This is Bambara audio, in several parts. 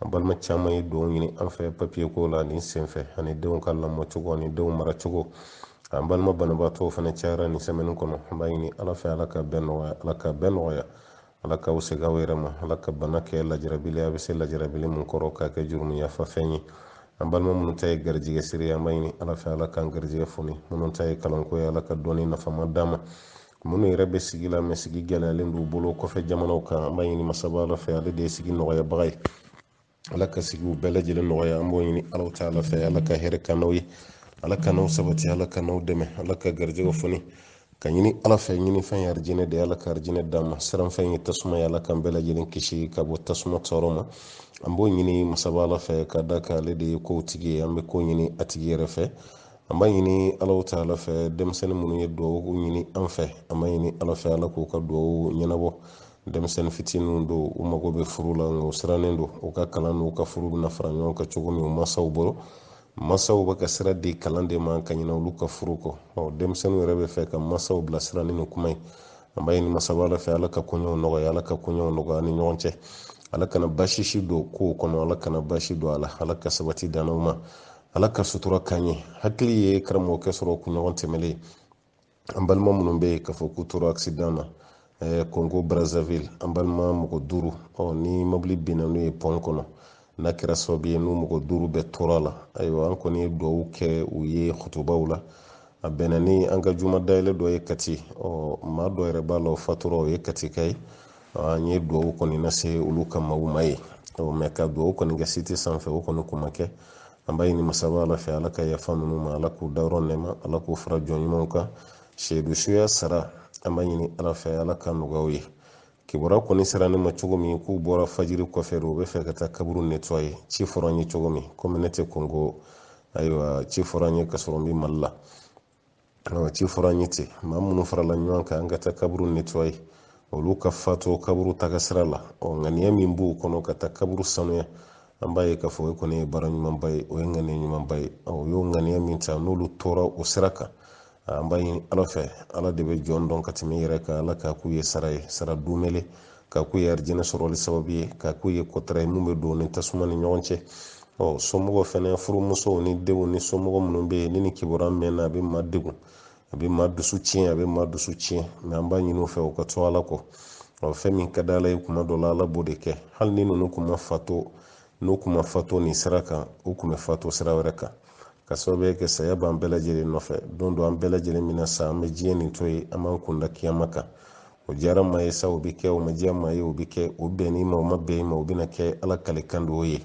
an balima caman ye dugawu ɲini an fɛ papiye ko la nin senfɛ ani denw ka lamɔ cogo ani denw mara cogo an balima banabaatɔw fana cayara nin sɛmɛni kɔnɔ an b'a ɲini ala fɛ ala ka bɛɛ nɔgɔya ala ka bɛɛ nɔgɔya ala k'aw segin aw yɛrɛ ma ala ka bana kɛ lajarabili a bɛ se lajarabili min kɔrɔ k'a kɛ jurumu yafafɛn ye an balima minnu ta ye garijɛgɛ siri an b'a ɲini ala fɛ ala k'an garijɛgɛ foni minnu ta ye kalanko ye ala ka dɔnni nafama d'a ma minnu yɛrɛ bɛ sigi la mɛ sigi gɛlɛyalen don u bolo kɔfɛ jamanaw kan an b'a ɲini masaba de fɛ ale de ye sigi nɔgɔyabaga ye ala ka sigiw bɛɛ lajɛlen nɔgɔya an b'o ɲini alahu taala fɛ ala ka hɛrɛ k'an n'aw ye ala k'an n'aw sabati ala k'an n'aw dɛmɛ ala ka garijɛgɛ foni k'a ɲini ala fɛ ɲini fɛn ye arijinɛ de ye ala ka arijinɛ d'an ma siran fɛn ye tasuma ye ala k'an bɛɛ lajɛlen kisi ka bɔ tasuma tɔɔrɔ ma an b'o ɲini masaba ala fɛ ka d'a kan ale de ye kow tigi ye an bɛ ko ɲini a tigi yɛrɛ fɛ an b'a ɲini alahu taala fɛ denmisɛnnin minnu ye dugawu ɲini an fɛ an b'a ɲini ala fɛ ala k'u ka dugawu ɲɛnabɔ denmisɛnnin fitininw don u mago bɛ furu la nka u sirannen don u ka kalan n'u ka furu bɛna fara ɲɔgɔn kan cogo min u masaw bolo masaw bɛ ka sira di kalan de ma ka ɲinɛ olu ka furu kɔ ɔ denmisɛnninw yɛrɛ b'a fɛ ka masaw bilasira ni nin kuma ye an b'a ɲini masaba ala fɛ ala ka koɲɛw nɔgɔya ala ka koɲɛw nɔgɔya u ni ɲɔgɔn cɛ ala kana basi si don kow kɔnɔ ala kana basi don a la ala ka sabati d'an n'aw ma ala ka sutura k'an ye hakili ye karamɔgɔkɛ sɔrɔ kunɲɔgɔn tɛmɛlen an balima minnu bɛ yen k'a fɔ k'u tora accident na kongo brazzaville an balima mɔgɔ duuru ni mobili binna n'u ye pɔn kɔnɔ n'a kɛra sababu ye n'u mɔgɔ duuru bɛɛ tora a la ayiwa an kɔni ye dugawu kɛ u ye kutubaw la a bɛnna ni an ka juma dayɛlɛ dɔ ye kati ɔ maa dɔ yɛrɛ b'a la o fatura o ye katika ye An ye dugawu kɔni lase olu ka maaw ma yen mɛ ka dugawu kɔni kɛ site sanfɛ o kɔni kun ma kɛ an b'a ɲini masaba ala fɛ ala ka yafa ninnu ma ala k'u dayɔrɔ nɛma ala k'u fara jɔn ɲumanw kan seyidu suya sara an b'a ɲini ala fɛ ala k'o nɔgɔya u ye kibaruya kɔni sera ne ma cogo min k'u bɔra fajiri kɔfɛ u b'a fɛ ka taa kaburu netɔye ci fɔra n ye cogo min komi ne tɛ kongo ayiwa ci fɔra n ye ka sɔrɔ n bɛ mali la an ci fɔra an ye ten maa minnu farala ɲɔgɔn kan ka taa kaburu netɔye olu ka fatu kaburu taga sira la ɔ ŋaniya min b'u kɔnɔ ka taa kaburu sanuya an b'a ye k'a fɔ o kɔni ye baara ɲumanba ye o ye ŋaniya ɲumanba ye u y'o ŋaniya min ta n'olu tora o sira kan an b'a ɲini ala fɛ ala de bɛ jɔn dɔn ka tɛmɛ i yɛrɛ kan ala k'a k'u ye sara ye sara dumele k'a k'u ye arijinɛ sɔrɔli sababu ye k'a k'u ye kɔtara ye min bɛ don u ni tasuma ni ɲɔgɔn cɛ ɔ somɔgɔ fɛnɛ furumusow ni denw ni somɔgɔ minnu bɛ yen ni nin kibaruya mɛnna a bɛ maa degun a bɛ maa dusu tiɲɛ a bɛ maa dusu tiɲɛ mɛ an b'a ɲini u fɛ u k'a to ala kɔ ɔ fɛn min ka di ala ye kuma dɔ la ala b'o de kɛ hali ni ninnu kun ma fatu n'u kun ma fato nin sira kan u kun bɛ fato sira wɛrɛ kan ka sababu kɛ saya b'an bɛɛ lajɛlen nɔfɛ don dɔ an bɛɛ lajɛlen bɛna sa an bɛ diɲɛ nin to yen an b'an kun da kiyama kan o diyara maa ye sa o bɛ kɛ o ma diya maa ye o bɛ kɛ o bɛnn'i ma o ma bɛn i ma o bɛna kɛ ala kalikan de o ye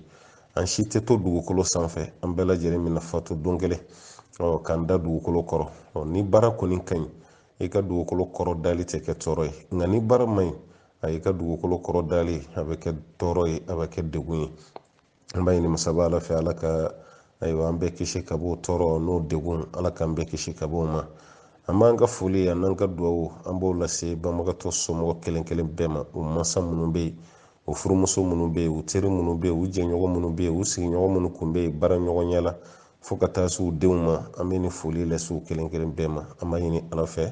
an si tɛ to dugukolo sanfɛ an bɛɛ lajɛlen bɛna fato don kelen ɔ k'an da dugukolo kɔrɔ ɔ ni baara kɔni ka ɲi i ka dugukolo kɔrɔ dali tɛ kɛ tɔɔrɔ ye nka ni baara man ɲi a y'i ka dugukolo kɔrɔ dali a bɛ kɛ tɔɔrɔ ye a bɛ kɛ degun ye an b'a ɲini masaba ala fɛ ala ka ayiwa an bɛɛ kisi ka bɔ tɔɔrɔ n'o degun ala k'an bɛɛ kisi ka bɔ o ma an b'an ka foli an n'an ka dugawu an b'o lase banbagatɔ somɔgɔ kelen kelen bɛɛ ma u mansa minnu bɛ yen u furumuso minnu bɛ yen u teri minnu bɛ yen u jɛɲɔgɔn minnu bɛ yen u sigiɲɔgɔn minnu kun bɛ yen baara ɲɔgɔnya la fo ka taa se u denw ma an bɛ nin foli lase u kelen kelen bɛɛ ma an b'a ɲini ala fɛ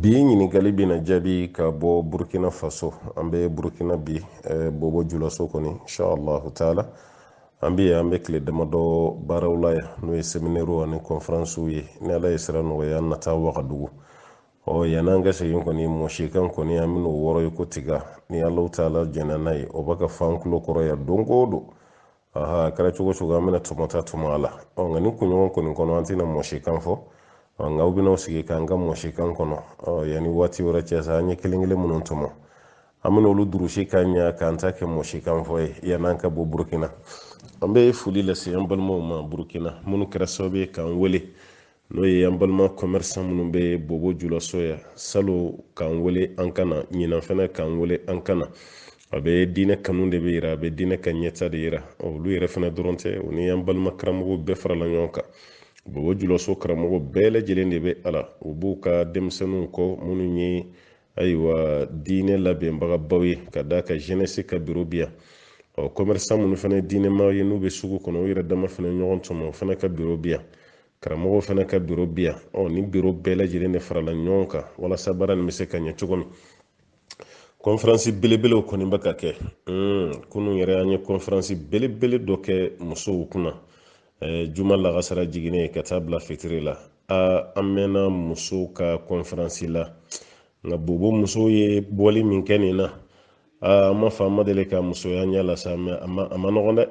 bi ɲininkali bɛna jaabi ka bɔ burkina faso an bɛ burkina bi eh, bobo julaso kɔni inshallahu taala an bɛ an bɛ tile damadɔ baaraw la yan n'o ye seminɛriw ani kɔnferansiw ye ni ala ye sira nɔgɔya an na taa wagadugu ɔ yann'an ka segin kɔni mɔsikan kɔni an bɛn'o wɔrɔ i ko tiga ni alahu taala jɛnna n'a ye o bɛ ka f'an kulo kɔrɔ yan don o don a kɛra cogo o cogo an bɛna tɔmɔta tɔmɔ a la ɔ nka nin kunɲɔgɔn kɔni kɔnɔ an tɛna mɔsikan fɔ ɔ nka aw bɛn'aw sigi k'an ka mɔsikan kɔnɔ ɔ yanni waati wɛrɛ cɛ sa an ye kelen kelen minnu tɔmɔ an bɛna olu durusi ka ɲɛ k'an ta kɛ mɔsikan fɔ ye yann'an ka bɔ burukina an bɛ foli lase an balimaw ma burukina minnu kɛra sababu ye k'an wele n'o ye an balima kɔmɛrisan minnu bɛ bobo julaso yan salon k'an wele an ka na ɲinan fana k'an wele an ka na a bɛ diinɛ kanu de bɛ yira a bɛ diinɛ ka ɲɛtaa de yira olu yɛrɛ fana dɔrɔn tɛ o ni an balima karamɔgɔw bɛɛ farala ɲɔgɔn kan bobo julaso karamɔgɔ bɛɛ lajɛlen de bɛ a la u b'u ka denmisɛnninw kɔ minnu ye ayiwa diinɛ labɛnbagabaw ye ka d'a kan jenɛsi ka biro bi yan ɔ kɔmɛrisan minnu fana ye diinɛmaw ye n'u bɛ sugu kɔnɔ u yɛrɛ dama fana ɲɔgɔn tɔmɔ o fana ka biro bi yan karamɔgɔw fana ka biro bi yan ɔ nin biro bɛɛ lajɛlen de farala ɲɔgɔn kan walasa baara nin bɛ se ka ɲɛ cogo min kɔnferansi belebelew kɔni bɛ ka kɛ kunun yɛrɛ an ye kɔnferansi belebele dɔ kɛ musow kunna juma lagansara jiginnen ka taa bila fitiri la an mɛnna musow ka kɔnferansi la nka bobo musow ye bɔli min kɛ nin na an m'a fɔ an ma deli ka muso y'an ɲɛ la sa mɛ a man nɔgɔn dɛ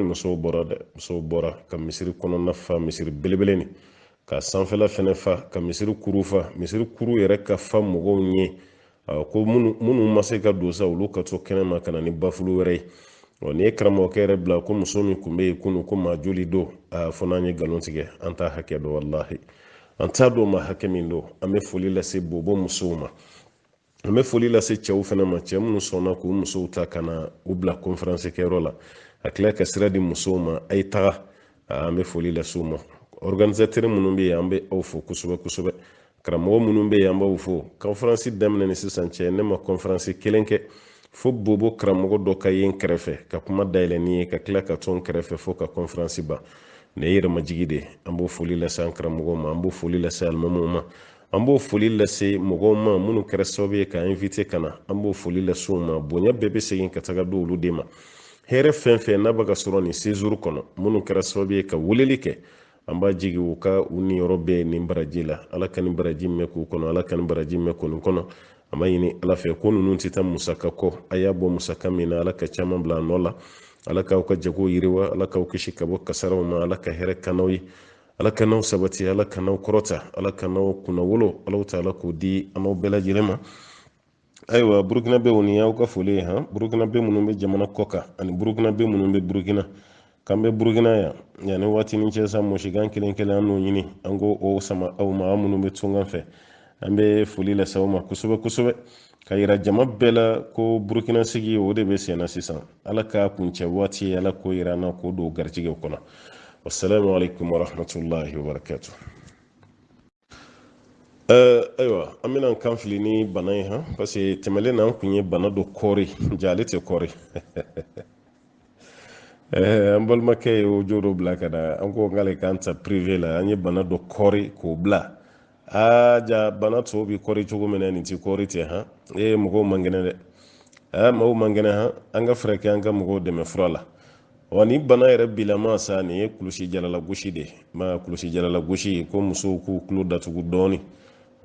musow bɔra dɛ musow bɔra ka misiri kɔnɔna fa misiri belebele nin ka sanfɛla fɛnɛ fa ka misiri kuru fa misiri kuru yɛrɛ ka fa mɔgɔw ɲɛ ko minnu ma se ka don sa olu ka to kɛnɛma ka na ni bafulu wɛrɛ ye ɔ n'i ye karamɔgɔkɛ yɛrɛ bila ko muso min kun bɛ yen kunun ko maa joli don a fo n'an ye nkalon tigɛ an t'a hakɛ dɔn walahi an t'a dɔn maa hakɛ min don an bɛ foli lase bobo musow ma an bɛ foli lase cɛw fana ma cɛ minnu sɔnna k'u musow ta ka na u bila konferansi kɛyɔrɔ la ka tila ka sira di musow ma a ye taga an bɛ foli lase u ma organisatɛri minnu bɛ yen an bɛ aw fo kosɛbɛ kosɛbɛ karamɔgɔ minnu bɛ yen an b'aw fo konferansi daminɛ ni sisan cɛ ne ma konferansi kelen kɛ fo bobo karamɔgɔ dɔ ka ye n kɛrɛfɛ ka kuma dayɛlɛ n ye ka tila ka to n kɛrɛfɛ fo ka konferansi ban ne yɛrɛmajigi de an b'o foli lase an karamɔgɔ ma an b'o foli lase alimamiw ma an b'o foli lase mɔgɔw ma minnu kɛra sababu ye k'an invite ka na an b'o foli lase u ma bonya bɛɛ bɛ segin ka taga di olu de ma hɛrɛ fɛn fɛn n'a bɛ ka sɔrɔ nin séjour kɔnɔ minnu kɛra sababu ye ka weleli kɛ an b'a jigi u ka u niyɔrɔ bɛ nin baraji la ala ka nin baraji mɛn k'u kɔnɔ ala ka nin baraji mɛn kɔni kɔnɔ an b'a ɲini ala fɛ ko ninnu tɛ taa musaka kɔ a y'a bɔ musaka min na ala ka caman bila a nɔ la ala k'aw ka jago yiriwa ala k'aw kisi ka bɔ kasaraw ma ala ka hɛrɛ k'an n'aw ye ala k'an n'aw sabati ala k'an n'aw kɔrɔta ala k'an n'aw kunnawolo ala ta ala k'o di an n'aw bɛɛ lajɛlen ma ayiwa burukinabɛw nin y'aw ka foli ye han burukinabɛ minnu bɛ jamana kɔkan ani burukinabɛ minnu bɛ burukina k'an bɛ burukina yan yanni waati ni cɛ sa mɔsikan kelen kelen an n'o ɲini an k'o o sama aw ma aw minnu bɛ tunga fɛ an bɛ foli lase aw ma kosɛbɛ kosɛbɛ ka yira jama bɛɛ la ko burukina sigi o de bɛ sen na sisan ala k'a kuncɛ waati ye ala k'o yira an na k'o don garijɛgɛw kɔnɔ wasalamu alaikum warahmatullahi wabarakatu eh, ayiwa an bɛna kan fili ni bana ye han parce que tɛmɛlen na an kun ye bana dɔ kɔɔri jaa ale tɛ kɔɔri eh, an balimakɛ ye audio dɔ bila ka na an ko k'ale k'an ta prive la an ye bana dɔ kɔɔri k'o bila aa jaa bana tɔw bi kɔri cogo min na nin ti kɔri ten han ee mɔgɔw man kɛnɛ dɛ aa mɔgɔw man kɛnɛ han an ka fɛɛrɛ kɛ an ka mɔgɔw dɛmɛ fura la wa ni bana yɛrɛ bilama sa nin ye kulusijala lagosi de ma kulusijala lagosi ko musow k'u tulo datugu dɔɔni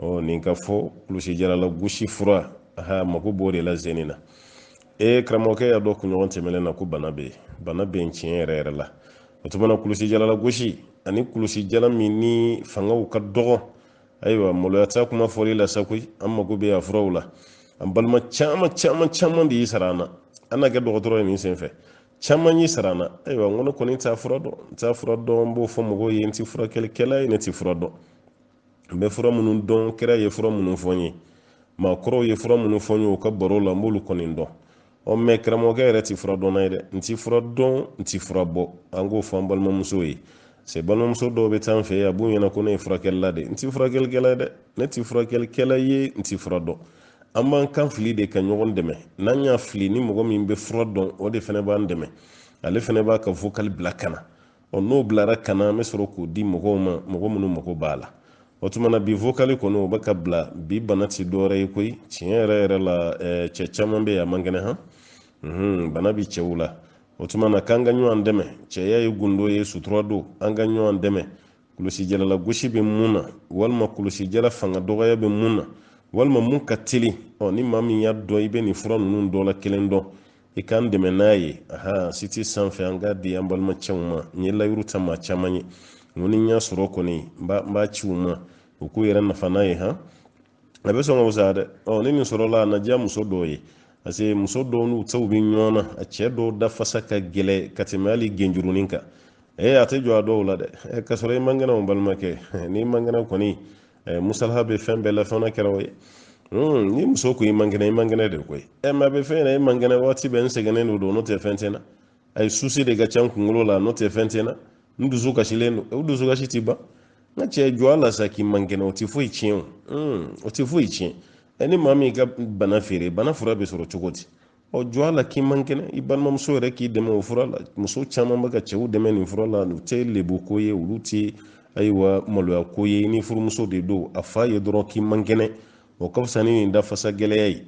ɔ ni n k'a fɔ kulusijala lagosi fura aha mako b'o de la zeni na ee karamɔgɔkɛ y'a dɔn kunɲɔgɔn tɛmɛnen na ko bana bɛ yen bana bɛ yen tiɲɛ yɛrɛ yɛrɛ la o tuma na kulusijala lagosi ani kulusijala minnu fangaw ka dɔgɔ ayiwa maloya t'a kuma fɔli la sa koyi an mago bɛ a furaw la an balima caman caman caman de y'i sara an na an na kɛ dɔgɔtɔrɔ ye nin senfɛ caman y'i sara an na ayiwa n ko ne kɔni t'a fura dɔn n t'a fura dɔn n b'o fɔ mɔgɔw ye n tɛ furakɛlikɛla ye ne tɛ fura dɔn n bɛ fura minnu dɔn kira ye fura minnu fɔ n ye maakɔrɔw ye fura minnu fɔ n ye u ka baro la n b'olu kɔni dɔn ɔ mɛ karamɔgɔkɛ yɛrɛ ti fura dɔnna ye dɛ n ti fura dɔn n ti fura bɔ an k'o fɔ an balimamuso ye se balimamuso dɔw bɛ taa an fɛ yen a b'u ɲɛ na ko ne ye furakɛlila de n ti furakɛlikɛla ye dɛ ne ti furakɛlikɛla ye n ti fura dɔn an b'an kan fili de ka ɲɔgɔn dɛmɛ n'an y'a fili ni mɔgɔ min bɛ fura dɔn o de fana b'an dɛmɛ ale fana b'a ka vokali bila ka na ɔ n'o bilara ka na an bɛ sɔrɔ k'o di mɔgɔw ma mɔgɔ minnu mago b'a la o tuma na bi vokali kɔni o bɛ ka bila bi bana ti dɔwɛrɛ ye koyi tiɲɛ yɛrɛ yɛrɛ la cɛ caman bɛ yen a man kɛnɛ han mhm, bana bi cɛw la o tuma na k'an ka ɲɔgɔn dɛmɛ cɛya ye gundo ye sutura don an ka ɲɔgɔn dɛmɛ kulusijala lagosi bɛ min na walima kulusijala fanga dɔgɔya bɛ min na walima min ka teli ɔ ni maa min y'a dɔn i bɛ nin fura ninnu dɔ la kelen dɔn i ka n dɛmɛ n'a ye aha siti sanfɛ an k'a di an balima cɛw ma n ye layidu ta maa caman ye n ko ni n y'a sɔrɔ kɔni n b'a ci u ma u k'u yɛrɛ nafa n'a ye han a bɛ sɔn ka wusaya dɛ ɔ ni nin sɔrɔla a na diya muso dɔw ye parce que muso dɔw n'u cɛw bɛ ɲɔgɔn na a cɛ dɔw dafasa ka gɛlɛ ka tɛmɛ hali genjurunin kan ee a tɛ jɔ a dɔw la dɛ k'a sɔrɔ i man kɛnɛ o balimakɛ n'i man kɛnɛ kɔni musalaha bɛ fɛn bɛɛ la fɛn na kɛra o ye ni muso ko i man kɛnɛ i man kɛnɛ de koyi ɛ mɛ a bɛ fɛn na i man kɛnɛ waati bɛɛ n sɛgɛnnen don don n'o tɛ fɛn tɛ n na ayi susi de ka ca n kunkolo la n'o tɛ fɛn tɛ n na n dusu kasilen don o dusu kasi ti ban n ka cɛ jɔ a la sa k'i man kɛnɛ o tɛ foyi tiɲɛ o o tɛ foyi tiɲɛ ɛ ni maa m'i ka bana feere bana fura bɛ sɔrɔ cogo di ɔ jɔ a la k'i man kɛnɛ i balimamuso yɛrɛ k'i dɛmɛ o fura la muso caman bɛ ka cɛw dɛmɛ nin fura la o tɛ lebu ko ye olu tɛ ayiwa maloya ko ye n'i furumuso de don a f'a ye dɔrɔn k'i man kɛnɛ o ka fisa ni nin dafasa gɛlɛya ye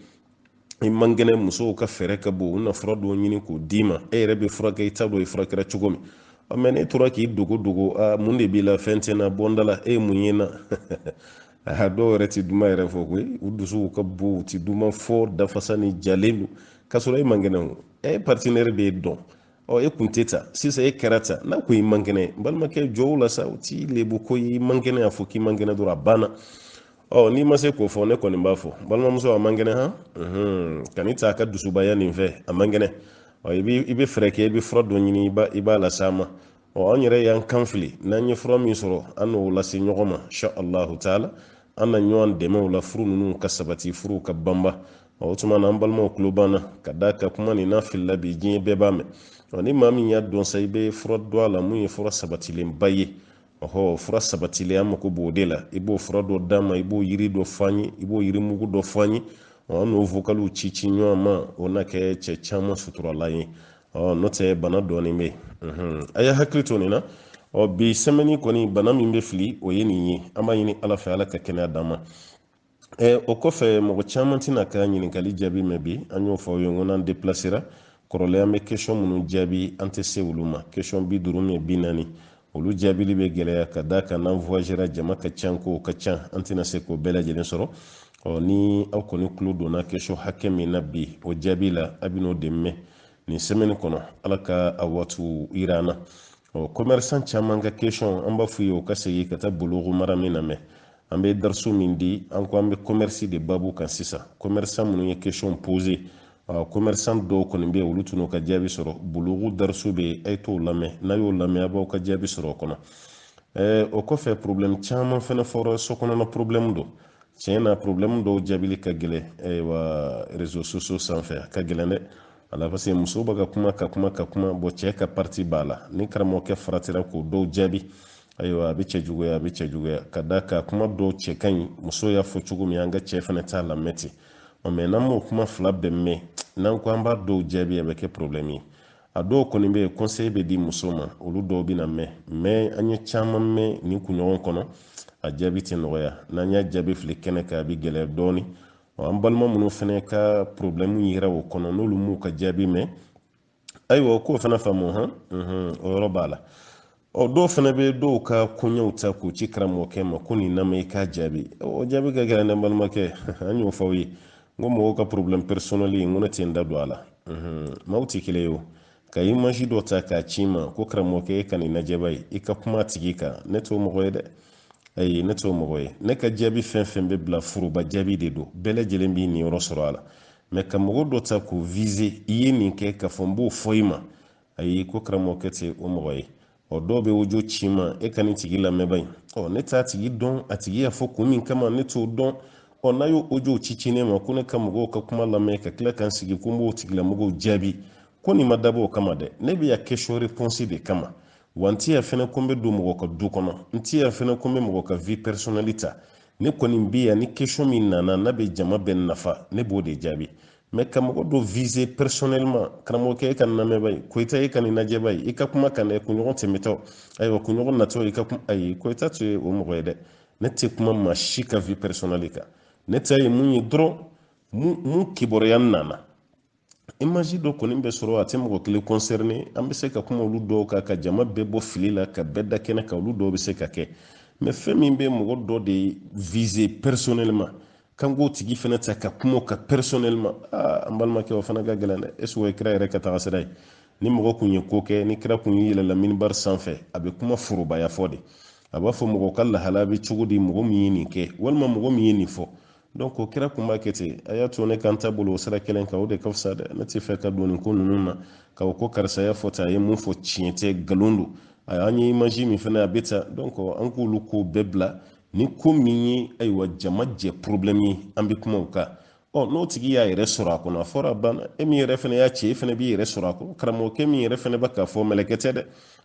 i man kɛnɛ musow ka fɛɛrɛ ka bon u na fura dɔw ɲini k'o d'i ma e yɛrɛ bɛ furakɛ i t'a dɔn i furakɛra cogo min mɛ n'e tora k'i dogo dogo mun de b'i la fɛn tɛ n na bɔ n da la e ye mun ye n na aha dɔw yɛrɛ ti duman yɛrɛ fɔ koyi u dusuw ka bon u ti duman fɔ dafasanin jalen don k'a sɔrɔ e man kɛnɛ o e ye patinɛri de ye dɔn ɔ e kun tɛ tan sisan e kɛra tan n'a ko i man kɛnɛ balimakɛ jɔ o la sa o ti lebu ko i man kɛnɛ y'a fɔ k'i man kɛnɛ dɔrɔn a banna ɔ n'i ma se k'o fɔ ne kɔni b'a fɔ balimamuso a man kɛnɛ han kan'i ta a ka dusubaya nin fɛ a man kɛnɛ ɔ i bɛ fɛɛrɛ kɛ i bɛ fura dɔ ɲini i b'a las'a ma ɔ an yɛrɛ y'an kan fili n'an ye fura min sɔrɔ an n'o lase ɲɔgɔn ma sha allahu taala an na ɲɔgɔn dɛmɛ o la furu ninnu ka sabati furuw ka banba o tuma na an balimaw tulo banna ka d'a kan kuma nin n'a filila bi diɲɛ bɛɛ b'a mɛn ɔ ni maa min y'a dɔn sa i bɛ fura dɔn a la min ye fura sabatilenba ye ɔhɔ fura sabatilen an mako b'o de la i b'o fura dɔ d'an ma i b'o yiri dɔ fɔ an ye i b'o yiri mugu dɔ fɔ an ye an n'o vokaliw ci ci ɲɔgɔn ma o na kɛ cɛ caman suturala ye ɔ n'o tɛ bana dɔɔnin bɛ yen a ye hakili to nin na ɔ bi sɛmɛni kɔni bana min bɛ fili o ye nin ye an b'a ɲini ala fɛ ala ka kɛnɛya d'an ma o kɔfɛ mɔgɔ caman tɛna ka ɲininkali jaabi mɛn bi an y'o fɔ aw ye n ko n'an depilasera kɔrɔlen an bɛ kɛsiyɔn minnu jaabi an tɛ se olu ma kɛsiyɔn bi duuru mɛ bi naani olu jaabili bɛ gɛlɛya ka d'a kan n'an voyagera jama ka can ko ka can an tɛna se k'o bɛɛ lajɛlen sɔrɔ ɔ ni aw kɔni tulo donna kesɔn hakɛ min na bi o jaabi la a bɛn'o de mɛn nin sɛmɛni kɔnɔ ala ka a waatiw yira an na ɔ kɔmɛrisan caman ka kesɔn an b'a f'u ye u ka segin ka taa bulugu marami lamɛn an bɛ darisu min di an ko an bɛ commerce de baabu kan sisan commerçant minnu ye question pose commerçant dɔw kɔni bɛ olu tun ka jaabi sɔrɔ bulugu darisu bɛ yen a ye t'o lamɛn n'a y'o lamɛn a b'aw ka jaabi sɔrɔ o kɔnɔ o kɔfɛ problème caman fana fɔra so kɔnɔna problème don tiɲɛ na problème dɔw jaabili ka gɛlɛn ayiwa réseaux sociaux sanfɛ a ka gɛlɛn dɛ ala parce que muso bɛ ka kuma ka kuma ka kuma bon cɛ ka parti b'a la ni karamɔgɔkɛ faratira k'o dɔw jaabi ayiwa a bɛ cɛ juguya a bɛ cɛ juguya ka d'a kan kuma dɔw cɛ ka ɲi muso y'a fɔ cogo min an ka cɛ fana ta lamɛn ten ɔ mɛ n'an m'o kuma fila bɛɛ mɛn n'an ko an b'a dɔw jaabi a bɛ kɛ porobilɛmu ye a dɔw kɔni bɛ yen kɔnsɛyi bɛ di muso ma olu dɔw bɛna mɛn mɛ an ye caman mɛn nin kunɲɔgɔn kɔnɔ a jaabi tɛ nɔgɔya n'an y'a jaabi fili kɛnɛ kan a bɛ gɛlɛya dɔɔni ɔ an balima minnu fana ka porobilɛmu yera o kɔnɔ n'olu m'u ka jaabi mɛn ayiwa o k'o fana faamu hɔn o yɔrɔ b'a la ɔ dɔw fana bɛ dɔw ka koɲɛw ta k'u ci karamɔgɔkɛ ma ko nin lamɛn i k'a jaabi o jaabi ka gɛlɛn dɛ balimakɛ an y'o fɔ aw ye n ko mɔgɔw ka porobilɛm pɛrisɔnɛli n ko ne tɛ n da don a la maaw tɛ kelen ye o ka imaji dɔ ta k'a ci n ma ko karamɔgɔkɛ e ka nin lajɛ ba ye i ka kuma a tigi kan ne t'o mɔgɔ ye dɛ ayi ne t'o mɔgɔ ye ne ka jaabi fɛn fɛn bɛ bila foroba jaabi de don bɛɛ lajɛlen b'i niyɔrɔ sɔrɔ a la mɛ ka mɔgɔ dɔ ta k'o vize i ye nin kɛ k'a fɔ n b'o fɔ i ma ayi ko karamɔgɔkɛ tɛ o mɔgɔ ye ɔ dɔw bɛ audio ci n ma e ka nin tigi lamɛn bani ɔ ne t'a tigi dɔn a tigi y'a fɔ kun min kama ne t'o dɔn ɔ n'a y'o audiow ci ci ne ma ko ne ka mɔgɔw ka kuma lamɛn ka tila ka n sigi ko n b'o tigilamɔgɔw jaabi ko nin ma dabɔ o kama dɛ ne bɛ yan question réponse de kama wa n tɛ yan fɛnɛ ko n bɛ don mɔgɔ ka du kɔnɔ n tɛ yan fɛnɛ ko n bɛ mɔgɔ ka vie personnelle ta ne kɔni bɛ yan ni question min nana n'a bɛ jama bɛɛ nafa ne b'o de jaabi mɛ ka mɔgɔ dɔ viser personnellement karamɔgɔkɛ e k'a lamɛn ba ye koyita e ka nin lajɛ ba ye i ka kuma a kan dɛ kunɲɔgɔn tɛmɛtɔ ayiwa kunɲɔgɔn natɔ i ka kuma ayi koyita tɛ o mɔgɔ ye dɛ ne tɛ kuma maa si ka vie personnelle kan ne ta ye mun ye dɔrɔn mun kibaruya nana imaji dɔ kɔni bɛ sɔrɔ a tɛ mɔgɔ kelen kɔnsɛrine an bɛ se ka kuma olu dɔw kan ka jama bɛɛ bɔ fili la ka bɛɛ da kɛnɛ kan olu dɔw bɛ se ka kɛ mɛ fɛn min bɛ mɔgɔ dɔ de vize pɛrisɔnɛlima k'an k'o tigi fana ta ka kuma a kan pɛrisɔnɛlima aa an balimakɛ o fana ka gɛlɛn dɛ ɛseke o ye kira yɛrɛ ka tagasira ye ni mɔgɔ kun ye ko kɛ ni kira kun yɛlɛla minibari sanfɛ a bɛ kuma forobaya fɔ de a b'a fɔ mɔgɔ ka lahala bɛ cogo di mɔgɔ min ye nin kɛ walima mɔgɔ min ye nin fɔ donc o kɛra kun b'a kɛ ten a y'a to ne kan ta bolo o sira kelen kan o de ka fisa dɛ ne t'a fɛ ka don nin ko ninnu na ka o ko karisa y'a fɔ tan a ye mun fɔ tiɲɛ tɛ nkalon don a an ye imaji min fana a bɛ ta donc an k'olu ko bɛɛ bila ni ko min ye ayiwa jama jɛ problème ye an bɛ kuma o kan ɔ n'o tigi y'a yɛrɛ sɔrɔ a kɔnɔ a fɔra a banna e min yɛrɛ fana y'a ci e fana b'i yɛrɛ sɔrɔ a kɔnɔ karamɔgɔkɛ min yɛrɛ fana bɛ k'a fɔ mɛlɛkɛ tɛ dɛ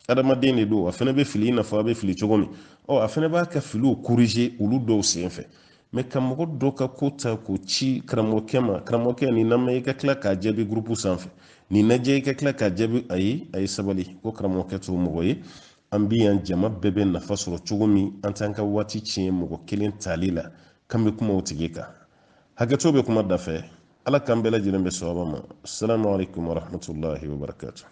adamaden de don a fana bɛ fili i n'a fɔ a bɛ fili cogo min ɔ a fana b'a ka filiw corriger olu dɔw senfɛ mɛ ka mɔgɔ dɔ ka ko ta k'o ci karamɔgɔkɛ ma karamɔgɔkɛ nin na i ka tila k'a jaabi gurupu sanfɛ nin najɛ i ka tila k'a jaabi a ye a ye sabali ko karamɔgɔkɛ t'o mɔgɔ ye an bi yan jama bɛɛ bɛ nafa sɔrɔ cogo min an t'an ka waati tiɲɛ mɔgɔ kelen tali la k'an bɛ kuma o tigi kan hakɛto bɛ kuma dafɛ ala k'an bɛɛ lajɛlen bɛn sawaba ma salamu alaikum warahmatullahi wabarakatuh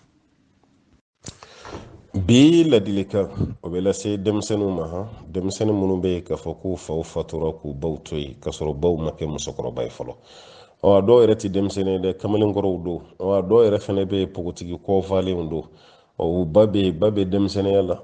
bi ladilikan o bɛ lase denmisɛnninw ma han denmisɛnnin minnu bɛ yen k'a fɔ k'u faw fatura k'u baw to yen k'a sɔrɔ baw ma kɛ musokɔrɔba ye fɔlɔ ɔ dɔw yɛrɛ tɛ denmisɛnnin ye dɛ kamalenkɔrɔw don ɔ dɔw yɛrɛ fana bɛ yen npogotigi kɔfalenw don ɔ u ba bɛ yen ba bɛ denmisɛnninya la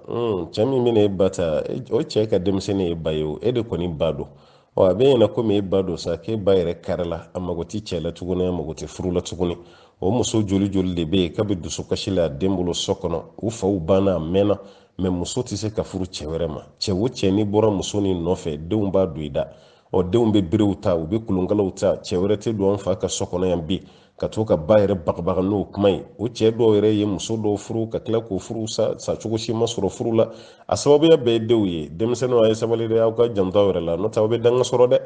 cɛ min bɛna e ba ta o cɛ ka denmisɛnnin ye ba ye o e de kɔni ba don ɔ a b'i ɲɛna komi e ba don sa k'e ba yɛrɛ karila a mago tɛ cɛ la tuguni a mago tɛ furu la tuguni o muso joli joli de bɛ yen k'a bɛ dusukasi la a den bolo so kɔnɔ u faw banna a mɛnna mɛ muso tɛ se ka furu cɛ wɛrɛ ma cɛ o cɛ n'i bɔra muso nin nɔfɛ denw b'a don i da ɔ denw bɛ berew ta u bɛ kolonkalaw ta cɛ wɛrɛ tɛ don an fa ka so kɔnɔ yan bi ka to ka ba yɛrɛ bagabaga n'o kuma ye o cɛ dɔw yɛrɛ ye muso dɔw furu ka tila k'o furu sa cogo si ma sɔrɔ furu la a sababuya bɛɛ ye denw ye denmisɛnninw a ye sabali dɛ aw k'aw janto yɛrɛ la n'o tɛ aw bɛ danga sɔrɔ dɛ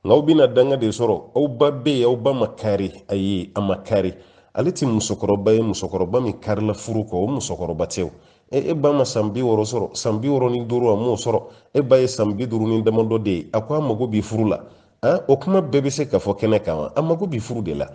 n ko aw bɛna danga de sɔrɔ aw ba bɛ yen aw ba ma kari ayi a ma kari ale tɛ musokɔrɔba ye musokɔrɔba min karila furu kɔ o musokɔrɔba tɛ o e e ba ma san bi wɔɔrɔ sɔrɔ san bi wɔɔrɔ ni duuru a m'o sɔrɔ e ba ye san bi duuru ni damadɔ de ye a ko a mago bɛ furu la o kuma bɛɛ bɛ se ka fɔ kɛnɛ kan wa a mago bɛ furu de la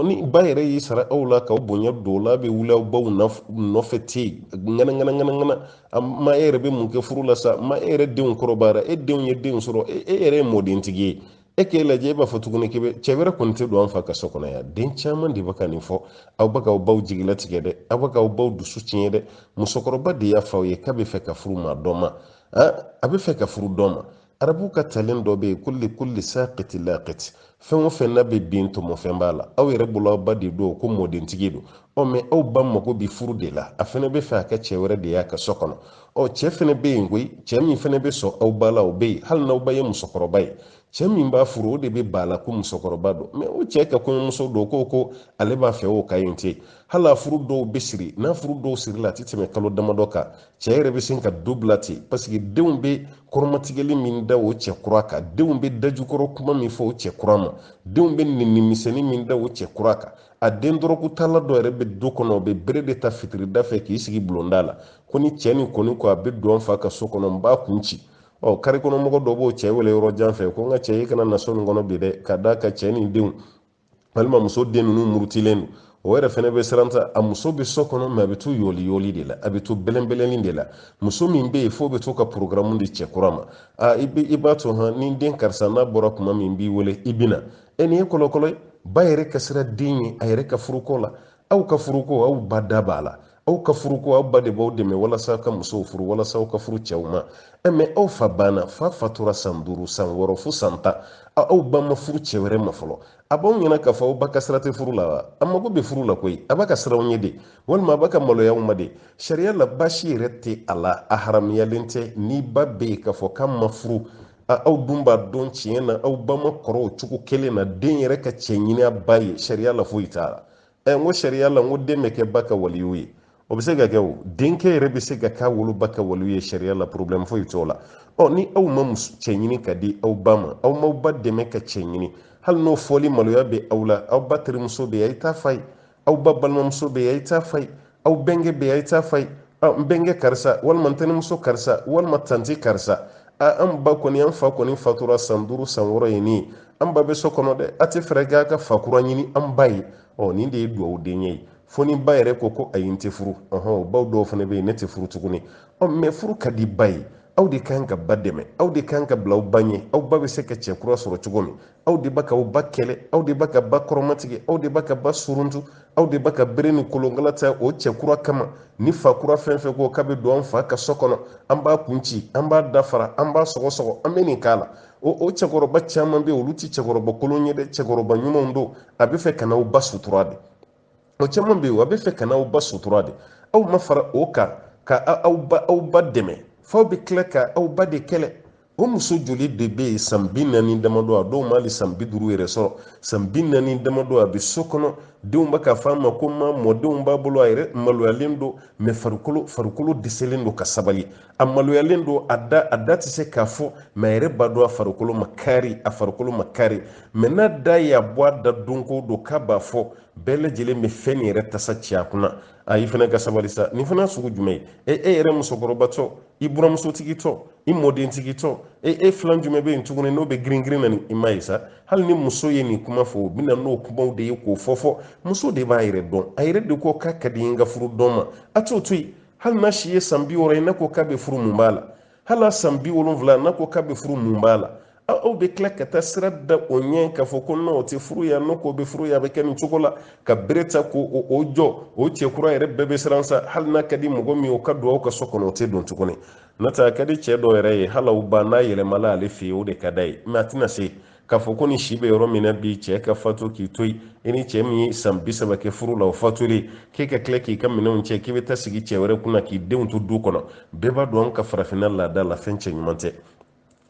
ni ba yɛrɛ y'i sara aw la k'aw bonya dɔrɔn aw bɛ wuli aw baw nɔfɛ ten ŋanaŋanaŋanaŋana ma e yɛrɛ bɛ mun kɛ furu la sa ma e yɛrɛ denw kɔrɔbayara e denw ye denw sɔrɔ e yɛrɛ ye mɔdentigi ye e k'e lajɛ e b'a fɔ tuguni k'i bɛ cɛ wɛrɛ kɔni tɛ don an fa ka so kɔnɔ yan den caman de bɛ ka nin fɔ aw bɛ k'aw baw jigilatigɛ dɛ aw bɛ k'aw baw dusu tiɲɛ dɛ musokɔrɔba de y'a fɔ aw ye k'a bɛ fɛ ka furu maa dɔ ma a bɛ fɛ ka furu dɔ ma arabu ka talen dɔ bɛ yen ko likulli saqiti laqiti fɛn o fɛn n'a bɛ bin tɔmɔfɛn b'a la aw yɛrɛ bolo aw ba de don ko mɔdentigi don ɔ mɛ aw ba mago bɛ furu de la a fana bɛ fɛ a ka cɛ wɛrɛ de y'a ka so kɔnɔ ɔ cɛ fana bɛ yen koyi cɛ min fana bɛ sɔn aw ba la o bɛ yen hali n'aw ba ye musokɔrɔba ye cɛ min b'a furu o de bɛ ba la ko musokɔrɔba don mɛ o cɛ ka kɔɲɔmuso don ko ko ale b'a fɛ o ka yen tɛ hali a furu dɔw bɛ siri n'a furu dɔw sirila a tɛ tɛmɛ kalo damadɔ kan cɛ yɛrɛ bɛ sin ka du bila ten paseke denw bɛ kɔrɔmatigɛli min da o cɛ kura kan denw bɛ dajukɔrɔ kuma min fɔ o cɛ kura ma denw bɛ neni misɛnnin min da o cɛ kura kan a den dɔrɔgutala dɔ yɛrɛ bɛ du kɔnɔ o bɛ bere de ta fitirida fɛ k'i sigi bulonda la ko ni cɛ nin kɔni ko a bɛ don fa ka so kɔnɔ n b'a kun ci ɔ kari kɔnɔ mɔgɔ dɔ b'o cɛ wele yɔrɔ jan fɛ ko n ka cɛ i kana na so nin kɔnɔ bi dɛ ka d'a kan cɛ nin denw walima muso den ninnu murutilen don o yɛrɛ fɛnɛ bɛ siran ta a muso bɛ so kɔnɔ mɛ a bɛ to yɔli yɔli de la a bɛ to bɛlɛnbɛlɛnni de la muso min bɛ yen f'o bɛ to ka porogaramu di cɛ kura ma a i bɛ i b'a to hɔn ni den karisa n'a bɔra kuma min b'i wele i bɛ na e nin ye kɔlɔkɔlɔ ye ba yɛrɛ ka siran den ɲɛ a yɛrɛ ka furuko la aw ka furuko aw ba da b'a la aw ka furu ko aw ba de b'aw dɛmɛ walasa aw ka musow furu walasa aw ka furu cɛw ma eh, mɛ aw fa banna fa fatura san duuru san wɔɔrɔ fo san tan aw ba ma furu cɛ wɛrɛ ma fɔlɔ a b'aw ɲɛna k'a fɔ aw ba ka sira tɛ furu la wa a mago bɛ furu la koyi a b'a ka siran aw ɲɛ de walima a b'a ka maloya aw ma de sariya la baasi yɛrɛ tɛ a la a haramuyalen tɛ ni ba bɛ yen k'a fɔ k'a ma furu aw dun b'a dɔn tiɲɛ na aw ba ma kɔrɔ o cogo kelen na den yɛrɛ ka cɛ ɲini a ba ye sariya la foyi t'a la ɛ n ko sariya la n ko den bɛ kɛ ba ka waliyu ye o bɛ se ka kɛ o denkɛ yɛrɛ bɛ se ka k'a woloba ka waliyu ye sariya la porobilɛmu foyi t'o la ɔ ni aw ma cɛ ɲini ka di aw ba ma aw m'aw ba dɛmɛ ka cɛ ɲini hali n'o fɔli maloya bɛ aw la aw ba terimuso bɛ yen a ye taa f'a ye aw ba balimamuso bɛ yen a ye taa f'a ye aw bɛnkɛ bɛ a ye taa f'a ye n bɛnkɛ karisa walima n tɛnɛmuso karisa walima tanti karisa a an ba kɔni an fa kɔni fatura san duuru san wɔɔrɔ ye nin an ba bɛ so kɔnɔ dɛ a tɛ fɛɛrɛ kɛ a ka fa kura ɲini an ba ye ɔ nin de ye duwawu denkɛ ye fo ni ba yɛrɛ ko ko ayi n tɛ furu ɔhɔn baw dɔw fana bɛ yen ne tɛ furu tuguni ɔ mɛ furu ka di ba ye aw de kan ka ba dɛmɛ aw de kan ka bila aw ba ɲɛ aw ba bɛ se ka cɛ kura sɔrɔ cogo min aw de b'a ka aw ba kɛlɛ aw de b'a ka ba kɔrɔmatigɛ aw de b'a ka ba suruntu aw de b'a ka bere ni kolonkala ta o cɛ kura kama ni fa kura fɛn fɛn ko k'a bɛ don an fa ka so kɔnɔ an b'a kun ci an b'a dafara an b'a sɔgɔsɔgɔ an bɛ nin k'a la o o cɛkɔrɔba caman bɛ yen olu tɛ cɛkɔrɔba kolon ye dɛ cɛkɔrɔba ɲumanw don a bɛ fɛ ka n'aw ba sutura de o caman bɛ yen a bɛ fɛ ka n'aw ba sutura de aw ma fara o kan ka aw ba aw ba dɛmɛ f'aw bɛ tila ka aw ba de kɛlɛ o muso joli de bɛ yen san bi naani damadɔ a dɔw ma hali san bi duuru yɛrɛ sɔrɔ san bi naani damadɔ a bɛ so kɔnɔ denw bɛ k'a fɔ a ma ko ma mɔdenw b'a bolo a yɛrɛ maloyalen don mɛ farikolo farikolo dɛsɛlen don ka sabali a maloyalen don a da a da tɛ se k'a fɔ mɛ a yɛrɛ b'a dɔn a farikolo ma kari a farikolo ma kari mɛ n'a da y'a bɔ a da don go don k'a b'a fɔ bɛɛ lajɛlen bɛ fɛn nin yɛrɛ tasa ci a kunna a i fana ka sabali sa nin fana sugu jumɛn ye e e yɛrɛ musokɔrɔbatɔ i buramusotigitɔ i mɔdentigitɔ e e filan jumɛn bɛ yen tuguni n'o bɛ girin girin na ni i ma ye sa hali ni muso ye nin kuma fɔ u bɛ na n'o kumaw de ye k'o fɔ fɔ muso de b'a yɛrɛ dɔn a yɛrɛ de ko k'a ka di n ka furu dɔ ma a t'o to yen hali n'a si ye san bi wɔɔrɔ ye n'a ko k'a bɛ furu mun b'a la hali n'a san bi wolonwula n'a ko k'a bɛ furu mun b'a la aw bɛ tila ka taa sira da o ɲɛ k'a fɔ ko n'o o tɛ furu yan n'o k'o bɛ furu yan a bɛ kɛ nin cogo la ka bere ta ko o jɔ o cɛ kura yɛrɛ bɛɛ bɛ siran sa hali n'a ka di mɔgɔ min ye o ka don aw ka so kɔnɔ o tɛ don tuguni n'o tɛ a ka di cɛ dɔ yɛrɛ ye hali aw ba n'a yɛlɛmala ale fɛ yen o de ka d'a ye mɛ a tɛna se k'a fɔ ko n'i si bɛ yɔrɔ min na bi cɛ ka fatu k'i to yen i ni cɛ min ye san bi saba kɛ furu la o fatulen k'e ka tila k'i ka minɛnw cɛ k'i bɛ taa sigi cɛ wɛrɛ kunna k'i denw to du kɔnɔ bɛɛ b'a dɔn ka farafinna laada la fɛn cɛ ɲuman tɛ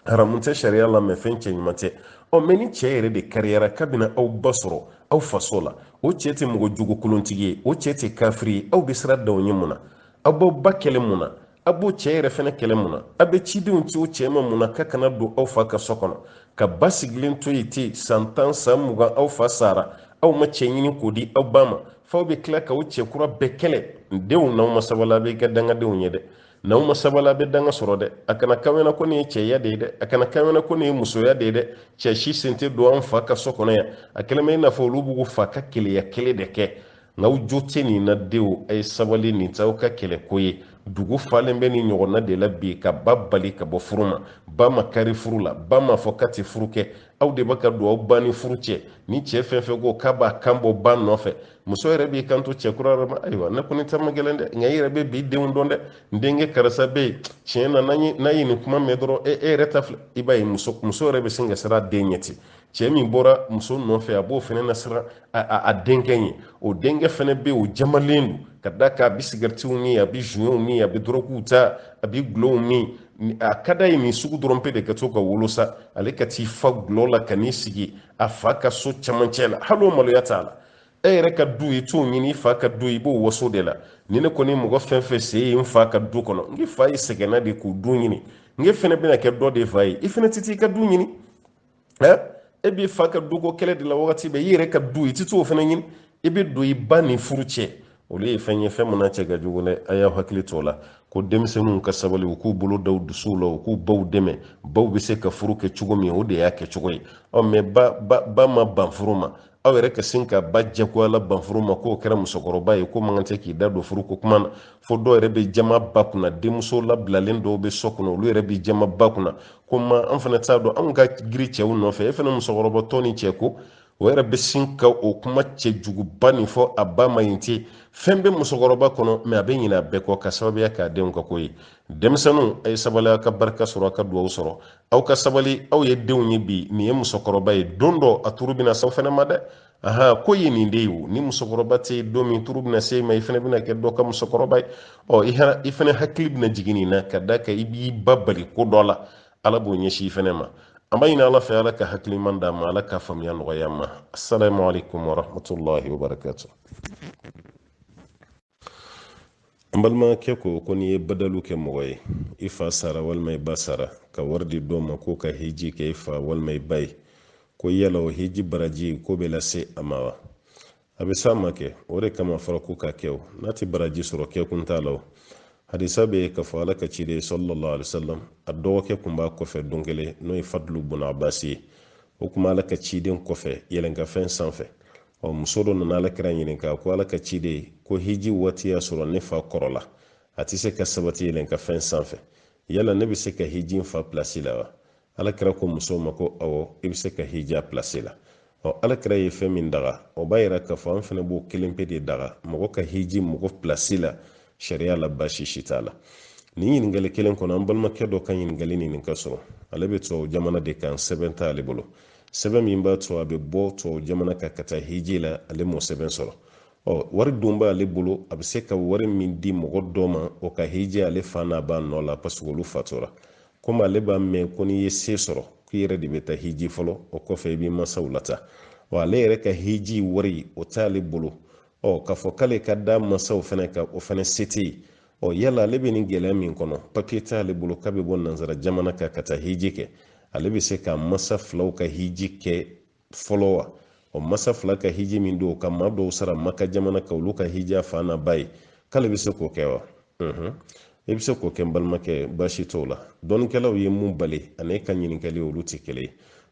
haramu tɛ sariya la mɛ fɛn cɛ ɲuman tɛ ɔ mɛ ni cɛ yɛrɛ de kariyara k'a bɛ na aw ba sɔrɔ aw faso la o cɛ tɛ mɔgɔ jogo kolontigi ye o cɛ tɛ kafiri ye aw bɛ sira da o ɲɛ mun na aw b'aw ba kɛlɛ mun na a b'o cɛ yɛrɛ fɛnɛ kɛlɛ mun na a bɛ cidenw ci o cɛ ma mun na k'a kana don aw fa ka so kɔnɔ ka ba sigilen to yen ten san tan san mugan aw fa sara aw ma cɛ ɲini k'o di aw ba ma f'aw bɛ tila ka o cɛ kura bɛɛ kɛlɛ n denw n'aw ma sabali a bɛ kɛ dangadenw ye dɛ n'aw ma sabali a bɛ danga sɔrɔ dɛ a kana k'aw ɲɛ na ko nin ye cɛya de ye dɛ a kana k'aw ɲɛ na ko nin ye musoya de ye dɛ cɛ si sen tɛ don an fa ka so kɔnɔ yan a kɛlen bɛ i n'a fɔ olu b'u fa ka keleya kɛlɛ de kɛ n'aw jo tɛ nin na denw a ye sabali nin t'aw ka kɛlɛko ye dugu falen bɛ nin ɲɔgɔnna de la bi ka ba bali ka bɔ furu ma ba ma kari furu la ba ma fɔ k'a tɛ furu kɛ aw de bɛ ka don aw ba ni furu cɛ ni cɛ fɛn fɛn ko k'a b'a kan bɔ ba nɔfɛ muso yɛrɛ b'i kanto cɛ kura yɛrɛ ma ayiwa ne kɔni ta man gɛlɛn dɛ nka i yɛrɛ bɛ bi denw dɔn dɛ n denkɛ karisa bɛ yen tiɲɛ na n'a ye nin kuma mɛn dɔrɔn e yɛrɛ ta filɛ i b'a ye muso yɛrɛ bɛ sin ka siran a den ɲɛ ten cɛ min bɔra muso nɔfɛ a b'o fana lasiran a denkɛ ɲɛ o denkɛ fana bɛ o jamalen don ka d'a kan a bɛ sigɛritiw min a bɛ zuwɛnw min a bɛ dɔrɔkuw ta a bɛ gulɔw min a ka da ye nin sugu dɔrɔn pe de ka to ka wolo sa ale ka t'i fa gulɔ la ka n'i sigi a fa ka so camancɛ la hali o maloya t'a la e yɛrɛ ka du i t'o ɲini i fa ka du i b'o waso de la ni ne kɔni mɔgɔ fɛn fɛn sen ye n fa ka du kɔnɔ n fa yɛrɛ sɛgɛnna de k'o du ɲini n fana bɛna kɛ dɔ de fa ye i fana tɛ t'i ka du ɲini ɛ e b'i fa ka duko kɛlɛ de la wagati bɛɛ i yɛrɛ ka du i ti t'o fana ɲini i bɛ don i ba ni furu cɛ olu ye fɛn ye fɛn min na cɛ ka jugu dɛ a y'a hakili to o la ko denmisɛnninw ka sabali u k'u bolo da u dusuw la u k'u baw dɛmɛ baw bɛ se ka furu kɛ cogo min o de y'a kɛ cogo ye ɔ mɛ ba ma ban furu ma aw yɛrɛ ka sin ka ba jagoyala ban furu ma k'o kɛra musokɔrɔba ye k'o man kan tɛ k'i da don furu ko kuma na fo dɔw yɛrɛ bɛ jama ba kunna denmuso labilalen dɔw bɛ so kɔnɔ olu yɛrɛ bɛ jama ba kunna ko ma an fana t'a dɔn anw ka giri cɛw nɔfɛ e fana musokɔrɔbatɔ ni cɛko o yɛrɛ bɛ sin ka o kuma cɛ juguba nin fɔ a ba ma yen ten fɛn bɛ musokɔrɔba kɔnɔ mɛ a bɛ ɲinɛ a bɛɛ kɔ ka sababuya k'a denw ka ko ye denmisɛnninw a ye sabali aw ka barika sɔrɔ aw ka dugawu sɔrɔ aw ka sabali aw ye denw ye bi nin ye musokɔrɔba ye don dɔ a turu bɛna s'aw fana ma dɛ ahan ko ye nin de ye o ni musokɔrɔba tɛ yen don min turu bɛna s'e ma i fana bɛna kɛ dɔ ka musokɔrɔba ye ɔ i fana hakili bɛna jigin nin na ka da a kan i b'i ba bali ko dɔ la ala b'o ɲɛsin i fana ma an b'a ɲini ala fɛ ala ka hakilimaya d'an ma ala ka faamuya nɔgɔya an ma asalaamaaleykum warahmatulahi wabarakatu an balimakɛ ko ko n'i ye badalu kɛ mɔgɔ ye i fa sara walima i ba sara ka wari di dɔ ma k'o ka hiji kɛ i fa walima i ba ye ko yala o hiji baraji k'o bɛ lase a ma wa a bɛ s'a ma kɛ o de kama a fɔra k'o ka kɛ o n'a tɛ baraji sɔrɔ kɛkun t'a la o hadisa bɛ yen k'a fɔ ala ka ciden sallallahu alaihi wasallam a dɔgɔkɛ tun b'a kɔfɛ don kelen n'o ye fadlu bun abasi ye o tun b'ala ka ciden kɔfɛ yɛlɛnkanfɛn sanfɛ ɔ muso dɔ nana ala kira ɲininka ko ala ka ciden ko hiji waati y'a sɔrɔ ne fa kɔrɔla a tɛ se ka sabati yɛlɛnkanfɛn sanfɛ yala ne bɛ se ka hiji n fa pilasi la wa ala kira ko muso ma ko awɔ i bɛ se ka hiji a pilasi la ɔ ala kira ye fɛn min daga o b'a yira k'a fɔ an fana b'o kelen pe de daga mɔgɔ ka hiji mɔgɔ pilasi la sariya la baasi si t'a la nin ɲininkali kelen kɔnɔ an balimakɛ dɔ ka ɲininkali nin ka sɔrɔ ale bɛ tubabu jamana de kan sɛbɛn t'ale bolo sɛbɛn min b'a to a bɛ bɔ tubabu jamana kan ka taa hiji la ale m'o sɛbɛn sɔrɔ ɔ wari dun b'ale bolo a bɛ se ka wari min di mɔgɔ dɔ ma o ka hiji ale fa n'a ba nɔ la parce que olu fatura komi ale b'a mɛn ko n'i ye se sɔrɔ k'i yɛrɛ de bɛ taa hiji fɔlɔ o kɔfɛ i b'i mansaw lataa wa ale yɛrɛ ka hiji wari o t'ale bolo ɔ k'a fɔ k'ale ka da mansaw fana kan o fana se tɛ yen ɔ yala ale bɛ nin gɛlɛya min kɔnɔ papiye tɛ ale bolo k'a bɛ bɔ nanzara jamana kan ka taa hiji kɛ ale bɛ se ka masa filaw ka hiji kɛ fɔlɔ wa ɔ masa fila ka hiji min don ka maa dɔw sara maka jamana kan olu ka hiji a fa n'a ba ye k'ale bɛ se k'o kɛ wa i bɛ se k'o kɛ n balimakɛ baasi t'o la dɔnnikɛlaw ye min bali ani e ka ɲininkali olu tɛ kelen ye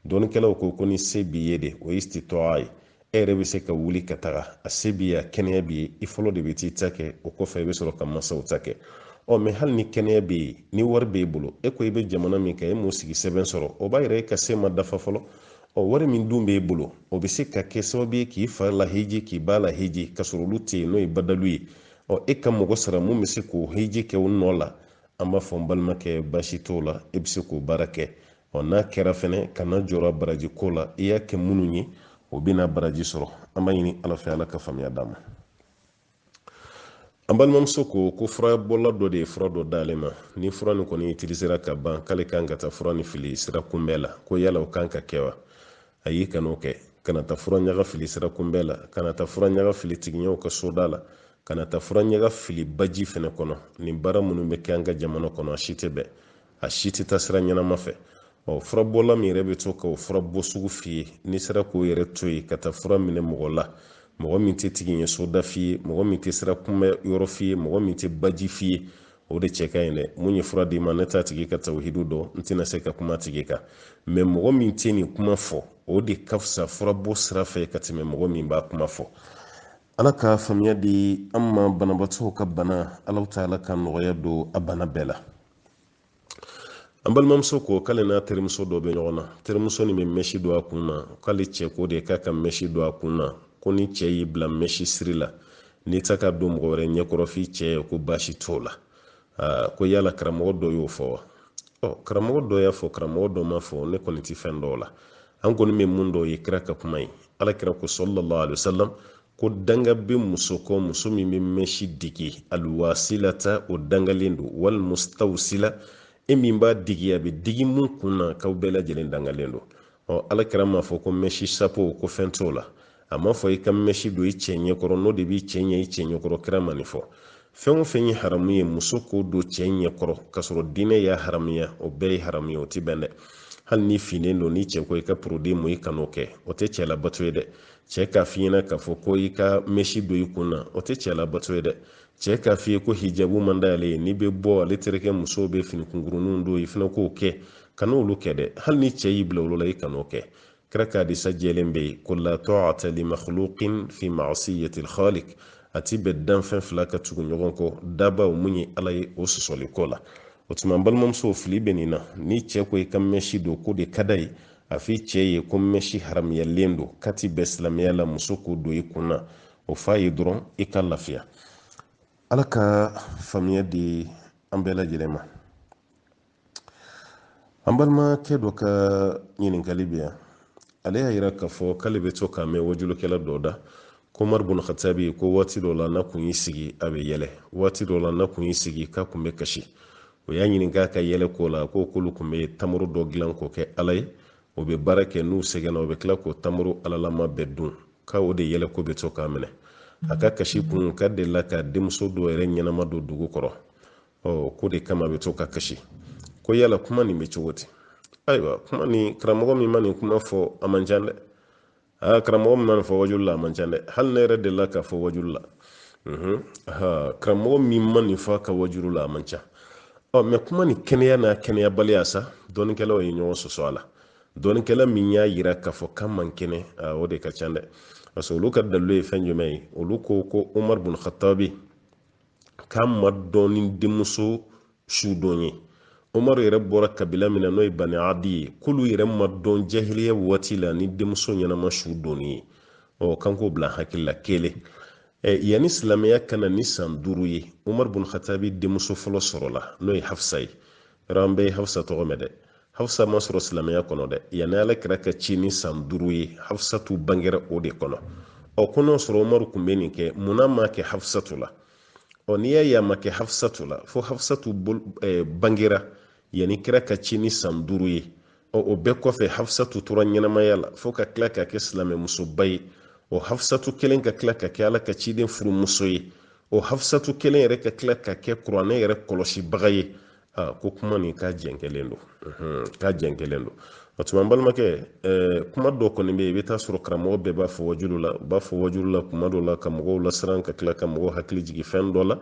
dɔnnikɛlaw ko ko ni se b'i ye de o ye istitɔa ye e yɛrɛ bɛ se ka wuli ka taga a se b'i ye a kɛnɛya b'i ye i fɔlɔ de bɛ t'i ta kɛ o kɔfɛ i bɛ sɔrɔ ka mansaw ta kɛ ɔ mɛ hali ni kɛnɛya bɛ yen ni wari b'e bolo e ko i bɛ jamana min kan e m'o sigi sɛbɛn sɔrɔ o b'a yira e ka se ma dafa fɔlɔ ɔ wari min dun b'e bolo o bɛ se ka kɛ sababu ye k'i fa lahiji k'i ba lahiji ka sɔrɔ olu tɛ yen n'o ye badalu ye ɔ e ka mɔgɔ sara min bɛ se k'o hiji kɛ o nɔ la an b'a fɔ n balimakɛ baasi t'o la e bɛ se k'o baara kɛ ɔ n'a kɛra fɛnɛ kana jɔrɔ baraji ko la i y'a kɛ minnu ye o bɛna baraji sɔrɔ an b'a ɲini ala fɛ ala ka faamuya d'a ma an balimamuso ko ko furabɔla dɔ de ye fura dɔ d'ale ma ni fura nin kɔni utilisera ka ban k'ale kan ka taa fura nin fili sira kunbɛn la ko yala o kan ka kɛ wa ayi kan'o kɛ kana taa fura ɲaga fili sira kunbɛn la kana taa fura ɲaga fili tigiɲɛw ka soda la kana taa fura ɲaga fili baji fɛnɛ kɔnɔ nin baara minnu bɛ kɛ an ka jamana kɔnɔ a si tɛ bɛn a si tɛ taa sira ɲɛnama fɛ ɔ furabɔla min yɛrɛ bɛ to ka o fura bɔ sugu f'i ye n'i sera k'o yɛrɛ to yen ka taa fura minɛ mɔgɔ la mɔgɔ min tɛ tigiɲɛ soda f'i ye mɔgɔ min tɛ sira kunbɛn yɔrɔ f'i ye mɔgɔ min tɛ baji f'i ye o de cɛ ka ɲi dɛ min ye fura d'i ma ne t'a tigi ka tawuhidu dɔn n tɛna se ka kum'a tigi kan mɛ mɔgɔ min tɛ nin kuma fɔ o de ka fisa furabɔ sira fɛ ka tɛmɛ mɔgɔ min b'a kuma fɔ ala ka faamuya di an ma banabaatɔw ka bana alahu taala ka nɔgɔya don a bana bɛɛ la an balimamuso ko k'ale n'a terimuso dɔ bɛ ɲɔgɔn na terimuso nin bɛ mɛsi don a kun na k'ale cɛ ko de k'a ka mɛsi don a kun na ko ni cɛ y'i bila mɛsi siri la n'i tɛ k'a don mɔgɔ wɛrɛ ɲɛkɔrɔ f'i cɛ ye ko baasi t'o la ko yala karamɔgɔ dɔ y'o fɔ wa ɔ karamɔgɔ dɔ y'a fɔ karamɔgɔ dɔ m'a fɔ ne kɔni tɛ fɛn dɔn o la an kɔni bɛ min dɔn o ye kira ka kuma ye ala kira ko sallallahu alayhi wa sallam ko danga bɛ muso kɔ muso min bɛ mɛsi digi aluwasilata o dangalen don walimawsula e min b'a digi a bɛ digi min kun na k'aw bɛɛ lajɛlen dangalen don ɔ ala kira m'a fɔ ko mɛsi sapo ko fɛn t'o la a m'a fɔ i ka mɛsi don i cɛ ɲɛkɔrɔ n'o de b'i cɛ ɲɛ i cɛ ɲɛkɔrɔ kira ma nin fɔ fɛn o fɛn ye haramu ye muso k'o don cɛ ɲɛkɔrɔ k'a sɔrɔ diinɛ y'a haramuya o bɛɛ ye haramu ye o tɛ bɛn dɛ hali n'i finnen don ni cɛ ko i ka porodi mu i kan'o kɛ o tɛ cɛ labato ye dɛ cɛ k'a f'i ɲɛna k'a fɔ ko i ka mɛsi don i kun na o tɛ cɛ labato ye dɛ cɛ k'a f'i ye ko hijabu man d'ale ye n'i bɛ bɔ ale terikɛ musow bɛ fini kunkuruninw don i fana k'o kɛ kana olu kɛ dɛ hali ni cɛ y'i bila olu la i kan'o kɛ kira ka hadisa jɛlen bɛ yen ko la ta'ata li makhluqin fi ma'siyati al-khaliq a ti bɛn danfɛn fila ka tugu ɲɔgɔn kɔ dabaa min ye ala ye o sɔsɔli ko la o tuma n balimamusow fili bɛ nin na ni cɛ ko i ka mɛsi don k'o de ka d'a ye a f'i cɛ ye ko mɛsi haramuyalen don k'a ti bɛn silamɛya la muso k'o don i kun na o f'a ye dɔrɔn i ka lafiya ala ka faamuya di an bɛɛ lajɛlen ma an balimakɛ dɔ ka ɲininkali bɛ yan ale y'a yira k'a fɔ k'ale bɛ to k'a mɛn waajulikɛla dɔ da ko umari bun khatabi ko waati dɔ la n'a kun y'i sigi a bɛ yɛlɛ waati dɔ la n'a kun y'i sigi k'a kun bɛ kasi o y'a ɲininka a ka yɛlɛ ko la ko k'olu tun bɛ tamaro dɔ dilan k'o kɛ ala ye o bɛ baara kɛ n'u sɛgɛnna o bɛ tila k'o tamaro alalama bɛɛ dun ko o de yɛlɛ ko bɛ to k'a minɛ a ka kasi kun k'a delila k'a denmuso dɔ yɛrɛ ɲɛnama don dugu kɔrɔ ɔ k'o de kama bɛ to ka kasi ko yala kuma nin bɛ cogo di ayiwa kuma nin karamɔgɔ min ma nin kuma fɔ a man ca dɛ aa karamɔgɔ min ma nin fɔ wajulu la a man ca dɛ hali ne yɛrɛ delila k'a fɔ wajulu la karamɔgɔ min ma nin fɔ a ka wajulu la a man ca ɔ mais kuma nin kɛnɛya n'a kɛnɛyabaliya sa dɔnikɛlaw ye ɲɔgɔn sɔsɔ a la dɔnikɛla min y'a yira k'a fɔ k'a man kɛnɛ o de ka ca dɛ parce que olu ka dalilu ye fɛn jumɛn ye olu ko ko umaru bun khatabi k'a ma dɔn ni denmuso su don ye umaru yɛrɛ bɔra kabila min na n'o ye bani adi ye k'olu yɛrɛ ma dɔn jahiliya waati la ni denmuso ɲɛnama su don ye ɔ k'an k'o bila hakili la kelen yanni silamɛya ka na ni san duuru ye umaru bun khatabi denmuso fɔlɔ sɔrɔla n'o ye hafsa ye yɔrɔ an bɛɛ ye hafsa tɔgɔ mɛn dɛ hafsa ma sɔrɔ silamɛya kɔnɔ dɛ yanni ala kira ka ci ni san duuru ye hafsatu bangera o de kɔnɔ ɔ ko n'o sɔrɔ umaru tun bɛ nin kɛ munna a m'a kɛ hafsatu la ɔ n'i y'a ye a m'a kɛ hafisatu la fo hafisatu eh, bangera yanni kira ka ci ni san duuru ye ɔ o bɛɛ kɔfɛ hafisatu tora ɲɛnamaya la fo ka tila ka kɛ silamɛmusoba ye o hafisatu kelen ka tila ka kɛ ala ka ciden furumuso ye o hafisatu kelen yɛrɛ ka tila ka kɛ kuranɛ yɛrɛ kɔlɔsibaga ye aa ko kuma nin k'a jɛnkɛlen don k'a jɛnkɛlen don o tuma n balimakɛ kuma dɔ kɔni bɛ yen i bɛ taa sɔrɔ karamɔgɔ bɛɛ b'a fɔ wajulu la u b'a fɔ wajulu la kuma dɔ la ka mɔgɔw lasiran ka tila ka mɔgɔw hakili jigin fɛn dɔ la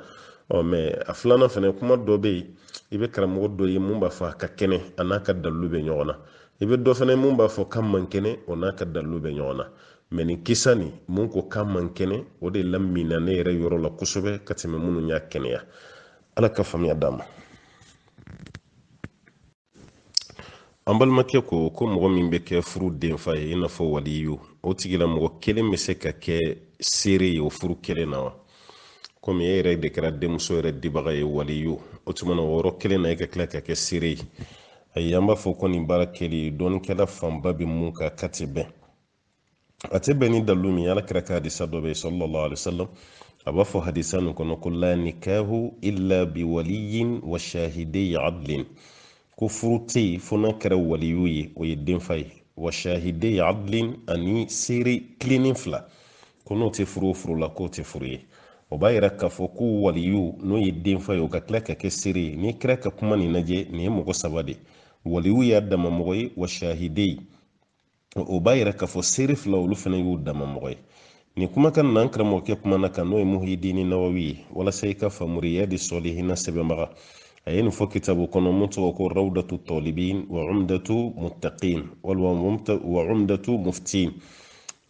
ɔ mais a filanan fana kuma dɔ bɛ yen i bɛ karamɔgɔ dɔ ye min b'a fɔ a ka kɛnɛ a n'a ka dalilu bɛ ɲɔgɔn na i bɛ dɔ fana min b'a fɔ k'a man kɛnɛ o n'a ka dalilu bɛ ɲɔgɔn na mais nin kisa nin min ko k'a man kɛnɛ o de laminɛna ne yɛrɛ yɔrɔ la kosɛbɛ ka tɛmɛ minnu y'a kɛnɛya ala ka faamuya d'an ma an balimakɛ ko ko mɔgɔ min bɛ kɛ furu denfa ye i n'a fɔ waliyu o tigila mɔgɔ kelen bɛ se ka kɛ seere ye o furu kelen na wa komi e yɛrɛ de kɛra denmuso yɛrɛ dibaga ye waliyu o tuma na o yɔrɔ kelen na e ka tila ka kɛ seere ye ayi an b'a fɔ ko nin baara kɛli dɔnikɛla fanba bɛ min kan k'a tɛ bɛn a tɛ bɛn ni dalilu min ala kira ka hadisa dɔ bɛ sallallahu alaihi wasallam a b'a fɔ hadisa nin kɔnɔ ko la nikahu illa bi waliyin wa shahidei adlin ko furu tɛ yen fo n'a kɛra waliyu ye o ye denfa ye wa shahidei adlin ani seere tilennen fila ko n'o tɛ furu o furu la k'o tɛ furu ye o b'a yira k'a fɔ ko waliyu n'o ye denfa ye o ka tila ka kɛ seere ye n'i kira ka kuma nin lajɛ nin ye mɔgɔ saba de ye waliyu y'a dama mɔgɔ ye wa shahidei o b'a yira k'a fɔ seere fila olu fana y'u dama mɔgɔ ye nin kumakan na an karamɔgɔkɛ kuman'a kan n'o ye muhidini nawawi ye walasa i k'a faamu riyadu sɔlihina sɛbɛnbaga a ye nin fɔ kitabu kɔnɔ mun tɔgɔ ko rawdatu tɔlibin wa umdatu muttaqin walima wa umdatu muftin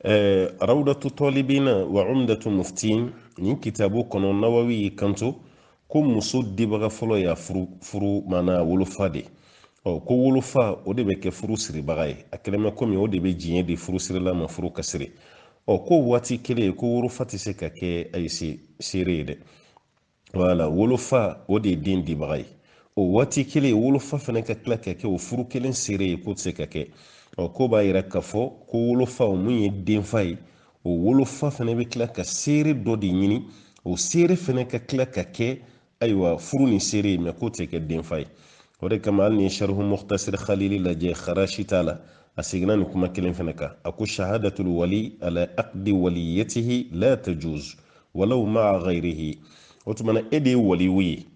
eh, rawdatu tɔlibina wa umdatu muftin nin kitabu kɔnɔ nawawi y'i kanto ko muso dibaga fɔlɔ y'a furu furu maana wolofa de ɔ ko wolofa o de bɛ kɛ furu siribaga ye a kɛlen bɛ komi o de bɛ diɲɛ di furu sirila ma furu ka siri ɔ ko waati kelen ko wolofa tɛ se ka kɛ ayi seere ye dɛ wala wolofa o de ye den dibaga ye o waati kelen wolofa fana ka tila ka kɛ o furu kelen seere ye k'o tɛ se ka kɛ ɔ k'o b'a yira k'a fɔ ko wolofa o mun ye denfa ye o wolofa fana bɛ tila ka seere dɔ de ɲini o seere fana ka tila ka kɛ ayiwa furu nin seere ye mɛ k'o tɛ kɛ denfa ye o de kama hali n'i ye sharihu muhtasir khalili lajɛ kharashi ta la a seginna nin kuma kelen fana kan a ko shahadatul wali ala aqdi waliyatihi la tajuz walaw maa ghayrihi o tuma na e de ye waliyu ye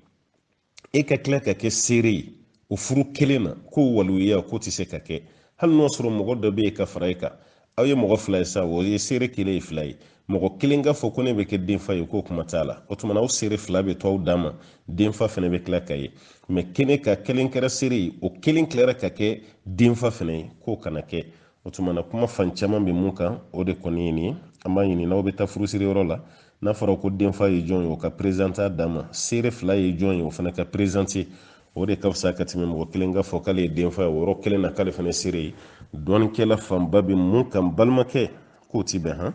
e ka tila ka kɛ seere ye o furu kelen na k'o waliya k'o tɛ se ka kɛ hali n'o sɔrɔ mɔgɔ dɔ bɛ yen ka fara e kan aw ye mɔgɔ fila ye sa o ye seere kelen ye fila ye mɔgɔ kelen ka fɔ ko ne bɛ kɛ denfa ye k'o kuma t'a la o tuma na aw seere fila bɛ to aw dan ma denfa fana bɛ tila ka ye mɛ kelen ka kelen kɛra seere ye o kelen tilara ka kɛ denfa fana ye k'o kana kɛ o tuma na kuma fan caman bɛ mun kan o de kɔni ye nin ye an b'a ɲini n'aw bɛ taa furusiri yɔrɔ la n'a fɔra ko denfa ye jɔn ye o ka perezante a dan ma seere fila ye jɔn ye o fana ka perezante o de ka fisa ka tɛmɛ mɔgɔ kelen ka fɔ k'ale ye denfa ye o yɔrɔ kelen na k'ale fana seere ye dɔnnikɛla fanba bɛ mun kan balimakɛ k'o ti bɛn han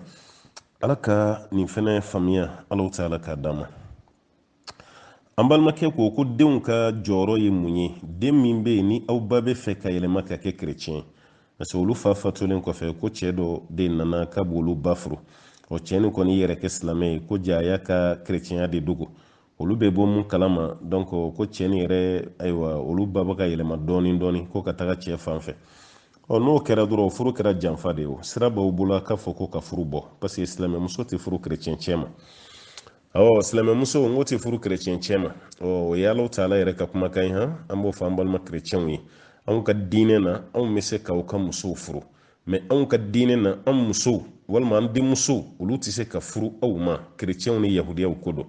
ala ka nin fana faamuya ala taala k'a d'an ma an balimakɛ ko ko denw ka jɔyɔrɔ ye mun ye den min bɛ yen ni aw ba bɛ fɛ ka yɛlɛma ka kɛ kerecɛn parce que olu fa fatulen kɔfɛ ko cɛ dɔ de nana ka b'olu ba furu ɔ cɛ nin kɔni y'a yɛrɛ kɛ silamɛ ye ko jaa a y'a ka kerecɛnya de dogo olu bɛ bɔ mun kalama donc ko cɛ nin yɛrɛ ayiwa olu ba bɛ ka yɛlɛma dɔɔni dɔɔni ko ka taga cɛ fan fɛ ɔ n'o kɛra dɔrɔn furu kɛra janfa de ye o sira b'aw bolo a k'a fɔ ko ka furu bɔ parce que silamɛmuso tɛ furu kerecɛn cɛ ma ɔ silamɛmuso n k'o tɛ furu kerecɛn cɛ ma ɔ o ye ala taala yɛrɛ ka kumakan ye han an b'o fɔ an balima kerecɛnw ye anw ka diinɛ na anw bɛ se k'aw ka musow furu mɛ anw ka diinɛ na an musow walima an denmusow olu tɛ se ka furu aw ma kerecɛnw ni yahudiyaw ko don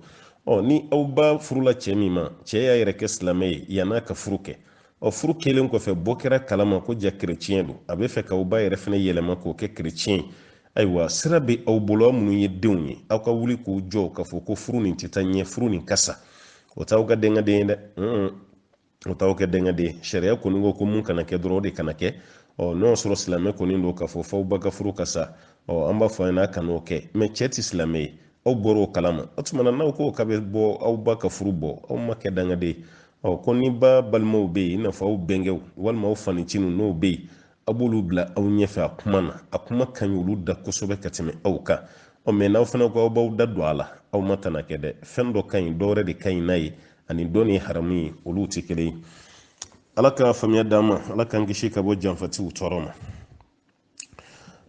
ɔ ni aw ba furula cɛ min ma cɛ y'a yɛrɛ kɛ silamɛ ye yann'a ka furu kɛ ɔ furu kɛlen kɔfɛ bɔ kɛra kalama ko jaa kereciyɛn don a bɛ fɛ k'aw ba yɛrɛ fana yɛlɛma k'o kɛ kereciyɛn ye ayiwa sira bɛ aw bolo aw minnu ye denw ye aw ka wuli k'u jɔ k'a fɔ ko furu nin tɛ taa ɲɛ furu nin ka sa o t'aw kɛ dangaden ye dɛ o t'aw kɛ dangaden sariya kɔni ko ko mun kana kɛ dɔrɔn o de kana kɛ ɔ n'o y'a sɔrɔ silamɛ kɔni don k'a fɔ f'aw ba ka furu ka sa ɔ an b'a fɔ a ɲɛna a kan'o kɛ mɛ cɛ tɛ silamɛ ye aw bɔra o kalama o tuma na n'aw ko k'a bɛ bɔ aw ba ka furu bɔ aw ma kɛ dangaden ye ɔ ko ni ba balimaw bɛ yen i n'a fɔ aw bɛnkɛw walima aw fa ncininw n'o bɛ yen a b'olu bila aw ɲɛfɛ a kuma na a kuma ka ɲi olu da kosɛbɛ ka tɛmɛ aw kan ɔ mɛ n'aw fana ko aw b'aw da don a la aw ma tana kɛ dɛ fɛn dɔ ka ɲi dɔwɛrɛ de ka ɲi n'a ye ani dɔ nin haramu ye olu tɛ kelen ye ala ka faamuya d'an ma ala k'an kisi ka bɔ janfatiw tɔɔrɔ ma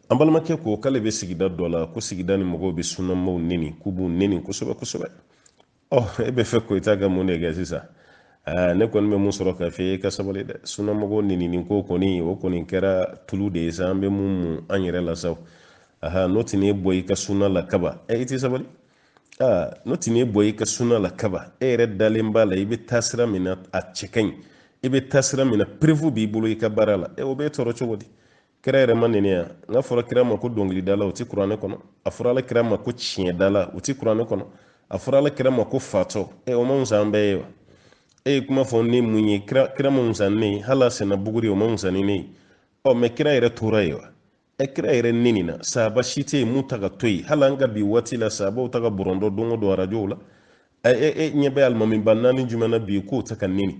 an balimakɛ ko k'ale bɛ sigida dɔ la ko sigida nin mɔgɔw bɛ sunamaaw neni k'u b'u neni kosɛbɛ kosɛbɛ ɔ e bɛ fɛ ko i ta ka mun de kɛ sisan aa ne kɔni bɛ mun sɔrɔ k'a f'i ye ka sabali dɛ sunamɔgɔ nenini ko kɔni o kɔni kɛra tulu de ye sa an bɛ mun mun an yɛrɛ la sa aha n'o tɛ n'e b'i ka suna la kaba ɛ i tɛ sabali aa n'o tɛ n'e b'i ka suna la kaba e yɛrɛ dalen b'a la i bɛ taa sira min na a cɛ ka ɲi i bɛ taa sira min na preuve b'i bolo i ka baara la ɛ o b'e tɔɔrɔ cogo di kira yɛrɛ ma neni yan n'a fɔra kira ma ko dɔnkilidala o ti kuranɛ kɔnɔ a fɔra ala kira ma ko tiɲɛdala o ti kuranɛ kɔnɔ a fɔra ala kira ma ko fatɔ e o man fisa an bɛɛ ye wa e ye kuma fɔ ne mun ye kira kira man fisa ne ye hali a senna buguri o man fisa ni ne ye ɔ mɛ kira yɛrɛ tora yen wa e kira yɛrɛ nenina sahaba si tɛ yen mun ta ka to yen hali an ka bi waati la sahabaw ta ka bɔrɔtɔ don o don arajow la e e ɲɛ bɛ alimamiba naani jumɛn na bi k'o ta ka neni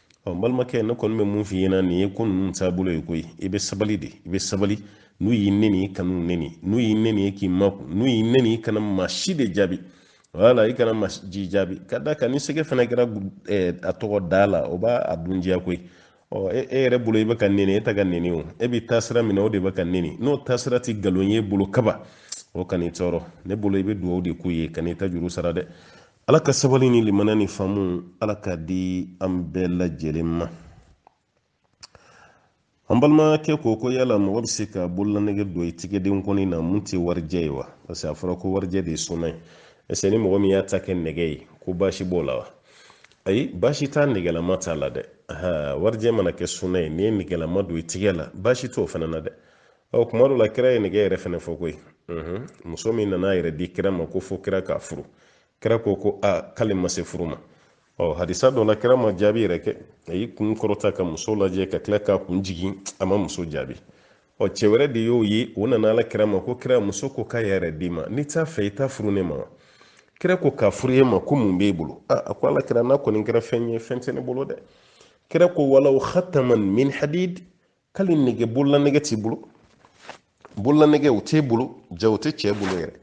ɔ balimakɛ ne kɔni bɛ mun f'i ɲɛna nin ye ko ninnu taabolo ye koyi i bɛ sabali de i bɛ sabali n'u y'i neni i kan'u neni n'u y'i neni i k'i makun n'u y'i neni i kana maa si de jaabi wala i kana maa si jaabi ka d'a kan ni sɛgɛ fana kɛra eh, a tɔgɔ da la o b'a a dun diya koyi ɔ e, e yɛrɛ bolo i bɛ ka neni e ta ka neni o e bɛ taasira min na o de bɛ ka neni n'o taasira tɛ nkalon y'i bolo kaba o kan'i tɔɔrɔ ne bolo i bɛ dugawu de k'u ye kan'i ta juru sara dɛ ala ka sabali ni limaniya ni faamu ala k'a di an bɛɛ lajɛlen ma an balimakɛ ko ko yala mɔgɔ bɛ se ka bololanɛgɛ don i tigɛden kɔni na mun tɛ warijɛ ye wa parce que a fɔra ko warijɛ de ye suna ye est-ce ni mɔgɔ min y'a ta kɛ nɛgɛ ye ko baasi b'o la wa ayi baasi t'a nɛgɛlama ta la dɛ warijɛ mana kɛ suna ye n'i ye nɛgɛlama don i tigɛ la baasi t'o fana na dɛ ɔ kuma dɔ la kira ye nɛgɛ yɛrɛ fɛnɛ fɔ koyi muso min nana a yɛrɛ di kira ma ko fo kira k'a furu kira ko ko a k'ale ma se furu ma ɔ hadisa dɔ la kira ma jaabi yɛrɛ kɛ a y'i kun kɔrɔta ka muso lajɛ ka tila k'a kun jigin a ma muso jaabi ɔ cɛ wɛrɛ de y'o ye o nana ala kira ma ko kira muso ko k'a yɛrɛ d'i ma n'i t'a fɛ i t'a furu ne ma wa kira ko k'a furu e ma ko mun b'e bolo a ko ala kira n'a kɔni kɛra fɛn ye fɛn tɛ ne bolo dɛ kira ko walaw khataman min hadid hali nɛgɛ bolola nɛgɛ t'i bolo bolola nɛgɛ o t'e bolo ja o tɛ cɛ bolo yɛrɛ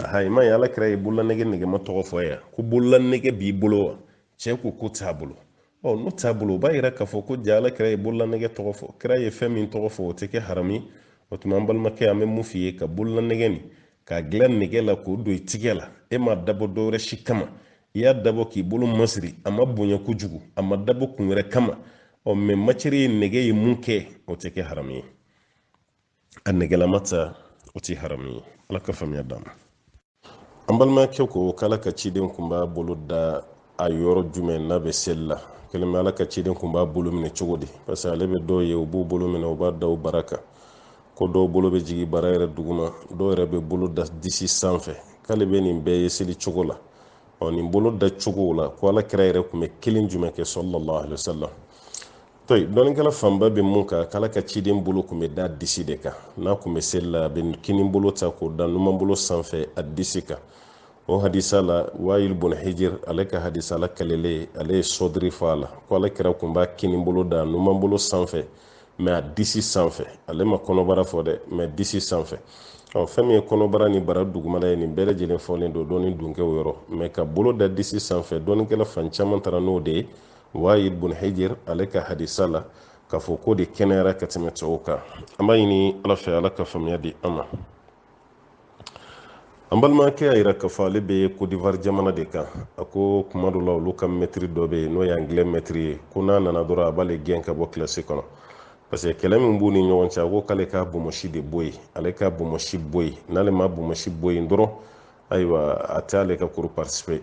aha i m'a ye ala kira ye bolola nɛgɛ nɛgɛma tɔgɔ fɔ yan ko bolola nɛgɛ b'i bolo wa cɛ ko k'o t'a bolo ɔ n'o t'a bolo o b'a yira k'a fɔ ko ja ala kira ye bolola nɛgɛ tɔgɔ fɔ kira ye fɛn min tɔgɔ fɔ o tɛ kɛ haramu ye o tuma an balimakɛ an bɛ mun f'i ye ka bolola nɛgɛ nin k'a dilan nɛgɛ la k'o don i tigɛ la e m'a dabɔ dɔwɛrɛ si kama i y'a dabɔ k'i bolo masiri a ma bonya kojugu a ma dabɔ kun wɛrɛ kama ɔ mɛ matière ye nɛgɛ ye minkɛ o tɛ kɛ haramu ye a nɛgɛlama ta o tɛ haramu ye ala ka faamuya d'an ma an balimakɛ ko k'ala ka ciden kun b'a bolo da a yɔrɔ jumɛn n'a bɛ seli la kelen bɛ ala ka ciden kun b'a bolo minɛ cogo di parce que ale bɛ dɔw ye u b'u bolo minɛ u b'a da u bara kan ko dɔw bolo bɛ jigin bara yɛrɛ duguma dɔw yɛrɛ bɛ bolo da disi sanfɛ k'ale bɛ nin bɛɛ ye seli cogo la ɔ nin bolo da cogo la ko ala kira yɛrɛ tun bɛ kelen jumɛn kɛ sallallahu alaihi wasallam tayyib dɔnnikɛla fanba bɛ mun kan k'ala ka ciden bolo tun bɛ da disi de kan n'a tun bɛ seli la a bɛ kini bolo ta k'o da numan bolo sanfɛ a disi kan o hadisa la wayil bun hijir ale ka hadisa la k'ale ale ye sɔdiri fɔ a la ko ala kira tun b'a kini bolo da numan bolo sanfɛ mɛ a disi sanfɛ ale ma kɔnɔbara fɔ dɛ mɛ a disi sanfɛ ɔ fɛn min ye kɔnɔbara ni bara dugumana ye nin bɛɛ lajɛlen fɔlen don dɔnni dunkew yɔrɔ mɛ ka bolo da disi sanfɛ dɔnnikɛla fan caman taara n'o de ye wayil bun hijir ale ka hadisa la k'a fɔ k'o de kɛnɛyara ka tɛmɛ tɔw kan an b'a ɲini ala fɛ ala ka faamuya di an ma an balimakɛ y'a yira k'a fɔ ale bɛ kodivar jamana de kan a ko kuma dɔ la olu ka mɛtiri dɔ bɛ yen n'o ye angilɛ mɛtiri ye ko n'a nana dɔrɔn a b'ale gɛn ka bɔ kilasi kɔnɔ parce que kɛlɛ min b'u ni ɲɔgɔn cɛ a ko k'ale ka bomosi de bɔ yen ale ka bomosi bɔ yen n'ale ma bomosi bɔ yen dɔrɔn ayiwa a tɛ ale ka cours participer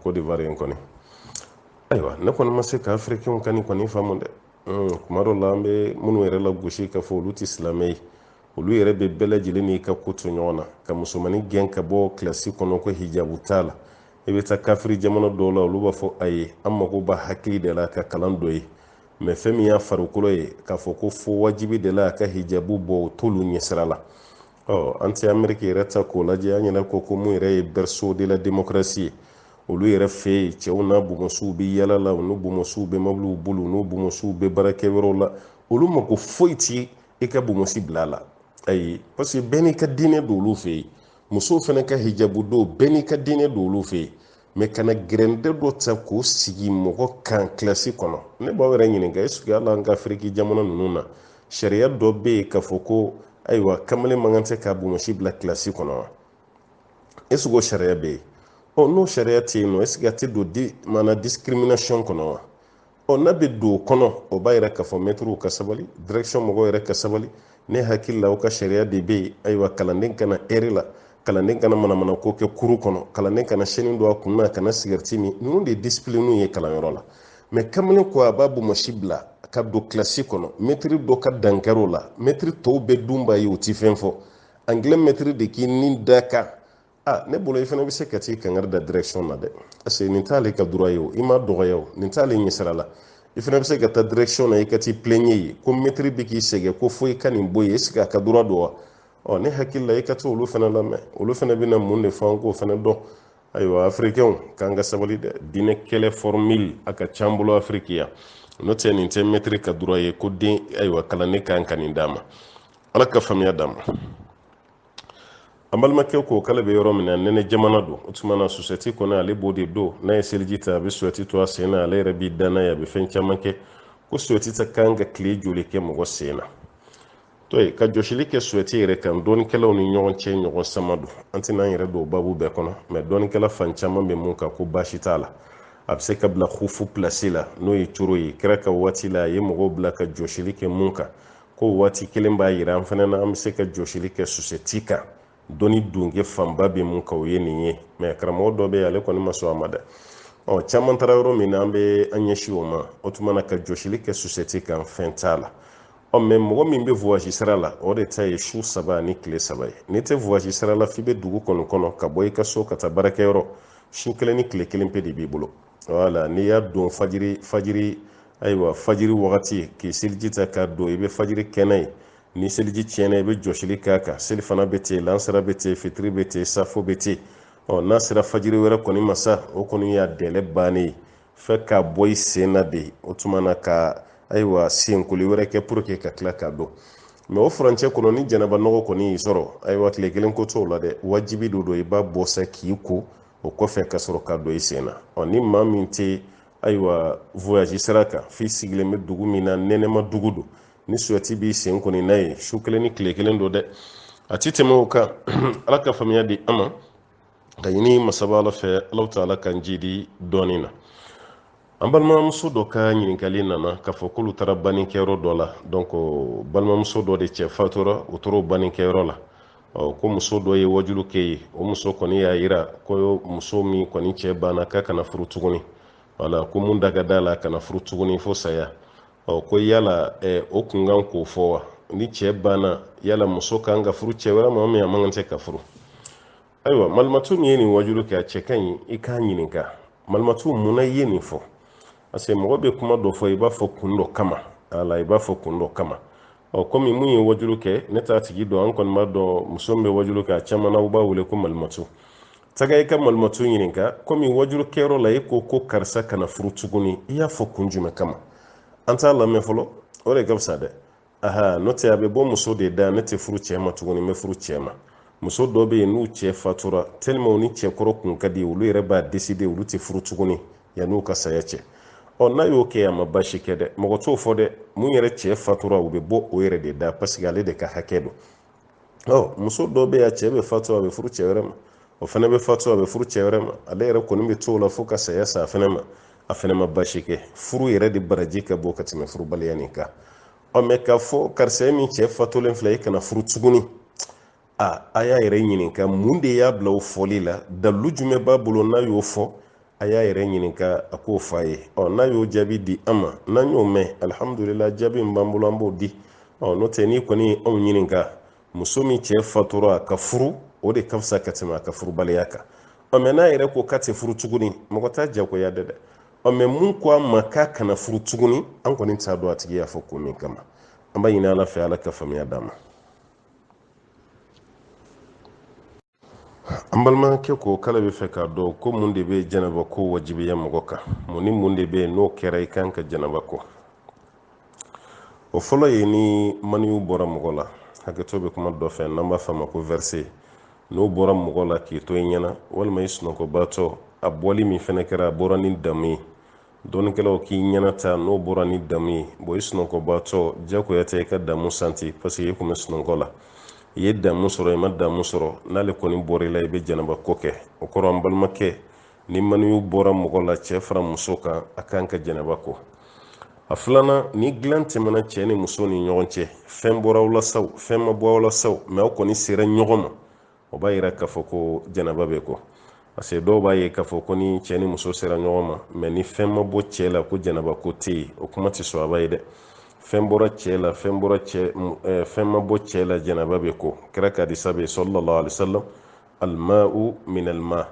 kodivar in kɔni ayiwa ne kɔni ma se ka afirikɛnw ka nin kɔni faamu dɛ kuma dɔ la an bɛ minnu yɛrɛ lagosi k'a fɔ olu tɛ silamɛ ye olu yɛrɛ bɛ bɛɛ lajɛlen n'i ka ko to ɲɔgɔn na ka musomanin gɛn ka bɔ kilasi kɔnɔ ko hijabu t'a la i bɛ taa kafiri jamana dɔw la olu b'a fɔ a ye an mago b'a hakili de la ka kalan don yen mɛ fɛn min y'a farikolo ye k'a fɔ ko fo wajibi de la a ka hijabu bɔ o t'olu ɲɛsira la ɔ an tɛ ameriki yɛrɛ ta k'o lajɛ an yɛrɛ ko ko mun yɛrɛ ye berceau de la démocratie ye olu yɛrɛ fɛ yen cɛw n'a bɔnmɔsiw bɛ yala la u n'u bɔnmɔsiw bɛ mobiliw bolo u n'u bɔnmɔsiw bɛ baarakɛyɔrɔw la olu mako foyi ti i ka bɔnmɔsi bila la ayi parce que bɛɛ n'i ka diinɛ don olu fɛ yen musow fana ka hijabu don bɛɛ n'i ka diinɛ don olu fɛ yen mɛ kana gɛrɛntɛ dɔ ta k'o sigi mɔgɔ kan kilasi kɔnɔ ne b'aw yɛrɛ ɲininka esike yala an ka afiriki jamana ninnu na sariya dɔ bɛ yen k'a fɔ ko ayiwa kamalen man kan ka se ka bɔnmɔsi bila kilasi kɔnɔ wa esike o sariya bɛ yen ɔ n'o sariya tɛ yen nɔ esike a tɛ don di maana discrimination kɔnɔ wa ɔ n'a bɛ don o kɔnɔ o b'a yira k'a fɔ mɛtiriw ka sabali direction mɔgɔw yɛrɛ ka sabali ne hakili la o ka sariya de bɛ yen ayiwa kalanden kana retard kalanden kana manamana ko kɛ kuru kɔnɔ kalanden kana sɛni don a kun na kana sigɛriti min ninnu de ye disipiliniw ye kalanyɔrɔ la mɛ kamalen ko a b'a bɔnmɔsi bila ka don kilasi kɔnɔ mɛtiri dɔ ka dankar'o la mɛtiri tɔw bɛɛ dun b'a ye u ti fɛn fɔ anglais mɛtiri de kɔni dankarila ne bolo i fana bɛ se ka t'i kankari da direction na dɛ parce que nin t'ale ka droit ye o i ma dɔgɔya o nin t'ale ɲɛsira la i fana bɛ se ka taa direction na i ka t'i plaigne yen ko mɛtiri bɛ k'i sɛgɛn ko fo i ka nin bɔ yen est ce que a ka droit don wa ɔ ne hakili la i ka t'olu fana lamɛn olu fana bɛna mun de fɔ an k'o fana dɔn ayiwa afirikɛnw kan ka sabali dɛ diinɛ kɛlɛ fɔrmili a ka ca an bolo afiriki yan n'o tɛ nin tɛ mɛtiri ka droit ye ko den ayiwa kalanden kan ka nin d'a ma ala ka faamuya d'a ma an balimakɛ ko k'ale bɛ yɔrɔ min na nɛnɛ jamana don o tuma na susɛti kɔni ale b'o de don n'a ye seliji ta a bɛ susɛti to a sen na ale yɛrɛ b'i da n'a ye a bɛ fɛn caman kɛ ko susɛti kan ka tile joli kɛ mɔgɔ sen na to yen ka jɔsili kɛ susɛti yɛrɛ kan dɔnnikɛlaw ni ɲɔgɔn cɛ ɲɔgɔn sama don an tɛna an yɛrɛ don o babu bɛɛ kɔnɔ mɛ dɔnnikɛla fan caman bɛ mun kan ko baasi t'a la a bɛ se ka bila hufu pilasi la n'o ye coro ye kira ka waati la a ye mɔgɔw bila ka jɔsili kɛ mun kan ko waati kelen b'a yira an fana na an bɛ se ka jɔsili kɛ susɛti kan dɔnni dunke fanba bɛ mun kan o ye nin ye mɛ karamɔgɔ dɔ bɛ yen ale kɔni ma sɔn a ma dɛ ɔ caman taara yɔrɔ min na an bɛ an ɲɛsin o ma o tuma na ka jɔsili kɛ susɛti kan fɛn t'a la ɔ mɛ mɔgɔ min bɛ voyage sira la o de ta ye su saba ni tile saba ye n'i tɛ voyage sira la f'i bɛ dugu kɔni kɔnɔ ka bɔ i ka so ka taa baarakɛyɔrɔ su kelen ni tile kelen pe de b'i bolo wala n'i y'a don fajiri fajiri ayiwa fajiri wagati k'i seliji ta k'a don i bɛ fajiri kɛ n'a ye ni seliji tiɲɛna i bɛ jɔsili k'a kan selifana bɛ ten lansara bɛ ten fitiri bɛ ten safo bɛ ten ɔ n'a sera fajiri wɛrɛ kɔni ma sa o kɔni y'a délai bannen ye f'i k'a bɔ i sen na de o tuma na ka ayiwa senkoli wɛrɛ kɛ pour que ka tila k'a don mɛ o furancɛ kɔnɔ ni janaba nɔgɔ kɔni y'i sɔrɔ ayiwa tile kelen ko t'o la dɛ wajibi de don i b'a bɔ sa k'i ko o kɔfɛ ka sɔrɔ ka don i sen na ɔ ni maa min tɛ ayiwa voyage sira kan f'i sigilen bɛ dugu min na nɛnɛma dugu don ni suyɛti b'i sen kɔni n'a ye su kelen ni tile kelen don dɛ a ti tɛmɛ o kan ala ka faamuya di an ma k'a ɲini masaba ala fɛ ala taala k'an jidi dɔnni na an balimamuso dɔ ka ɲininkali nana k'a fɔ k'olu taara bannikɛyɔrɔ dɔ la donc balimamuso dɔ de cɛ fatura u taar'o bannikɛyɔrɔ la ko muso dɔ ye wajulu kɛ yen o muso kɔni y'a yira ko muso min kɔni cɛ banna k'a kana furu tuguni wala ko mun da ka d'a la kana furu tuguni fo saya ɔ ko yala o kun kan k'o fɔ wa ni cɛ banna yala muso kan ka furu cɛ wɛrɛ ma min a man kan tɛ ka furu ayiwa malimatu min ye nin wajulu kɛ a cɛ ka ɲi i k'a ɲininka malimatu mun na i ye nin fɔ parce que mɔgɔ bɛ kuma dɔ fɔ i b'a fɔ kun dɔ kama ala i b'a fɔ kun dɔ kama ɔ kɔmi min ye wajulu kɛ ne t'a tigi dɔn an kɔni b'a dɔn muso min bɛ wajulu kɛ a caman na u b'a wele ko malimatu taga i ka malimatu ɲininka kɔmi wajulu kɛyɔrɔ la e ko ko karisa kana furu tuguni i y'a fɔ kun jumɛn kama an t'a lamɛn fɔlɔ o de ka fisa dɛ aha n'o tɛ a bɛ bɔ muso de da ne tɛ furu cɛ ma tuguni n bɛ furu cɛ ma muso dɔ bɛ yen n'u cɛ fatura tɛlima u ni cɛkɔrɔ kun ka di olu yɛrɛ b'a deside olu tɛ furu tuguni yan'u ka saya cɛ ɔ n'a y'o kɛ a ma basi kɛ dɛ mɔgɔ t'o fɔ dɛ mun yɛrɛ cɛ fatura o bɛ bɔ o yɛrɛ de da parce que ale de ka hakɛ don ɔ muso dɔ bɛ yan cɛ bɛ fatu a bɛ furu cɛ wɛrɛ ma o fana bɛ fatu a bɛ furu cɛ wɛrɛ ma ale yɛrɛ kɔni bɛ to o la fo ka saya sa a fana ma a fana ma basi kɛ furu yɛrɛ de baraji ka bon ka tɛmɛ furubaliya nin kan ɔ mɛ k'a fɔ karisa ye min cɛ fatulen filɛ i kana furu tuguni a a y'a yɛrɛ ɲininka mun de y'a bila o fɔli la dalilu jumɛn b'a bolo n'a y'o fɔ a y'a yɛrɛ ɲininka a k'o f'aw ye ɔ n'a y'o jaabi di an ma n'an y'o mɛn alihamudulila jaabi min b'an bolo an b'o di ɔ n'o tɛ n'i kɔni ye anw ɲininka muso min cɛ fatura ka furu o de ka fisa ka tɛmɛ a ka furubaliya kan ɔ mɛ n'a yɛrɛ ko k'a tɛ furu tuguni mɔgɔ t'a jagoya dɛ dɛ ɔ mɛ min ko a ma k'a kana furu tuguni an kɔni t'a dɔn a tigi y'a fɔ ko min kama an b'a ɲini ala fɛ ala ka faamuya d'an ma an balimakɛ ko k'ale b'a fɛ k'a dɔn ko mun de bɛ janaba ko wajibiya mɔgɔ kan mun ni mun de bɛ yen n'o kɛra i kan ka janaba ko o fɔlɔ ye ni maniyu bɔra mɔgɔ la hakɛto bɛ kuma dɔ fɛ n'an b'a f'a ma ko vɛrse n'o bɔra mɔgɔ la k'i to i ɲɛna walima i sunɔgɔbaatɔ a bɔli min fɛnɛ kɛra a bɔra ni damu ye dɔnnikɛlaw k'i ɲɛna ta n'o bɔra ni damu ye bon i sunɔgɔbaatɔ jagoya tɛ i ka damu santi parce que i tun bɛ sunɔgɔ la i ye damu sɔrɔ i ma damu sɔrɔ n'ale kɔni bɔra i la i bɛ janaba ko kɛ o kɔrɔ an balimakɛ ni maniyu bɔra mɔgɔ la cɛ fara muso kan a kan ka janaba ko a filanan ni dilan tɛmɛna cɛ ni muso ni ɲɔgɔn cɛ fɛn bɔra aw la sa o fɛn ma bɔ aw la sa o mɛ aw kɔni sera ɲɔgɔn ma o b'a yira k'a fɔ ko janaba bɛ ko parce que dɔw b'a ye k'a fɔ ko ni cɛ ni muso sera ɲɔgɔn ma mɛ ni fɛn ma bɔ cɛ la ko janaba ko tɛ yen o kuma tɛ sɔbɛ ye dɛ fɛn bɔra cɛ la fɛn bɔra cɛ eh, fɛn ma bɔ cɛ la janaba bɛ ko kira ka hadisa bɛ sallallahu alaihi wasallam alma'u min alma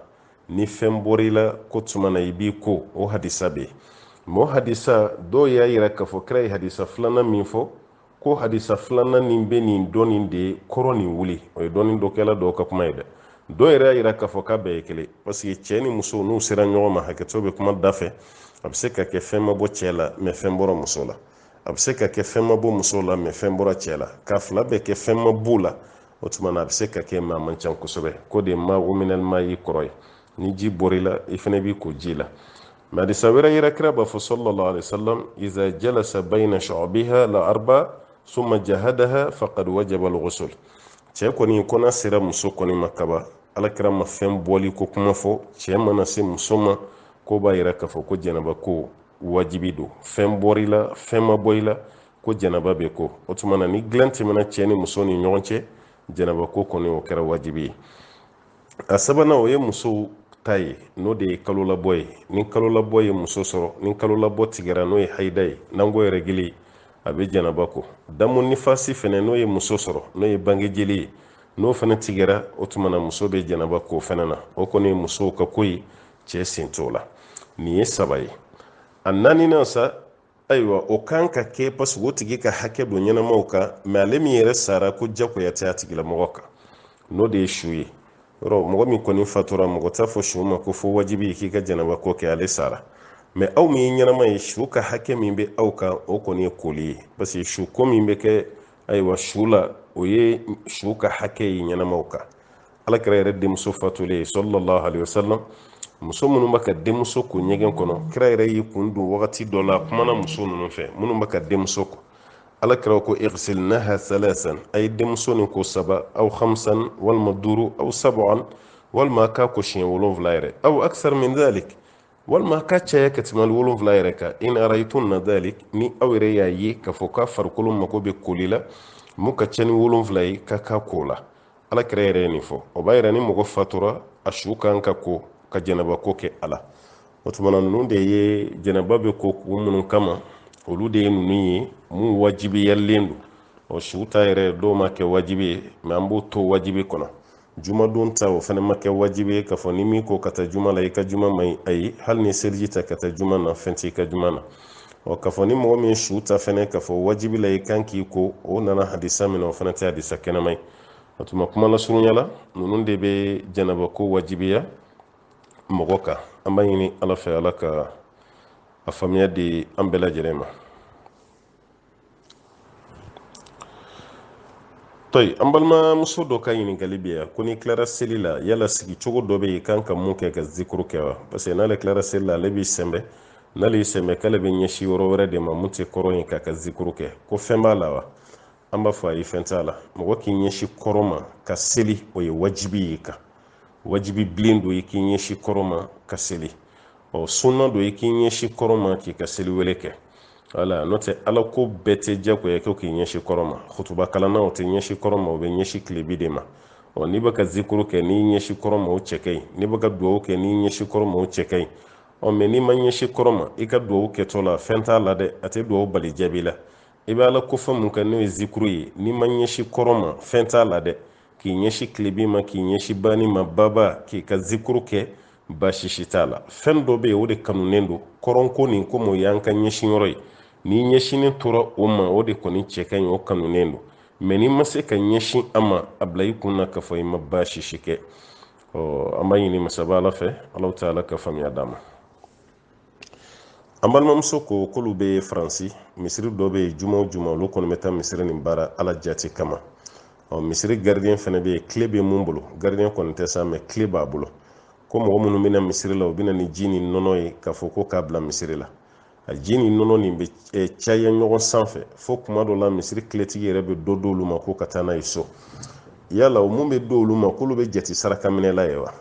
ni fɛn bɔra i la k'o tuma na i b'i ko o hadisa bɛ yen mɛ o hadisa dɔw y'a yira k'a fɔ kira ye hadisa filanan min fɔ ko hadisa filanan nin bɛ nin dɔ nin de kɔrɔ nin wuli o ye dɔnnikɛla dɔw ka kuma ye dɛ dɔw yɛrɛ y'a yira k'a fɔ k'a bɛɛ ye kelen paseke cɛ ni muso n'u sera ɲɔgɔn ma hakɛto bɛ kuma da fɛ a bɛ se ka kɛ fɛn ma bɔ cɛ la mɛ fɛn bɔra muso la a bɛ se ka kɛ fɛn ma bɔ muso la mɛ fɛn bɔra cɛ la k'a fila bɛɛ kɛ fɛn ma b'u la o tuma na a bɛ se ka kɛ mɛ a man ca kosɛbɛ k'o de ma'u min alma'i kɔrɔ ye ni ji bɔr'i la i fana b'i ko ji la Mɛ hadisa wɛrɛ yira kira b'a fɔ sallallahu alaihi wasallam iza jalasa bayna shu'abiha al-arba summa jahadaha faqad wajaba al-ghusl cɛ kɔni kɔna sera muso kɔni ma kaban alakira ma fɛn bɔli ko kuma fɔ cɛ mana se muso ma k'o b'a yira k'a fɔ ko janaba ko wajibi don fɛn bɔr'i la fɛn ma bɔ i la ko janaba bɛ ko o tuma na ni dilan tɛmɛna cɛ ni muso ni ɲɔgɔn cɛ janaba ko kɔni o kɛra wajibi ye a sabanan o ye musow ta ye n'o de ye kalolabɔ ye ni kalolabɔ ye muso sɔrɔ ni kalolabɔ tigɛra n'o ye hayida ye n'an ko les règles a bɛ janaba ko damu nifasi fɛnɛ n'o ye muso sɔrɔ n'o ye bange jeli ye n'o fɛnɛ tigɛra o tuma na muso bɛ janaba ko fɛnɛ na o kɔni ye musow ka ko ye cɛ sen t'o la nin ye saba ye a naaninan sa ayiwa o kan ka kɛ paseke o tigi ka hakɛ don ɲɛnamaw kan mɛ ale min yɛrɛ sara ko jagoya tɛ a tigilamɔgɔ kan n'o de ye su ye yɔrɔ mɔgɔ min kɔni fatura mɔgɔ t'a fɔ su ma k'a fɔ wajibi k'i ka janaba ko kɛ ale sara mɛ aw min ye ɲɛnama ye su ka hakɛ min bɛ aw kan o kɔni ye koli ye parce que su ko min bɛ kɛ ayiwa su la o ye su ka hakɛ ye ɲɛnamaw kan alakira yɛrɛ denmuso fatulen sallallahu alaihi wasallam muso minnu bɛ ka denmuso ko ɲɛgɛn kɔnɔ kira yɛrɛ y'i kun don wagati dɔ la kumana muso ninnu fɛ minnu bɛ ka denmuso ko alakira ko igsilnaha salasan a ye denmuso nin ko saba aw hamsan walima duuru aw sab'an walima k'a ko siɲɛ wolonfila yɛrɛ aw aksar min dalik walima ka caya ka tɛmɛ wolonfila yɛrɛ kan in ra'aytunna dalik ni aw yɛrɛ y'a ye k'a fɔ k'a farikolo mago bɛ koli la mun ka ca ni wolonfila ye ka k'a ko la ala kira yɛrɛ ye nin fɔ o b'a yira ni mɔgɔ fatura a su kan ka ko ka janaba ko kɛ a la o tumana ninnu de ye janaba bɛ ko kun minnu kama olu de ye ninnu ye mun wajibiyalen don o su ta yɛrɛ dɔw m'a kɛ wajibi ye mɛ an b'o to wajibi kɔnɔ jumadon ta o fana ma kɛ wajibi ye k'a fɔ n'i m'i ko ka taa juma la i ka juma man ɲi ayi hali n'i seliji ta ka taa juma na fɛn t'i ka juma na ɔ k'a fɔ ni mɔgɔ min ye su ta fɛnɛ k'a fɔ wajibi la i kan k'i ko o nana hadisa min na o fana tɛ hadisa kɛnɛma ye o tuma kuma lasurunya la ninnu de bɛ janaba ko wajibiya mɔgɔ kan an b'a ɲini ala fɛ ala ka a faamuya di an bɛɛ lajɛlen ma tɔyi an balimamuso dɔ ka ɲininkali bɛ yan ko n'i tilara seli la yala sigi cogo dɔ bɛ yen i kan ka mun kɛ ka zikuru kɛ wa parce que n'ale tilara seli la ale b'i sɛnbɛ n'ale y'i sɛnbɛ k'ale bɛ ɲɛsin yɔrɔ wɛrɛ de ma mun tɛ kɔrɔn ye k'a ka zikuru kɛ ko fɛn b'a la wa an b'a fɔ a ye fɛn t'a la mɔgɔ k'i ɲɛsin kɔrɔn ma ka seli o ye wajibi y'i kan wajibiyalen don i k'i ɲɛsin kɔrɔn ma ka seli ɔ sunna don i k'i ɲɛsin kɔrɔn ma k'i ka seli wele kɛ wala n'o tɛ ala ko bɛɛ tɛ jagoya kɛ k'i ɲɛsin kɔrɔn ma kutuba kalannaw tɛ ɲɛsin kɔrɔn ma u bɛ ɲɛsin tilebi de ma ɔ n'i bɛ ka zikuru kɛ n'i ɲɛsin kɔrɔn ma o cɛ ka ɲi n'i bɛ ka dugawu kɛ n'i ɲɛsin kɔrɔn ma o cɛ ka ɲi ɔ mɛ n'i ma ɲɛsin kɔrɔn ma i ka dugawu kɛtɔ la fɛn t'a la dɛ a tɛ dugawu bali jaabi la i bɛ ala ko fɛn mun kɛ n'o ye zikuru ye n'i ma ɲɛsin kɔrɔn ma fɛn t'a la dɛ k'i ɲɛsin tilebin ma k'i ɲɛsin banin ma baba k'i ka zikuru kɛ baasi si t'a la fɛn dɔ bɛ yen o de kanunen don kɔrɔnko nin komi o y'an ka ɲɛsin yɔrɔ ye n'i ɲɛsinnen tora o ma o de kɔni cɛ ka ɲi o kanunen don mɛ n'i ma se ka ɲɛsin a ma a bila i kun na k'a fɔ i ma baasi si kɛ ɔ an b'a ɲini masaba ala fɛ ala taala ka faamuya d'an ma an balimamuso ko k'olu bɛ faransi misiri dɔ bɛ yen juma o juma olu kɔni bɛ taa misiri nin baara ala jati kama ɔ misiri garidiyɛn fana bɛ yen kile bɛ mun bolo garidiyɛn kɔni tɛ sa mɛ kile b'a bolo ko mɔgɔ minnu bɛ na misiri la u bɛ na ni ji ni nɔnɔ ye k'a fɔ ko k'a bila misiri la a ji ni nɔnɔ nin bɛ eh, caya ɲɔgɔn sanfɛ fo kuma dɔ la misiri kiletigi yɛrɛ bɛ dɔ d'olu ma ko ka taa n'a ye so yala o mun bɛ d'olu ma k'olu bɛ jate sarakaminɛla ye wa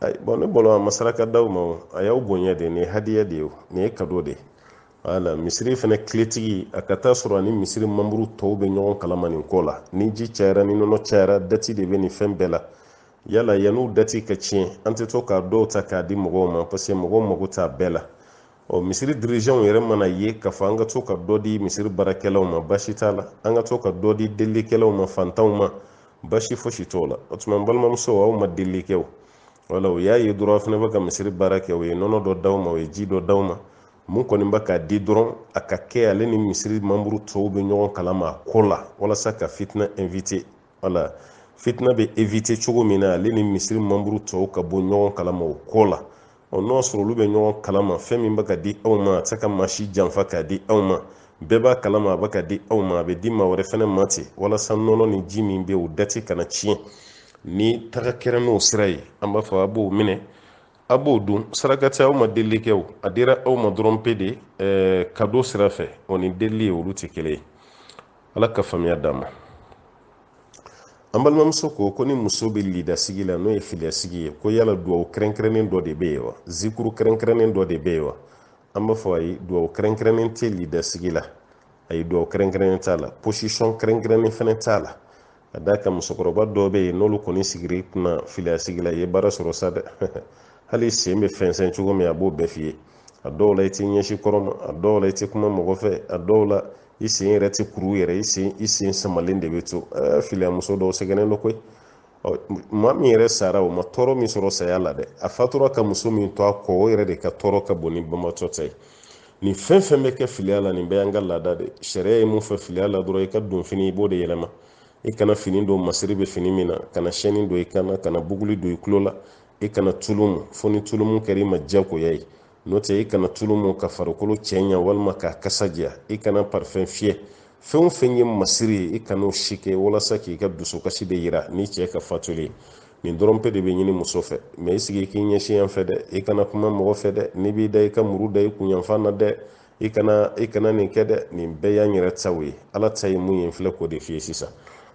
ayi bɔn ne bolo a ma saraka d'aw ma o a y'aw bonya de nin ye hadiya de ye o nin ye kado de ye wala misiri fana kiletigi a ka taa sɔrɔ ani misiri manburu tɔw bɛ ɲɔgɔn kalama nin ko la ni ji cayara ni nɔnɔ cayara dati de bɛ nin fɛn bɛɛ la yala yan'u dati ka tiɲɛ an tɛ to k'a dɔw ta k'a di mɔgɔw ma parce que mɔgɔw mago t'a bɛɛ la ɔ misiri dirijanw yɛrɛ man'a ye k'a fɔ an ka to ka dɔ di misiri baarakɛlaw ma basi t'a la an ka to ka dɔ di delilikɛlaw ma fantanw ma basi fosi t'o la o tuma n balimamuso aw ma delili kɛ o wala u y'a ye dɔrɔn a fana bɛ ka misiri baara kɛ u ye nɔnɔ dɔ d'aw ma u ye ji dɔ d'aw ma mun kɔni bɛ k'a di dɔrɔn a ka kɛ ale ni misiri manburu tɔw bɛ ɲɔgɔn kalama a ko la walasa ka fitina evite wala fitina bɛ evite cogo min na ale ni misiri manburu tɔw ka bɔ ɲɔgɔn kalama o ko la ɔ n'o y'a sɔrɔ olu bɛ ɲɔgɔn kalama fɛn min bɛ ka di aw ma a tɛ se ka maa si janfa k'a di aw ma bɛɛ b'a kalama a bɛ ka di aw ma a bɛ di maa wɛrɛ fana ma ten walasa nɔnɔ ni ji min bɛ u dati kana tiɲɛ ni taga kɛra n'o sira ye an b'a fɔ a b'o minɛ a b'o dun saraka tɛ aw ma delili kɛ o a dira aw ma dɔrɔn pe de ɛɛ kado sira fɛ o ni delili ye olu tɛ kelen ye ala ka faamuya d'a ma an balimamuso ko ko ni muso bɛ lidasigi la n'o ye filiyasigi ye ko yala duwawu kɛrɛnkɛrɛnnen dɔ de bɛ yen wa zikuru kɛrɛnkɛrɛnnen dɔ de bɛ yen wa an b'a fɔ ayi duwawu kɛrɛnkɛrɛnnen tɛ lidasigi la ayi duwawu kɛrɛnkɛrɛnnen t'a la posisɔn kɛrɛnkɛrɛnnen fana t'a la a d'a kan musokɔrɔba dɔw bɛ yen n'olu kɔni sigir'i kunna filiya sigi la i ye baara sɔrɔ sa dɛ hali i sen bɛ fɛnsɛn cogo min a b'o bɛɛ f'i ye a dɔw la i tɛ ɲɛsin kɔrɔn ma a dɔw la i tɛ kuma mɔgɔ fɛ a dɔw la i sen yɛrɛ tɛ kuru yɛrɛ i sen i sen samalen de bɛ to ɛɛ filiya muso dɔw sɛgɛnnen don koyi maa min yɛrɛ sara o ma tɔɔrɔ min sɔrɔ saya la dɛ a fatura ka muso min to a kɔ o yɛrɛ de ka tɔɔrɔ ka bon ni banbaatɔ ta ye nin fɛn fɛn bɛ kɛ filiya la nin bɛɛ y'an ka laada de sariya ye mun fɛ filiya la dɔrɔn i ka donfini i b'o de yɛlɛma i kana fini don masiri bɛ fini min na kana sɛni don i kan na kana buguli don i tulo la i kana tulu mu fo ni tulumu kɛra i ma diyagoya ye n'o tɛ i kana tulu mu ka farikolo cɛɲa walima k'a kasa diya i kana parifɛn fiyɛ fɛn o fɛn ye masiri ye i kan'o si kɛ walasa k'i ka dusukasi de yira n'i cɛ ka fatuli ye nin dɔrɔn pe de bɛ ɲini muso fɛ mɛ i sigi k'i ɲɛsin yan fɛ dɛ i kana kuma mɔgɔ fɛ dɛ n'i b'i da i ka muru da i kun yanfan na dɛ i kana i kana nin kɛ dɛ nin bɛɛ y'an yɛrɛ taw ye ala ta ye mun ye n filɛ k'o de f'i ye sisan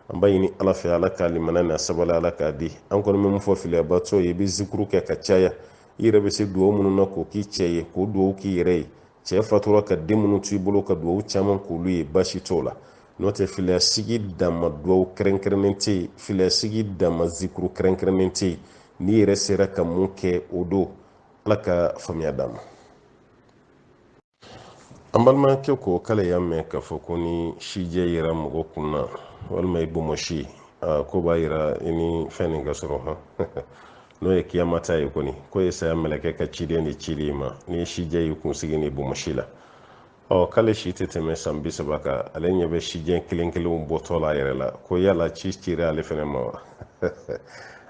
an b'a ɲini ala fɛ ala ka limaniya ni sabali ala k'a di an kɔni bɛ mun fɔ filiyabatɔ ye i bɛ zikuru kɛ ka caya i yɛrɛ bɛ se dugawu minnu na k'o k'i cɛ ye k'o dugawu k'i yɛrɛ ye cɛ fatura ka den minnu t'i bolo ka duwawu caman k'olu ye basi t'o la n'o tɛ filiyasigi danma duwawu kɛrɛnkɛrɛnnen tɛ yen filiyasigi danma zikuru kɛrɛnkɛrɛnnen tɛ yen n'i yɛrɛ sera ka min kɛ o don ala ka faamuya d'a ma an balimakɛ ko k'ale y'a mɛn k'a fɔ ko ni sijɛ yera mɔgɔ kun na walima i bomɔsi k'o b'a yira i ni fɛn nin ka surun hɔn n'o ye kiyamata ye kɔni k'o ye saya mɛlɛkɛ ka ciden de cili i ma ni sijɛ yer'i kunsigi ni bomosi la ɔ k'ale si tɛ tɛmɛ san bi saba kan ale ɲɛ bɛ sijɛ kelen kelenw bɔtɔ la a yɛrɛ la ko yala ci cira ale fɛnɛ ma wa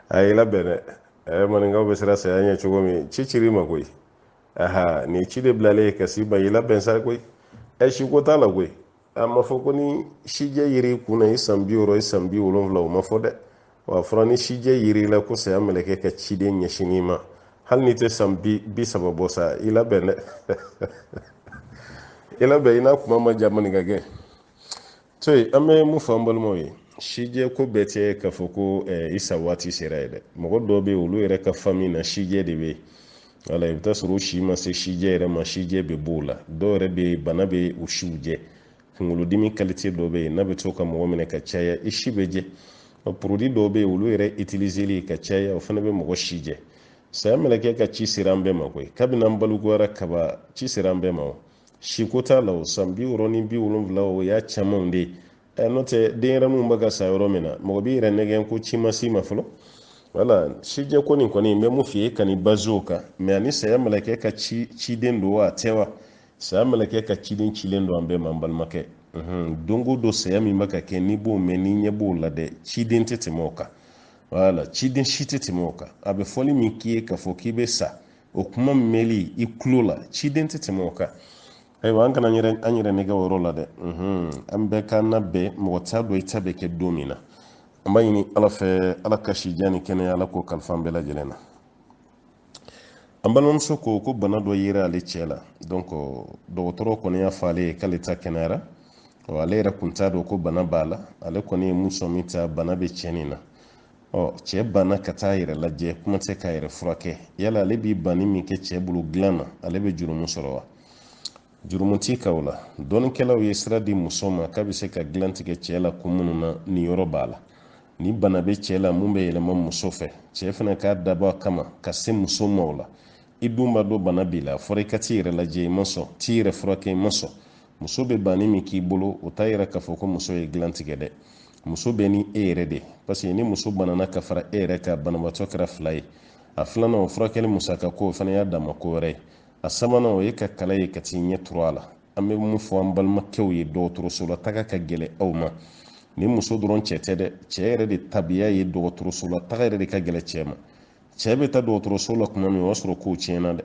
a y'i labɛn dɛ ɛɛ maninkaw bɛ siran saya ɲɛ cogo min ci cir'i ma koyi aha nin ci de bilalen ye ka s'i ma y'i labɛn sa koyi ɛ si ko t'a la koyi a ma fɔ ko ni sijɛ yer'i kun na i san bi wɔɔrɔ i san bi wolonwula o ma fɔ dɛ w'a fɔra ni sijɛ yer'i la ko saya mɛlɛkɛ ka ciden ɲɛsin i ma hali n'i tɛ san bi bi saba bɔ sa i labɛn dɛ i labɛn i n'a kuma ma ja maninka gɛn to yen an bɛ mun fɔ an balimaw ye sijɛ ko bɛɛ tɛ k'a fɔ ko i sa waati sera ye dɛ mɔgɔ dɔw bɛ yen olu yɛrɛ ka fami na sijɛ de bɛ yen wala i bɛ t'a sɔrɔ o si ma se sijɛ yɛrɛ ma sijɛ bɛ b'o la dɔw yɛrɛ bɛ yen bana bɛ u si jɛ kunkolodimi kalite dɔ bɛ yen n'a bɛ to ka mɔgɔ minɛ ka caya i si bɛ jɛ porodi dɔw bɛ yen olu yɛrɛ itilizeli ka caya o fana bɛ mɔgɔ si jɛ saya mɛlɛkɛ ka ci sera an bɛɛ ma koyi kabini an balikuyara kaban ci sera an bɛɛ ma o siko t'a la o san bi wɔɔrɔ ni bi wolonwula o y'a camanw de ye ɛ n'o tɛ denyɛrɛninw bɛ ka sa yɔrɔ min na mɔgɔ b'i yɛrɛ nɛgɛn ko ci ma s'i ma fɔlɔ wala sijɛ ko nin kɔni n bɛ mun f'i ye kan'i bazi o kan mɛ ani saya mɛlɛkɛ ka ci ciden don wa a tɛ wa saya mɛlɛkɛ ka ciden cilen don an bɛɛ ma n balimakɛ don o don saya min bɛ ka kɛ n'i b'o mɛn n'i ɲɛ b'o la dɛ ciden tɛ tɛmɛ o kan wala ciden si tɛ tɛmɛ o kan a bɛ fɔli min k'i ye k'a fɔ k'i bɛ sa o kuma mɛli i tulo la ciden tɛ tɛmɛ o kan ayiwa an kana an yɛrɛ an yɛrɛ nɛgɛn o yɔrɔ la dɛ an bɛɛ k'an labɛn mɔgɔ t'a dɔn i ta bɛ kɛ don min na an b'a ɲini ala fɛ ala ka si jan ni kɛnɛya ala k'o kalifa bɛɛ lajɛlen na an balimamuso ko ko bana dɔ yera ale cɛ la donc dɔgɔtɔrɔ kɔni y'a fɔ ale ye k'ale ta kɛnɛyara ale yɛrɛ tun t'a dɔn ko bana b'a la ale kɔni ye mun sɔmi ta bana bɛ cɛ nin na ɔ cɛ banna ka t'a yɛrɛ lajɛ kuma tɛ k'a yɛrɛ furakɛ yala ale b'i banni min kɛ cɛ bolo dilan na ale bɛ jurumu sɔrɔ wa jurumu t'i kan o la dɔnnikɛlaw ye sira di muso ma k'a bɛ se ka dilan tigɛ cɛ la kun minnu na nin yɔrɔ b'a la ni bana bɛ cɛ la mun bɛ yɛlɛma muso fɛ cɛ fana k'a dabɔ a kama ka se muso ma o la i dun b'a dɔn bana b'i la a fɔra i ka t'i yɛrɛ lajɛ i ma sɔn t'i yɛrɛ furakɛ i ma sɔn muso bɛ banni min k'i bolo o t'a yira k'a fɔ ko muso ye dilan tigɛ dɛ muso bɛ ni e yɛrɛ de parce que ni muso banana ka fara e yɛrɛ kan banabaatɔ kɛra fila ye a filanan o furakɛli musaka ko o fana y'a dama ko wɛrɛ ye a sabanan o ye ka kala ye ka t'i ɲɛ turu a la an bɛ mun fɔ an balimakɛw ye dɔgɔtɔrɔsola taga ka gɛlɛn aw ma nin muso dɔrɔn cɛ tɛ dɛ cɛ yɛrɛ de tabiya ye dɔgɔtɔrɔsola taga yɛrɛ de ka gɛlɛn cɛ ma cɛ bɛ taa dɔgɔtɔrɔso la kuma min o y'a sɔrɔ kow tiɲɛna dɛ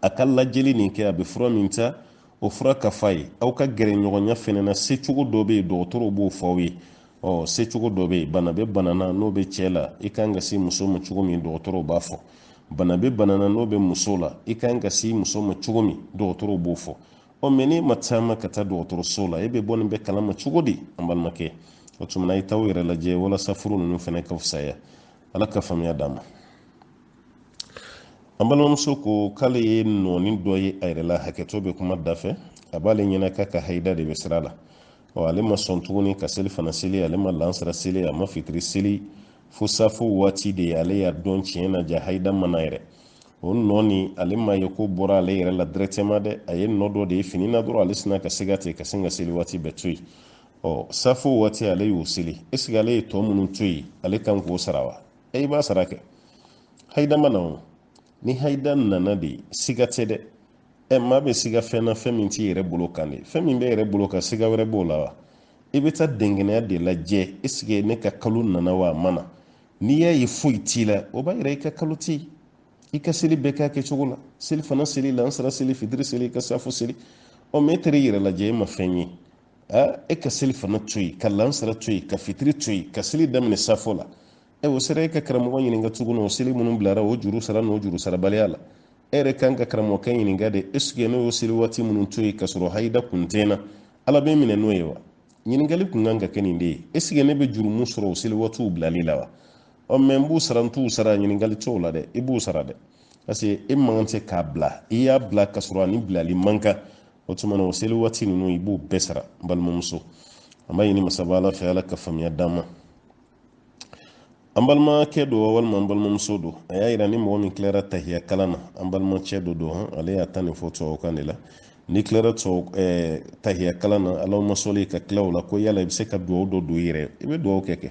a ka lajɛli nin kɛ a bɛ fura min ta o fura ka f'a ye aw ka gɛrɛɲɔgɔnya fɛnɛ na secogo dɔ bɛ yen dɔgɔtɔrɔw b'o fɔ aw ye ɔ secogo dɔ bɛ yen bana bɛ bana na n'o bɛ cɛ la i kan ka se muso ma cogo min dɔgɔtɔrɔw b'a fɔ bana bɛ bana na n'o bɛ muso la i kan ka se muso ma cogo min dɔgɔtɔrɔw b'o fɔ ɔ mɛ n'e ma taama ka taa dɔgɔtɔrɔso la e bɛ bɔ nin bɛɛ kalama cogo di an balimakɛ o tuma na a ye t'aw yɛrɛ lajɛ walasa furu ninnu fɛnɛ ka fusaya ala ka faamuya d'an ma an balimamuso ko k'ale ye nɔɔni dɔ ye a yɛrɛ la hakɛto bɛ kuma da fɛ a b'ale ɲɛna k'a ka hayida de bɛ sira la ɔ ale ma sɔn tuguni ka selifana seli ale ma lansara seli a ma fitiri seli fo safo waati de ye ale y'a dɔn tiɲɛ na jaa hayida ma na yɛrɛ o nɔ nin ale m'a ye ko bɔra ale yɛrɛ la directement dɛ a ye nɔ dɔ de ye fini na dɔrɔn ale sina ka siga ten ka sin ka seli waati bɛɛ to yen ɔ safo waati ale y'o seli esike ale ye tɔ minnu to yen ale kan k'o sara wa i b'a sara kɛ hayida ma na o ni hayida nana de siga tɛ dɛ ɛ maa bɛ siga fɛn na fɛn min t'i yɛrɛ bolo kan de fɛn min b'i yɛrɛ bolo kan siga wɛrɛ b'o la wa i bɛ taa dɛnkɛnɛya de lajɛ esike ne ka kalo nana wa a ma na n'i y'a ye foyi t'i la o b'a yira i ka kalo tɛ yen i ka seli bɛɛ k'a kɛcogo la selifana seli lansara seli fitiri seli i ka safo seli ɔ mɛ e taara i yɛrɛ lajɛ e ma fɛn ye e ka selifana to yen ka lansara to yen ka fitiri to yen ka seli daminɛ safo la ɛ o sera e ka karamɔgɔ ɲininka tuguni o seli minnu bilara o juru sara n'o juru sarabaliya la e yɛrɛ kan ka karamɔgɔkɛ ɲininka de esike ne y'o seli waati minnu to yen ka sɔrɔ hayida kun tɛ n na ala bɛ n minɛ n'o ye wa ɲininkali kun kan ka kɛ nin de ye esike ne bɛ jurumu sɔrɔ o seli waatiw bilali la wa ɔ mɛ n b'u sara n t'u sara ɲininkali t'o la dɛ i b'u sara dɛ parce que e man kan tɛ k'a bila i y'a bila ka sɔrɔ a ni bilali man kan o tuma na o seli waati ninnu i b'u bɛɛ sara n balimamuso an b'a ɲini masaba ala fɛ ala ka faamuya d'an ma an balimakɛ don walima an balimamuso don a y'a yira ni mɔgɔ min tilara tahiya kalan na an balimacɛ dɔ don ale y'a ta nin fɔ tubabukan de la n'i tilara eh, tahiya kalan na alahuma sali ka tila o la ko yala i bɛ se ka dugawu dɔ don i yɛrɛ i bɛ dugawu kɛ kɛ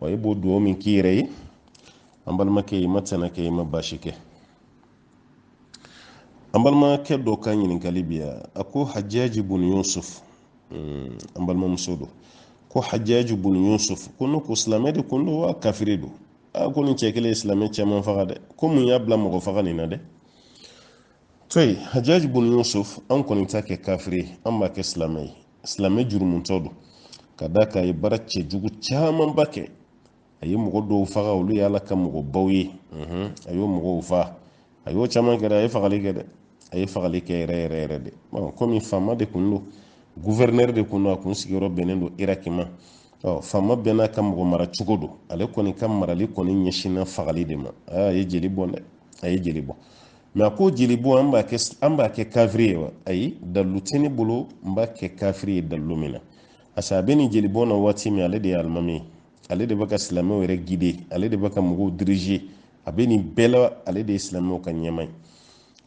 wa i b'o duwawu min k'i yɛrɛ ye an balimakɛ i ma tana kɛ i ma baasi kɛ an balimakɛ dɔ ka ɲininkali bi yan a ko hajaji bun yusuf hmm, an balimamuso don ko hajaji bun yusuf ko ne ko silamɛ de kun don wa kafiri don a ko nin cɛ kelen ye silamɛ caman faga dɛ ko mun y'a bila mɔgɔ faga nin na dɛ to yen hajaji bun yusuf an kɔni t'a kɛ kafiri an b'a kɛ silamɛ ye silamɛ jurumutɔ don ka d'a kan a ye baara cɛjugu camanba kɛ a ye mɔgɔ dɔw faga olu ye ala ka mɔgɔbaw ye unhun, a y'o mɔgɔw faga a y'o caman kɛ dɛ a ye fagali kɛ dɛ a ye fagali kɛ yɛrɛ yɛrɛ yɛrɛ de Ɔ, komi faama de kun don guvɛrinɛri de kun don a kun sigiyɔrɔ bɛnnen don iraki ma Ɔ, faama bɛɛ n'a ka mɔgɔ mara cogo don ale kɔni ka marali kɔni ɲɛsinna fagali de ma Aa, a ye jeli bɔn dɛ a ye jeli bɔn mɛ a ko jeli bɔn an b'a kɛ an b'a kɛ kafiri ye wa ayi dalu tɛ ne bolo n b'a kɛ kafiri ye dalu min na parce que a bɛ nin jeli bɔn na waati min ale de ye alimami ye ale de bɛ ka silamɛw yɛrɛ gide ale de bɛ ka mɔgɔw dirige a bɛ nin bɛɛ la ale de ye silamɛw ka ɲɛmaa ye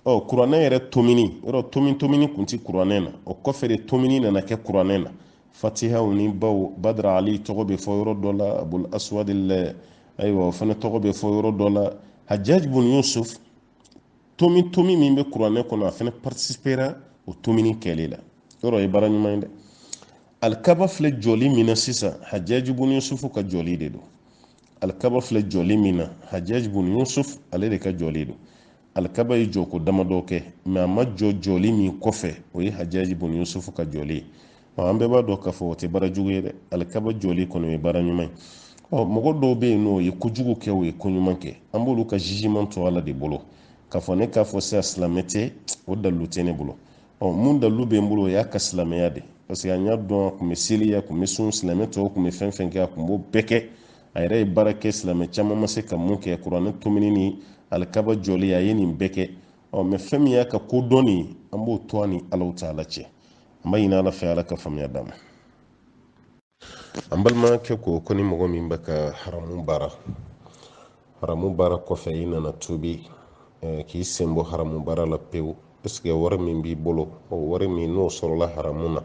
ɔ kuranɛ yɛrɛ tomini yɔrɔ tomi tomini kun tɛ kuranɛ na o kɔfɛ de tomini nana kɛ kuranɛ na fatihaw ni baw badara ali tɔgɔ bɛ fɔ yɔrɔ dɔ la abul aswad ayiwa o fana tɔgɔ bɛ fɔ yɔrɔ dɔ la hajjaj bun yusuf tomi tomi min bɛ kuranɛ kɔnɔ a fana participera o tomini kɛli la yɔrɔ ye baara ɲuman ye dɛ alikaba filɛ jɔli min na sisan hajjaj bun yusuf ka jɔli de don alikaba filɛ jɔli min na hajjaj bun yusuf ale de ka jɔli don alikaba ye jɔko damadɔ kɛ mɛ a ma jɔ jɔli min kɔfɛ o ye hajaji bun yusufu ka jɔli ye ɔ an bɛɛ b'a dɔn k'a fɔ o tɛ baara jugu ye dɛ alikaba jɔli kɔni ye baara ɲuman ye ɔ mɔgɔ dɔw bɛ yen n'o ye kojugu kɛ o ye ko ɲuman kɛ an b'olu ka jugement to ala de bolo k'a fɔ ne k'a fɔ sisan silamɛ tɛ o dalilu tɛ ne bolo ɔ min dalilu bɛ n bolo o y'a ka silamɛya de parce que an y'a dɔn a tun bɛ seli a tun bɛ sun silamɛ tɔw tun bɛ fɛn fɛn kɛ a tun b'o bɛɛ kɛ a yɛrɛ ye baara kɛ silamɛ caman ma se ka min kɛ kuranɛ tomini ni alikaba jɔli a ye nin bɛɛ kɛ ɔ mɛ fɛn min y'a ka ko dɔn nin an b'o to a ni allahu ta'ala cɛ an b'a ɲini ala fɛ ala ka faamuya d'an ma an balimakɛ ko ko ni mɔgɔ min bɛ ka haramu baara haramu baara kɔfɛ i nana tubi eh, k'i sen bɔ haramu baara la pewu est-ce que wari min b'i bolo o wari min n'o sɔrɔla haramu na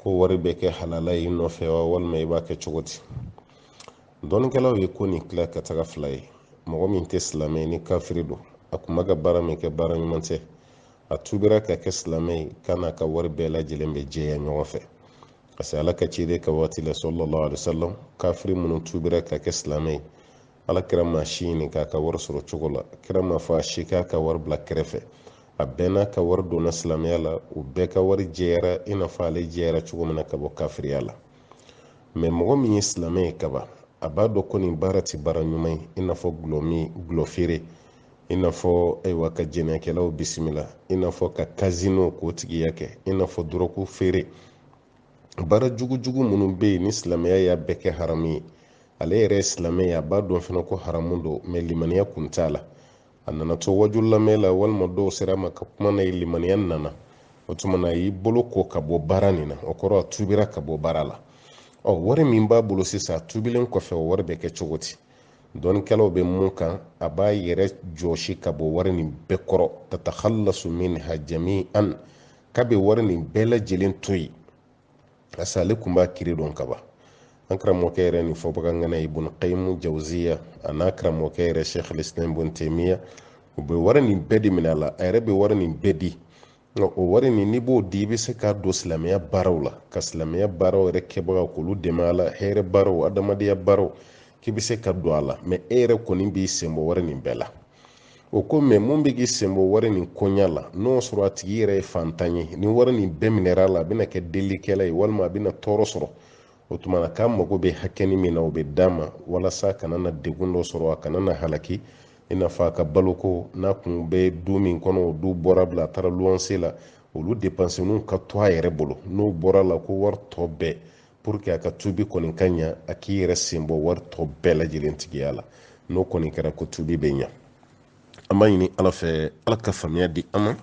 ko wari bɛ kɛ halala ye i nɔfɛ wa walima i b'a kɛ cogo di dɔnnikɛlaw ye ko nin tila ka taga fila ye mɔgɔ min tɛ silamɛ ye ni kafiri don a kun bɛ ka baara min kɛ baara ɲuman tɛ a tubira ka kɛ silamɛ ye k'a n'a ka wari bɛɛ lajɛlen bɛ jɛya ɲɔgɔn fɛ parce que ala ka ciden ka waati la sallallahu alaihi wasallam kafiri minnu tubira ka kɛ silamɛ ye ala kira ma si ɲininka a ka wari sɔrɔ cogo la kira m'a fɔ a si k'a ka wari bila kɛrɛfɛ a bɛɛ n'a ka wari donna silamɛya la u bɛɛ ka wari jɛyara i n'a fɔ ale jɛyara cogo min na ka bɔ kafiriya la mɛ mɔgɔ min ye silamɛ ye kaban a b'a dɔn ko nin baara tɛ baara ɲuman ye i n'a fɔ gulɔ min gulɔ feere i n'a fɔ ayiwa ka jɛnɛyakɛlaw bisimila i n'a fɔ ka kazino k'o tigiya kɛ i n'a fɔ dɔrɔgu feere baara jugujugu minnu bɛ yen ni silamɛya y'a bɛɛ kɛ haramu ye ale yɛrɛ ye silamɛ ye a b'a dɔn fana ko haramu don mɛ limaniya kun t'a la a nana to waaju lamɛn la walima dɔw sera a ma ka kuma n'a ye limaniya nana o tuma na a y'i bolo ko ka bɔ baara nin na o kɔrɔ a tubira ka bɔ baara la ɔ wari min b'a bolo sisan a tubilen kɔfɛ o wari bɛ kɛ cogo di dɔnnikɛlaw bɛ mun kan a b'a yɛrɛ jɔsi ka bɔ wari nin bɛɛ kɔrɔ tatakhallasu minha jami'an k'a bɛ wari nin bɛɛ lajɛlen to yen parce que ale kun b'a kiiri dɔn kaban an karamɔgɔkɛ yɛrɛ nin fɔbagaŋana ibun qayimu jawziya a n'a karamɔgɔkɛ yɛrɛ sheikh lislam ibun taymiya u bɛ wari nin bɛɛ de minɛ a la a yɛrɛ bɛ wari nin bɛɛ di nka o wari nin n'i b'o di i bɛ se k'a don silamɛya baaraw la ka silamɛya baaraw yɛrɛ kɛbagaw k'olu dɛmɛ a la hɛrɛ baaraw adamadenya baaraw k'i bɛ se k'a don a la mɛ e yɛrɛ kɔni b'i senbɔ wari nin bɛɛ la o ko mɛ mun bɛ k'i senbɔ wari nin koɲa la n'o sɔrɔ a tigi yɛrɛ ye fantan ye ni wari nin bɛɛ minɛra a la a bɛna kɛ delikɛla ye walima a bɛna tɔɔrɔ sɔrɔ o tuma na k'a mago bɛ hakɛni min na o bɛ d'a ma walasa a kana na degun dɔ sɔrɔ a kana na halaki i n'a fɔ a ka baloko n'a kun bɛ du min kɔnɔ o du bɔra bila a taara luwanse la olu depansiniw ka to a yɛrɛ bolo n'o bɔra a la ko wari tɔ bɛɛ pour que a ka tubi kɔni ka ɲa a k'i yɛrɛ sen bɔ wari tɔ bɛɛ lajɛlen tigiya la n'o kɔni kɛra ko tubi bɛ ɲa an b'a ɲini ala fɛ ala ka faamuya di an ma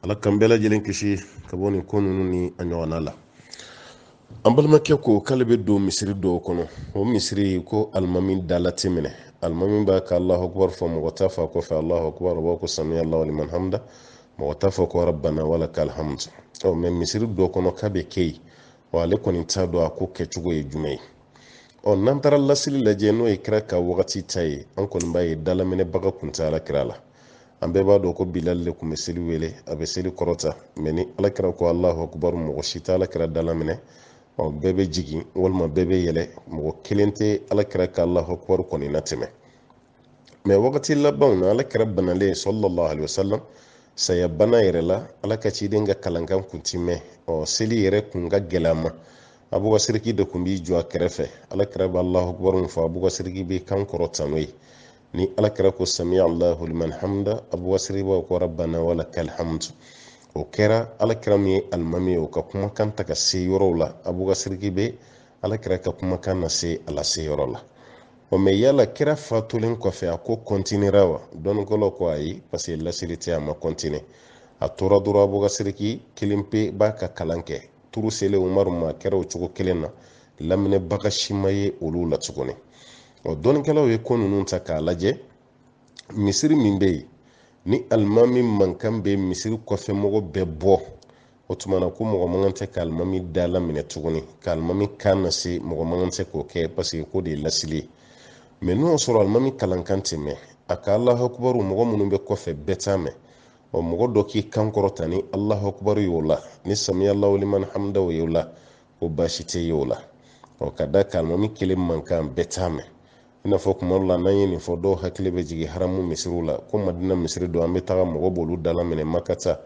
ala k'an bɛɛ lajɛlen kisi ka bɔ nin ko ninnu ni a ɲɔgɔnna la an balimakɛ ko k'ale bɛ don misiri dɔw kɔnɔ o misiri ko alimami dala tɛ minɛ alimami b'a ka alahu akubar fɔ mɔgɔ t'a fɔ a kɔfɛ alahu akubar o b'a ko samiya allahu liman hamida mɔgɔ t'a fɔ ko rabbana wala kal hamd ɔ mɛ misiri dɔ kɔnɔ k'a bɛ kɛ yen wa ale kɔni t'a dɔn a ko kɛcogo ye jumɛn ye ɔ n'an taara lasili lajɛ n'o ye kira ka wagati ta ye an kɔni b'a ye dalaminɛbaga kun tɛ ala kira la an bɛɛ b'a dɔn ko bilali le tun bɛ seli wele a bɛ seli kɔrɔta mɛ ni ala kira ko alahu akubaru mɔgɔ si tɛ ala kira dala minɛ ɔ bɛɛ bɛ jigin walima bɛɛ bɛ yɛlɛ mɔgɔ kelen tɛ ala kira ka alahu akubaru kɔni natɛmɛ mɛ wagati labanw na ala kira banalen salalahu alayhi wa sallam saya bana yɛrɛ la ala ka ciden ka kalankan kun tɛ mɛn ɔ seli yɛrɛ kun ka gɛlɛn a ma abubakar de tun b'i jɔ a kɛrɛfɛ ala kira bɛ alahu akubaru fɔ abubakar bɛ kan kɔrɔta n'o ye ni ala kira ko sami allahu liman hamida abubakar sidiki b'a ko rabbana wala kal hamdu o kɛra ala kira min ye alimami ye o ka kumakan tɛ ka se yɔrɔw la abubakar sidiki bɛ ala kira ka kumakan nase a lase yɔrɔ la o mɛ yala kira fatulen kɔfɛ a ko kɔntinera wa dɔnnikɛlaw ko ayi parce que lasili tɛ a ma kɔntine a tora dɔrɔn abubakar sidiki kelen pe b'a ka kalan kɛ turu selen umaru ma a kɛra o cogo kelen na laminɛbaga si ma ye olu la tuguni ɔ dɔnnikɛlaw ye ko ninnu ta k'a lajɛ misiri min bɛ yen ni alimami mankan bɛ misiri kɔfɛ mɔgɔ bɛɛ bɔ o tuma na ko mɔgɔ man kan tɛ ka alimami dala minɛ tuguni ka alimami kan nase mɔgɔ man kan tɛ k'o kɛ paseke o de ye lasili ye mɛ n'o y'a sɔrɔ alimami kalankan tɛ mɛn a ka alahakubaru mɔgɔ minnu bɛ kɔfɛ bɛɛ t'a mɛn ɔ mɔgɔ dɔ k'i kan kɔrɔta ni alahakubaru y'o la ni samiya alahu liman hamida y'o la ko baasi tɛ ye o la ɔ ka da kan alimami kelen mankan bɛɛ t'a mɛn i n'a fɔ kuma dɔ la n'an ye nin fɔ dɔw hakili bɛ jigin haramu misiriw la ko madina misiri don an bɛ taga mɔgɔ b'olu dalaminɛ maka ta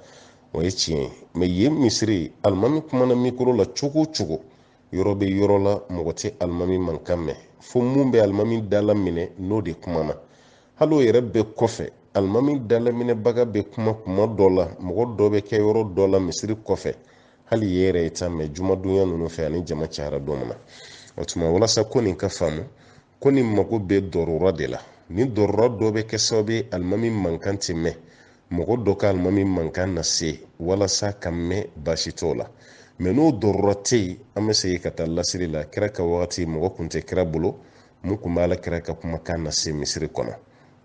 o ye tiɲɛ ye mɛ yen misiri alimami kumana mikoro la cogo o cogo yɔrɔ bɛ yɔrɔ la mɔgɔ tɛ alimami mankan mɛn fo min bɛ alimami dalaminɛ n'o de kumana hali o yɛrɛ bɛɛ kɔfɛ alimami dalaminɛbaga bɛ kuma kuma dɔ la mɔgɔ dɔ bɛ kɛ yɔrɔ dɔ la misiri kɔfɛ hali o yɛrɛ i t'a mɛn jumadonya ninnu fɛ ani jama cayara don min na o tuma walasa ko nin ka faamu ko nin mago bɛ darura de la ni darura dɔ bɛ kɛ sababu ye alimami mankan tɛ mɛn mɔgɔ dɔ ka alimami mankan lase walasa ka mɛn baasi t'o la mɛ n'o darura tɛ yen an bɛ segin ka taa lasili la kira ka wagati mɔgɔ kun tɛ kira bolo min kun b'ala kira ka kumakan lase misiri kɔnɔ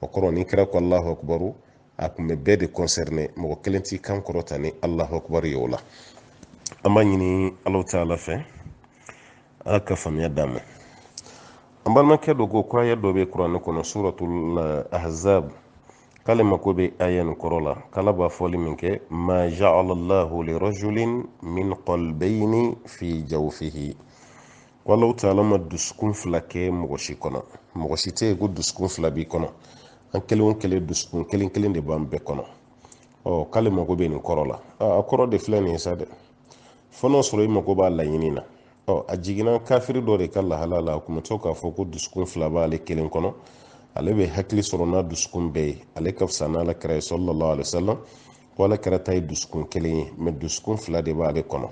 o kɔrɔ ni kira ko alahu akubaru a tun bɛ bɛɛ de concerné mɔgɔ kelen t'i kan kɔrɔta ni alahu akubar ye o la an b'a ɲini alahu taala fɛ ala ka faamuya d'an ma an balimakɛ dɔ ko ko aya dɔ bɛ kuranɛ kɔnɔ suratul eh, ahzab k'ale mako bɛ aya nin kɔrɔ la k'ala b'a fɔli min kɛ ma jaala allahu lirajulin min qalbayni fi jawfihi alahu taala ma dusukun fila kɛ mɔgɔ si kɔnɔ mɔgɔ si tɛ yen ko dusukun fila b'i kɔnɔ an kelen o kelen dusukun kelen kelen de b'an bɛɛ kɔnɔ ɔ k'ale mago bɛ nin kɔrɔ la a kɔrɔ de filɛ nin ye sa dɛ fo n'o sɔrɔ i mago b'a laɲini na ɔ a jiginna kafiri dɔ de ka lahala la a kun bɛ to k'a fɔ ko dusukun fila b'ale kelen kɔnɔ ale bɛ hakili sɔrɔ n'a dusukun bɛɛ ye ale ka fisa n'ala kira ye sallallahu alaihi wasallam ko ala kira ta ye dusukun kelen ye mɛ dusukun fila de b'ale kɔnɔ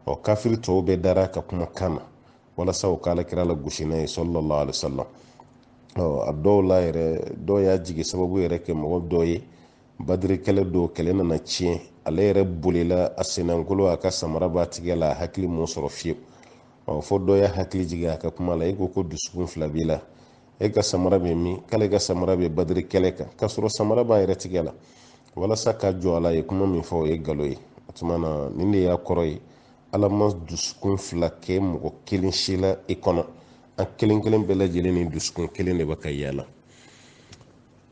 ɔ kafiri tɔw bɛɛ dara a ka kuma kan na walasa u k'ala kira lagosi n'a ye sallallahu alaihi wasallam ɔ a dɔw la yɛrɛ dɔw y'a jigin sababu yɛrɛ kɛ mɔgɔ dɔ ye badiri kɛlɛ don kɛlɛ nana tiɲɛ ale yɛrɛ bolila a sennankolo a ka samara b'a tigɛ la a hakili m'o sɔrɔ fiyewu ɔ fo dɔ y'a hakili jigin a ka kuma la i ko ko dusukun fila b'i la e ka samara bɛ min k'ale ka samara bɛ badiri kɛlɛ kan k'a sɔrɔ samara b'a yɛrɛ tigɛ la walasa ka jɔ a la a ye kuma min fɔ o ye galo ye o tuma na nin de y'a kɔrɔ ye ala ma dusukun fila kɛ mɔgɔ kelen si la i kɔnɔ an kelen kelen bɛɛ lajɛlen ni dusukun kelen de bɛ ka yaala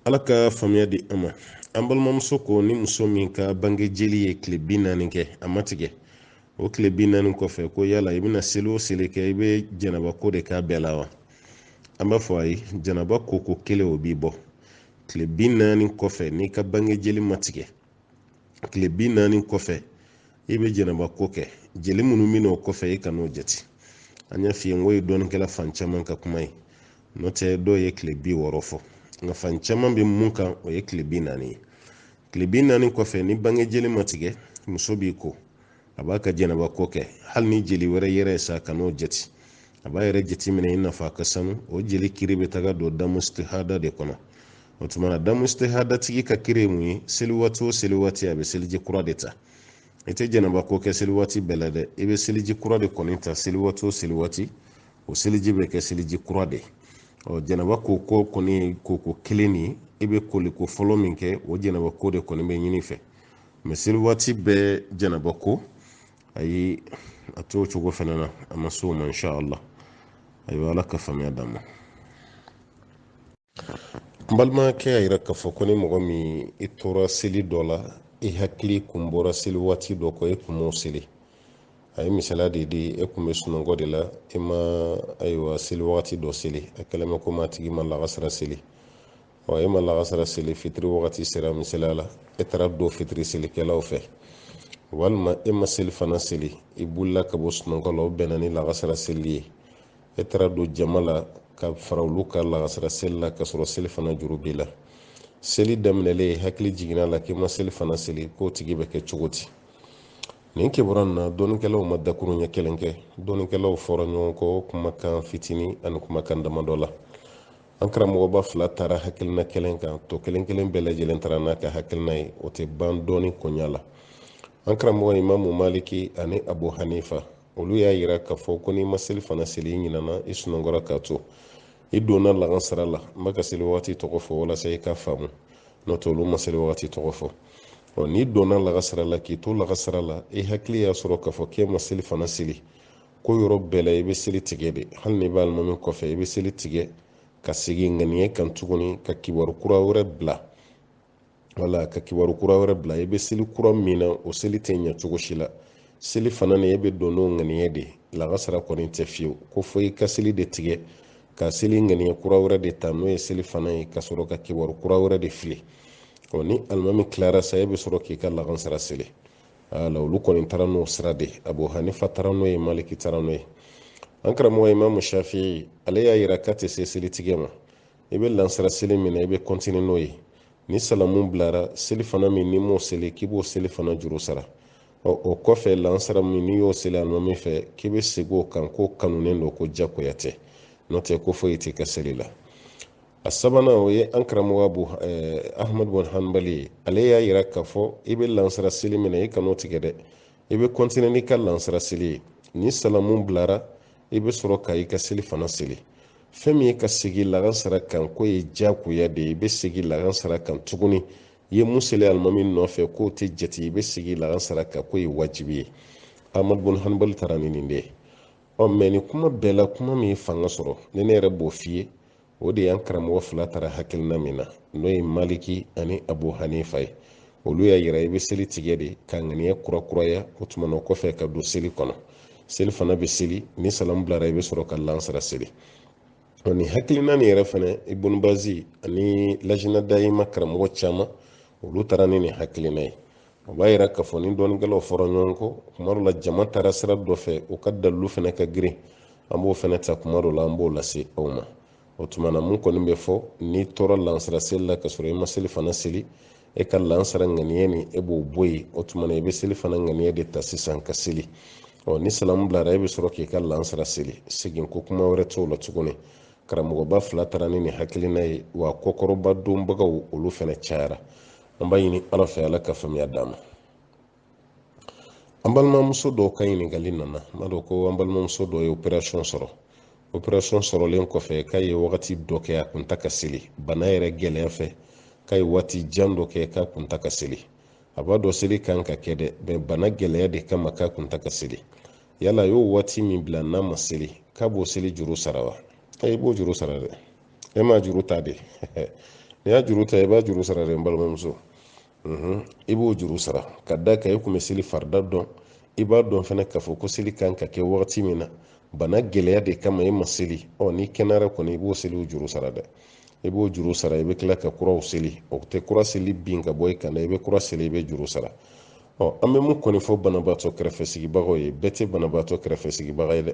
ala ka faamuya di an ma an balimamuso ko ni muso min ka bange jeli ye tile bi naani kɛ a ma tigɛ o tile bi naani kɔfɛ ko yala i bɛna seli o seli kɛ i bɛ janaba ko de k'a bɛɛ la wa an b'a fɔ a ye janaba ko ko kelen o b'i bɔ tile bi naani kɔfɛ n'i ka bange jeli ma tigɛ tile bi naani kɔfɛ i bɛ janaba ko kɛ jeli minnu bɛ n'o kɔfɛ i kan'o jate an y'a f'i ye n k'o ye dɔnnikɛla fan caman ka kuma ye n'o tɛ dɔw ye tile bi wɔɔrɔ fɔ nka fan caman bɛ min kan o ye tile bi naani ye tile bi naani kɔfɛ ni bange jeli ma tigɛ muso b'i ko a b'a ka janaba ko kɛ hali ni jeli wɛrɛ yera a kan'o jate a b'a yɛrɛ jateminɛ i n'a fɔ ka sanu o jeli kiri bɛ taga don damustihada de kɔnɔ o tuma na damustihada tigi ka kiri ye mun ye seli waati o seli waati a bɛ seliji kura de ta i tɛ janaba ko kɛ seli waati bɛɛ la dɛ i bɛ seliji kura de kɔni ta seli waati o seli waati o seliji bɛ kɛ seliji kura de ye ɔ janaba ko ko kɔni ye koko kelen de ye i bɛ koliko fɔlɔ min kɛ o janaba ko de kɔni bɛ ɲini i fɛ mɛ seli waati bɛɛ janaba ko ayi a tɛ o cogo fana na a ma s'o ma insha allah ayiwa ala ka faamuya d'a ma n balimakɛ y'a yira k'a fɔ ko ni mɔgɔ min i tora seli dɔ la i hakili kun bɔra seli waati dɔ kɔ e kun m'o seli a ye misaliya de di e kun bɛ sunɔgɔ de la i ma ayiwa seli wagati dɔ seli a kɛlen bɛ komi a tigi ma lagasira seli ɔ e ma lagasara seli fitiri wagati sera misaliya la e taara don fitiri selikɛlaw fɛ walima e ma selifana seli i wulila ka bɔ sunɔgɔ la o bɛnna ni lagasara seli ye e taara don jama la ka fara olu ka lagasara seli la ka sɔrɔ selifana juru b'i la seli daminɛlen hakili jiginna a la k'i ma selifana seli k'o tigi bɛ kɛ cogo di nin kibaruya na dɔnnikɛlaw ma dakuruɲɛ kelen kɛ dɔnnikɛlaw fɔra ɲɔgɔn kɔ kumakan fitinin ani kumakan damadɔ la an karamɔgɔba fila taara hakilina kelen kan tɔ kelen kelen bɛɛ lajɛlen taara n'a ka hakilina ye o tɛ ban dɔnni koɲa la an karamɔgɔ imamu maliki ani abu hanifa olu y'a yira k'a fɔ ko n'i ma selifana seli i ɲinana i sunɔgɔra k'a to i donna lagansara la n bɛ ka seli wagati tɔgɔ fɔ walasa i ka faamu n'o tɛ olu ma seli wagati tɔgɔ fɔ ɔ n'i donna lagasara la k'i to lagasara la i hakili y'a sɔrɔ k'a fɔ k'e ma selifana seli k'o yɔrɔ bɛɛ la i bɛ seli tigɛ de hali n'i bɛ alimami kɔfɛ i bɛ seli tigɛ ka segin ŋaniya kan tuguni ka kibaru kura wɛrɛ bila wala ka kibaru kura wɛrɛ bila i bɛ seli kura min na o seli tɛ ɲɛ cogo si la selifana ni e bɛ don n'o ŋaniya de lakasara kɔni tɛ fiyewu ko fo i ka seli de tigɛ ka seli ŋaniya kura wɛrɛ de ta n'o ye selifana ye ka sɔrɔ ka kibaru kura wɛrɛ de fili ɔ ni alimami tilara sa e bɛ sɔrɔ k'i ka lakansara seli ala olu kɔni taara n'o sira de abu hanifa taara n'o ye maliki taara n'o ye an karamɔgɔ imamu shafi ale y'a yira k'a tɛ se selitigɛ ma i bɛ lansara seli min na i bɛ kɔntini n'o ye ni salamu bilara selifana min n'i m'o seli k'i b'o selifana juru sara ɔ o kɔfɛ lansara min n'i y'o seli alimami fɛ k'i bɛ segin o kan k'o kanunen don ko jakoya tɛ n'o tɛ ko foyi tɛ kɛ seli la a sabanan o ye an karamɔgɔba ahmad bun hanbali ye ale y'a yira k'a fɔ i bɛ lansara seli minɛ i kan'o tigɛ dɛ i bɛ kɔntine n'i ka lansara seli ye ni salamu bilara i bɛ sɔrɔ ka i ka selifana seli fɛn min ye ka segin lagansara kan k'o ye diyagoya de ye i bɛ segin lagansara kan tuguni i ye mun seli alimami nɔfɛ k'o tɛ jate i bɛ segin lagansara kan k'o ye wajibi ye ahmad bun hanbali taara ni nin de ye ɔ mɛ nin kuma bɛɛ la kuma min ye fanga sɔrɔ ni ne yɛrɛ b'o f'i ye o de y'an karamɔgɔ fila taara hakilina min na n'o ye maliki ani abu hanifa ye olu y'a yira i bɛ seli tigɛ de ka ŋaniya kurakuraya o tuma na kɔfɛ ka don seli kɔnɔ selifana bɛ seli ni salamu bilara i bɛ sɔrɔ ka lansara seli ɔ nin hakilina nin yɛrɛ fana ibunu bazi ani lajina dayima karamɔgɔ caman olu taara ni nin hakilina ye o b'a yira k'a fɔ ni dɔnnikɛlaw fɔra ɲɔgɔn kɔ kuma dɔ la jama taara sira dɔ fɛ u ka dalilu fana ka girin an b'o fana ta kuma dɔ la an b'o lase aw ma o tuma na mun kɔni bɛ fɔ n'i tora lansara seli la ka sɔrɔ i ma selifana seli e ka lansara ŋaniya nin e b'o bɔ yen o tuma na i bɛ selifana ŋaniya de ta sisan ka seli ɔ ni salamu bilara e bɛ sɔrɔ k'i ka lansara seli seginko kuma wɛrɛ t'o la tuguni karamɔgɔba fila taara ni nin hakilina ye wa kɔkɔrɔmadonbagaw olu fana cayara an b'a ɲini ala fɛ ala ka faamuya d'an ma an balimamuso dɔw ka ɲininkali nana n'a dɔn ko an balimamuso dɔ ye operasɔn sɔrɔ operasɔn sɔrɔlen kɔfɛ k'a ye wagati dɔ kɛ a kun ta ka seli bana yɛrɛ gɛlɛya fɛ k'a ye waati jan dɔ kɛ k'a kun ta ka seli a b'a dɔn seli kan ka kɛ dɛ mɛ bana gɛlɛya de kama k'a kun ta ka seli yala a y'o waati min bila n'a ma seli k'a b'o seli juru sara wa i b'o juru sara dɛ e m'a juru ta de n'i y'a juru ta i b'a juru sara de n balimamuso i b'o juru sara ka da kan i kun bɛ seli farida dɔn i b'a dɔn fana k'a fɔ ko seli kan ka kɛ wagati min na bana gɛlɛya de kama i ma seli ɔ n'i kɛnɛyara kɔni i b'o seliw juru sara dɛ i b'o juru sara i bɛ tila ka kuraw seli o tɛ kura seli bin ka bɔ i kan dɛ i bɛ kura seli i bɛ juru sara ɔ an bɛ mun kɔni fɔ banabaatɔ kɛrɛfɛ sigibagaw ye bɛɛ tɛ banabaatɔ kɛrɛfɛ sigibaga ye dɛ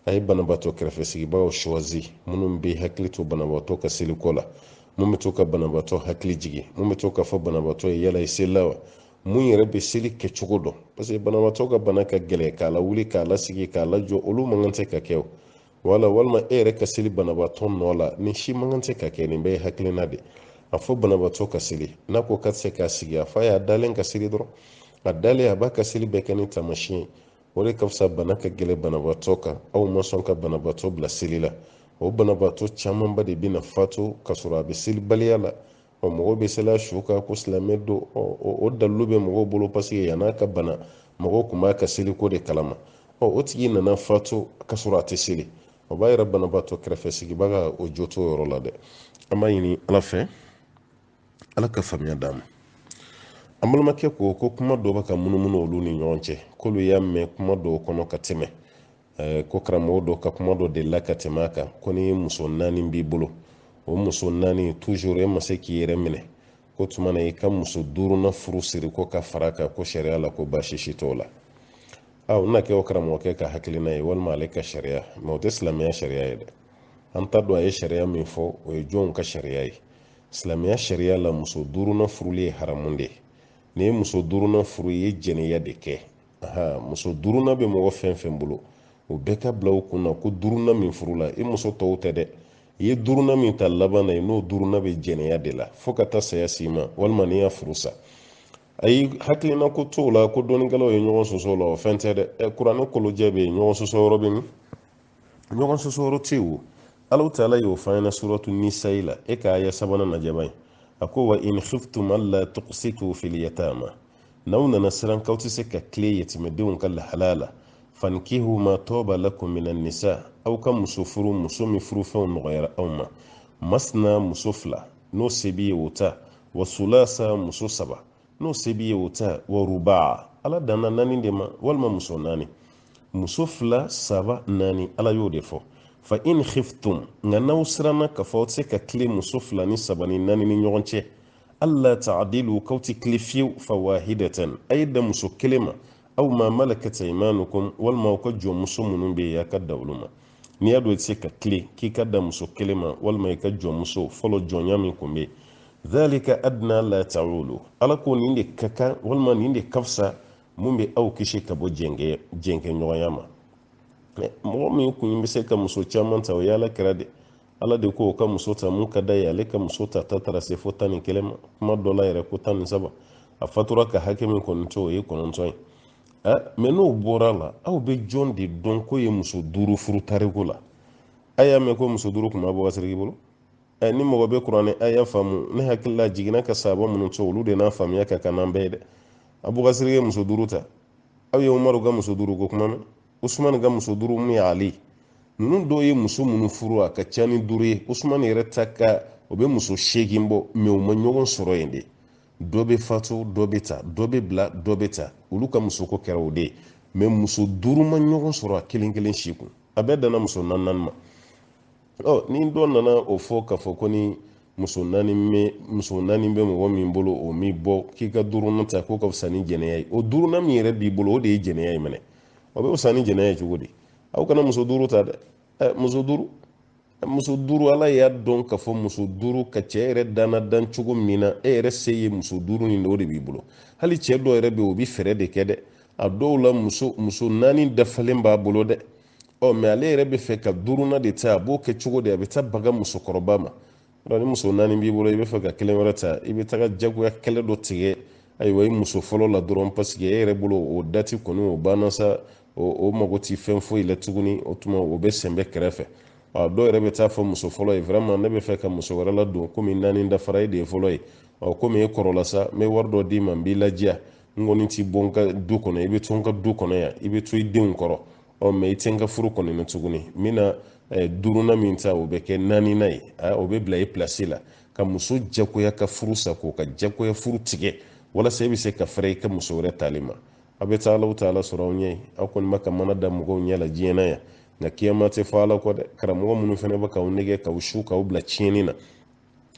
a ye banabaatɔ kɛrɛfɛ sigibagaw suwazi minnu bɛ hakili to banabaatɔ ka seliko la mun bɛ to ka banabaatɔ hakili jigin mun bɛ to k'a fɔ banabaatɔ ye yala i selila wa mun yɛrɛ bɛ seli kɛcogo dɔn parce que banabaatɔ ka bana ka gɛlɛn k'a lawuli k'a lasigi k'a lajɔ olu man kan tɛ ka kɛ o wala walima e yɛrɛ ka seli banabaatɔ nɔ la nin si man kan tɛ ka kɛ nin bɛɛ ye hakilina de a fɔ banabaatɔ ka seli n'a ko k'a tɛ se k'a sigi a f'a y'a dalen ka seli dɔrɔn a dalen a b'a ka seli bɛɛ kɛ ni taamasiyɛn ye o de ka fisa bana ka gɛlɛn banabaatɔ kan aw ma sɔn ka banabaatɔ bila seli la o banabaatɔ camanba de bɛna fatu ka sɔrɔ a bɛ selibaliya la ɔ mɔgɔw bɛ seli a su kan ko silamɛ don ɔ o dalilu bɛ mɔgɔw bolo paseke yann'a ka bana mɔgɔw tun b'a ka seliko de kalama ɔ o tigi nana fatu ka sɔrɔ a tɛ seli o b'a yira banabaatɔ kɛrɛfɛ sigibaga o jo t'o yɔrɔ la dɛ an b'a ɲini ala fɛ ala ka faamuya d'an ma an balimakɛ ko ko kuma dɔ bɛ ka munumunu olu ni ɲɔgɔn cɛ k'olu y'a mɛn kuma dɔw kɔnɔ ka tɛmɛ eh, ko karamɔgɔ dɔ ka kuma dɔ delila ka tɛmɛ a kan ko ni muso naani b'i bolo o muso naani toujours e ma se k'i yɛrɛ minɛ k'o tuma na i ka muso duurunan furu siri ko ka fara kan ko sariya la ko baasi si t'o la a o na kɛ o karamɔgɔkɛ ka hakilina ye walima ale ka sariya mɛ o tɛ silamɛya sariya ye dɛ an t'a dɔn a ye sariya min fɔ o ye jɔnw ka sariya ye silamɛya sariya la muso duurunan furuli ye haramu de ye n'i ye muso duurunan furu i ye jɛnɛya de kɛ aa muso duurunan bɛ mɔgɔ fɛn fɛn bolo o bɛɛ k'a bila u kun na ko duurunan min furula i muso tɔw tɛ dɛ i ye duurunan min ta laban na i n'o duurunan bɛ jɛnɛya de la fo ka taa saya s'i ma walima n'i y'a furusa ayi hakilina ko t'o la ko dɔnnikɛlaw ye ɲɔgɔn sɔsɔ la o fɛn tɛ dɛ ɛ kuranɛ kolojɛ bɛ yen ɲɔgɔn sɔsɔ yɔrɔ bɛ min ɲɔgɔn sɔsɔ yɔrɔ tɛ yen o ala taala y'o fɔ an ɲɛna suratu nisayi la e ka aya sabanan najaba ye a ko wa in khiftum alla tuqsitu fil yatama n'aw nana siran k'aw tɛ se ka tilen yatimɛdenw ka lahalaya la fankihu ma tɔɔba lakum mina nisa aw ka muso furu muso min furufɛnw nɔgɔyara aw ma masna muso fila n'o se b'i ye o ta wa sulasa muso saba n'o se b'i ye o ta wa rubaa ala danna naani de ma walima muso naani muso fila saba naani ala y'o de fɔ fa in khiftum nka n'aw siranna k'a fɔ aw tɛ se ka tilen muso fila ni saba ni naani ni ɲɔgɔn cɛ alla taadilu k'aw tɛ tilen fiyewu fawahidatan a ye dan muso kelen ma aw ma malakat aymanukum walima aw ka jɔnmuso minnu bɛ yen a ka dan olu ma n'i y'a dɔn i tɛ se ka tilen k'i ka dan muso kelen ma walima i ka jɔnmuso fɔlɔ jɔnya min tun bɛ yen dhalika adna alla taulu ala ko nin de ka kan walima nin de ka fisa min bɛ aw kisi ka bɔ jɛnkɛ jɛnkɛɲɔgɔnya ma mɔgɔ min tun bɛ se ka muso caman ta o y'ala kira de ala de k'a ka muso ta min ka d'a ye ale ka muso ta ta taara se fo tan ni kelen ma kuma dɔ la yɛrɛ ko tan ni saba a fatura ka hakɛ min kɔni to o ye kɔnɔntɔn ye ɛ mɛ n'o bɔra la aw bɛ jɔn de dɔn k'o ye muso duuru furu tariku la a y'a mɛn ko muso duuru tun b'abubakari sidiki bolo ɛ ni mɔgɔ bɛ kuranɛ aya faamu ne hakili la jiginna ka sahaba minnu to olu de n'a faamuya ka ca n'an bɛɛ ye dɛ abubakari sidiki muso duuru ta aw ye umaru ka muso duuru ko kuma mɛn usumani ka muso duuru mun ye ali ninnu dɔw ye muso minnu furu a ka ca ni duuru ye usumani yɛrɛ ta ka o bɛ muso seegin bɔ mɛ u ma ɲɔgɔn sɔrɔ yen de dɔ bɛ fatu dɔ bɛ ta dɔ bɛ bila dɔ bɛ ta olu ka musoko kɛra o de ye mɛ muso duuru ma ɲɔgɔn sɔrɔ a kelen kelen si kun a bɛɛ danna muso naani ma ɔ ni dɔ nana o fɔ k'a fɔ ko ni muso naani bɛ muso naani bɛ mɔgɔ min bolo o mi bɔ k'i ka duurunan ta k'o ka fisa ni jɛnɛya ye o duurunan min yɛrɛ b'i bolo o de ye jɛnɛya ye minɛ o bɛ fisa ni jɛnɛya ye cogo di aw kana muso duuru ta dɛ ɛ muso duuru muso duuru ala y'a dɔn k'a fɔ muso duuru ka ca e yɛrɛ danna dan cogo min na e yɛrɛ se ye muso duuru nin de o de b'i bolo hali cɛ dɔ yɛrɛ bɛ o bɛ fɛɛrɛ de kɛ dɛ a dɔw la muso muso naani dafalen b'a bolo dɛ ɔ mɛ ale yɛrɛ bɛ fɛ ka duurunan de ta a b'o kɛ cogo di a bɛ taa baga musokɔrɔba ma dɔn ni muso naani b'i bolo i bɛ fɛ ka kelen wɛrɛ ta i bɛ taga jagoya kɛlɛ dɔ tigɛ ayiwa i muso fɔlɔ la dɔrɔn paseke e yɛrɛ bolo o dati kɔni o banna sa o mago t'i fɛn foyi la tuguni o tuma o bɛ sɛnbɛ kɛrɛfɛ a dɔw yɛrɛ bɛ taa fɔ muso fɔlɔ ye vraiment ne bɛ fɛ ka muso wɛrɛ ladon komi naani dafara e de ye fɔlɔ ye ɔ komi e kɔrɔla sa n bɛ wari dɔ d'i ma n b'i ladiya n kɔni t'i bɔ n ka du kɔnɔ i bɛ to n ka du kɔnɔ yan i bɛ to i denw kɔrɔ ɔ mɛ i tɛ n ka furu kɔni na tuguni n bɛna eh, duurunan min ta o bɛ kɛ naaninan ye ah, o bɛ bila i pilasi la ka muso jagoya ka furu sa k'o ka jagoya furu tigɛ walasa i bɛ se ka fɛrɛ i ka muso wɛrɛ tali ma aw bɛ taa ala taa ala sɔrɔ aw ɲɛ aw kɔni bɛ ka mana da mɔgɔw ɲɛ la diɲɛ na yan nka kiyama tɛ fɔ ala kɔ dɛ karamɔgɔ minnu fana bɛ k'aw nɛgɛn k'aw su k'aw bila tiɲɛni na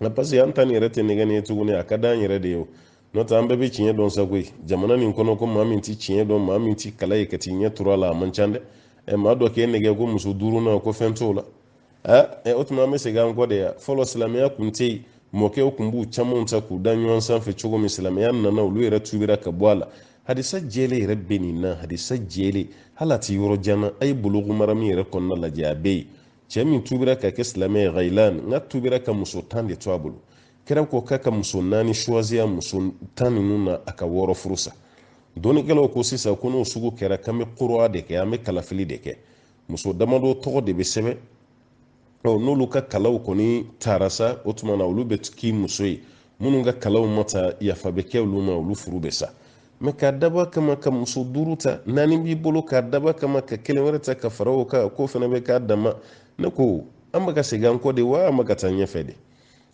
nka parce que an ta nin yɛrɛ tɛ nɛgɛnni ye tuguni a ka d'an yɛrɛ de ye o n'o tɛ an bɛɛ bɛ tiɲɛ dɔn sa koyi jamana nin kɔnɔ ko maa min tɛ tiɲɛ dɔn maa min tɛ kala ye ka t'i ɲɛ turu a la a man ca dɛ ɛ maa dɔ k'e nɛgɛn ko muso duuru na ko fɛn t'o la ɛ o tuma an bɛ segin an kɔ de wa fɔlɔ silamɛya kun tɛ yen mɔkɛw kun b'u camanw ta k'u da ɲɔgɔn sanfɛ cogo min silamɛya nana olu yɛrɛ tubira ka bɔ a la hadisa jɛlen yɛrɛ bɛ nin na hadisa jɛlen hali a tɛ yɔrɔ jan na a ye buluku marami yɛrɛ kɔnɔna lajɛ a bɛ yen cɛ min tubira ka kɛ silamɛ ye ghailan n ka tubira ka muso tan de to a bolo kira ko k'a ka muso naani suwaziya muso tan ninnu na a ka wɔɔrɔ furu sa dɔnnikɛlaw ko sisan ko n'o sugu kɛra k'an bɛ korowa de kɛ an bɛ kalafili de kɛ muso damadɔ tɔgɔ de bɛ sɛbɛn n'olu ka kalaw kɔni tara sa o tuma na olu bɛ k'i muso ye minnu ka kalaw ma ta yafa bɛ kɛ olu ma olu furu bɛ sa mɛ k'a dab'a kama ka muso duuru ta naani b'i bolo k'a dab'a kama ka kelen wɛrɛ ta ka fara o kan k'o fana bɛ k'a dama ne ko an bɛ ka segin an kɔ de wa an bɛ ka taa ɲɛfɛ de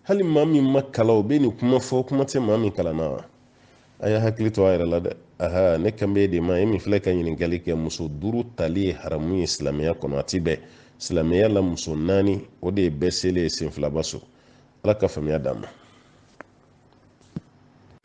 hali maa min ma kalan o bɛ nin kuma fɔ kuma tɛ maa min kalanna wa a y'a hakili to a yɛrɛ la dɛ aha ne kan b'e de ma e min filɛ ka ɲininkali kɛ muso duuru tali ye haramu ye silamɛya kɔnɔ a ti bɛn silamɛya la muso naani o de ye bɛɛ selen ye senfilaba so ala ka faamuya d'an ma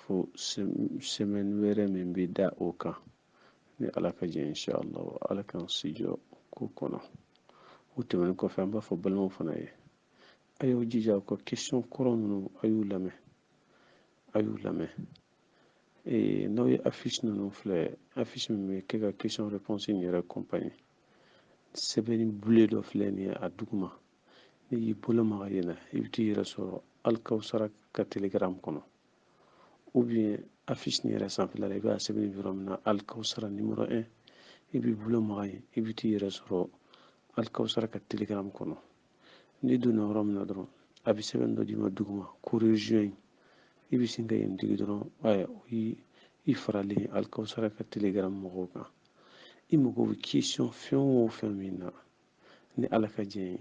fo sɛmɛn wɛrɛ min bɛ da o kan ni ala ka jɛ inshallah wa ala k'an sijɔ ko kɔnɔ o tɛmɛnen kɔfɛ an b'a fɔ balimaw fana ye a y'aw jija u ka question kɔrɔ ninnu a y'u lamɛn a y'u lamɛn ee n'aw ye affiche ninnu filɛ affiche min bɛ kɛ ka question réponse in yɛrɛ kɔnpani sɛbɛnni bleu dɔ filɛ nin ye a duguma n'i y'i bolo maga yen na i bɛ t'i yɛrɛ sɔrɔ alikawusara ka telegram kɔnɔ ou bien affiche nin yɛrɛ sanfɛla la i b'a sɛbɛn yɔrɔ min na alikawusara numéro 1 i b'i bolo maga yen i bɛ t'i yɛrɛ sɔrɔ alikawusara ka telegram kɔnɔ n'i donna yɔrɔ min na dɔrɔn a bɛ sɛbɛn dɔ d'i ma duguma ko rejoigne i bɛ sin ka yen digi dɔrɔn ayiwa o y'i faralen alikawusara ka telegram mɔgɔw kan i mago bɛ question fɛn o fɛn min na ni ala ka jɛ ye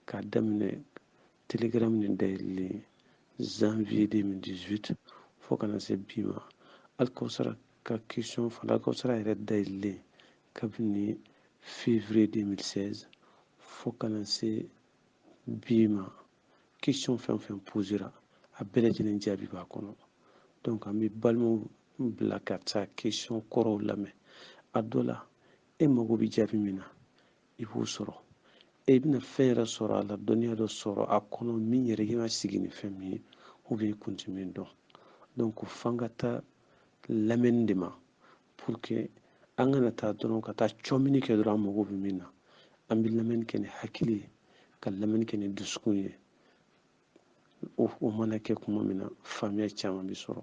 k'a daminɛ telegram nin dayɛlɛli janvier 2018 fo ka na se bi ma alikawusara ka question fana alikawusara yɛrɛ dayɛlɛlen kabini février 2016 fo ka na se bi ma question fɛn fɛn posera a bɛɛ lajɛlen jaabi b'a kɔnɔ donc an bɛ balimaw bila ka taa question kɔrɔw lamɛn a dɔ la e mago bɛ jaabi min na i b'o sɔrɔ e bɛna fɛn yɛrɛ sɔrɔ a la dɔnniya dɔ sɔrɔ a kɔnɔ min yɛrɛ kan ka sigi ni fɛn min ye u bɛ kun ti min dɔn donc ko f'an ka taa lamɛnni de ma pour que an kana taa dɔrɔn ka taa cɔmini kɛ dɔrɔn an mago bɛ min na an bɛ lamɛnni kɛ ni hakili ye ka lamɛnni kɛ ni dusukun ye o mana kɛ kuma min na faamuya caman bɛ sɔrɔ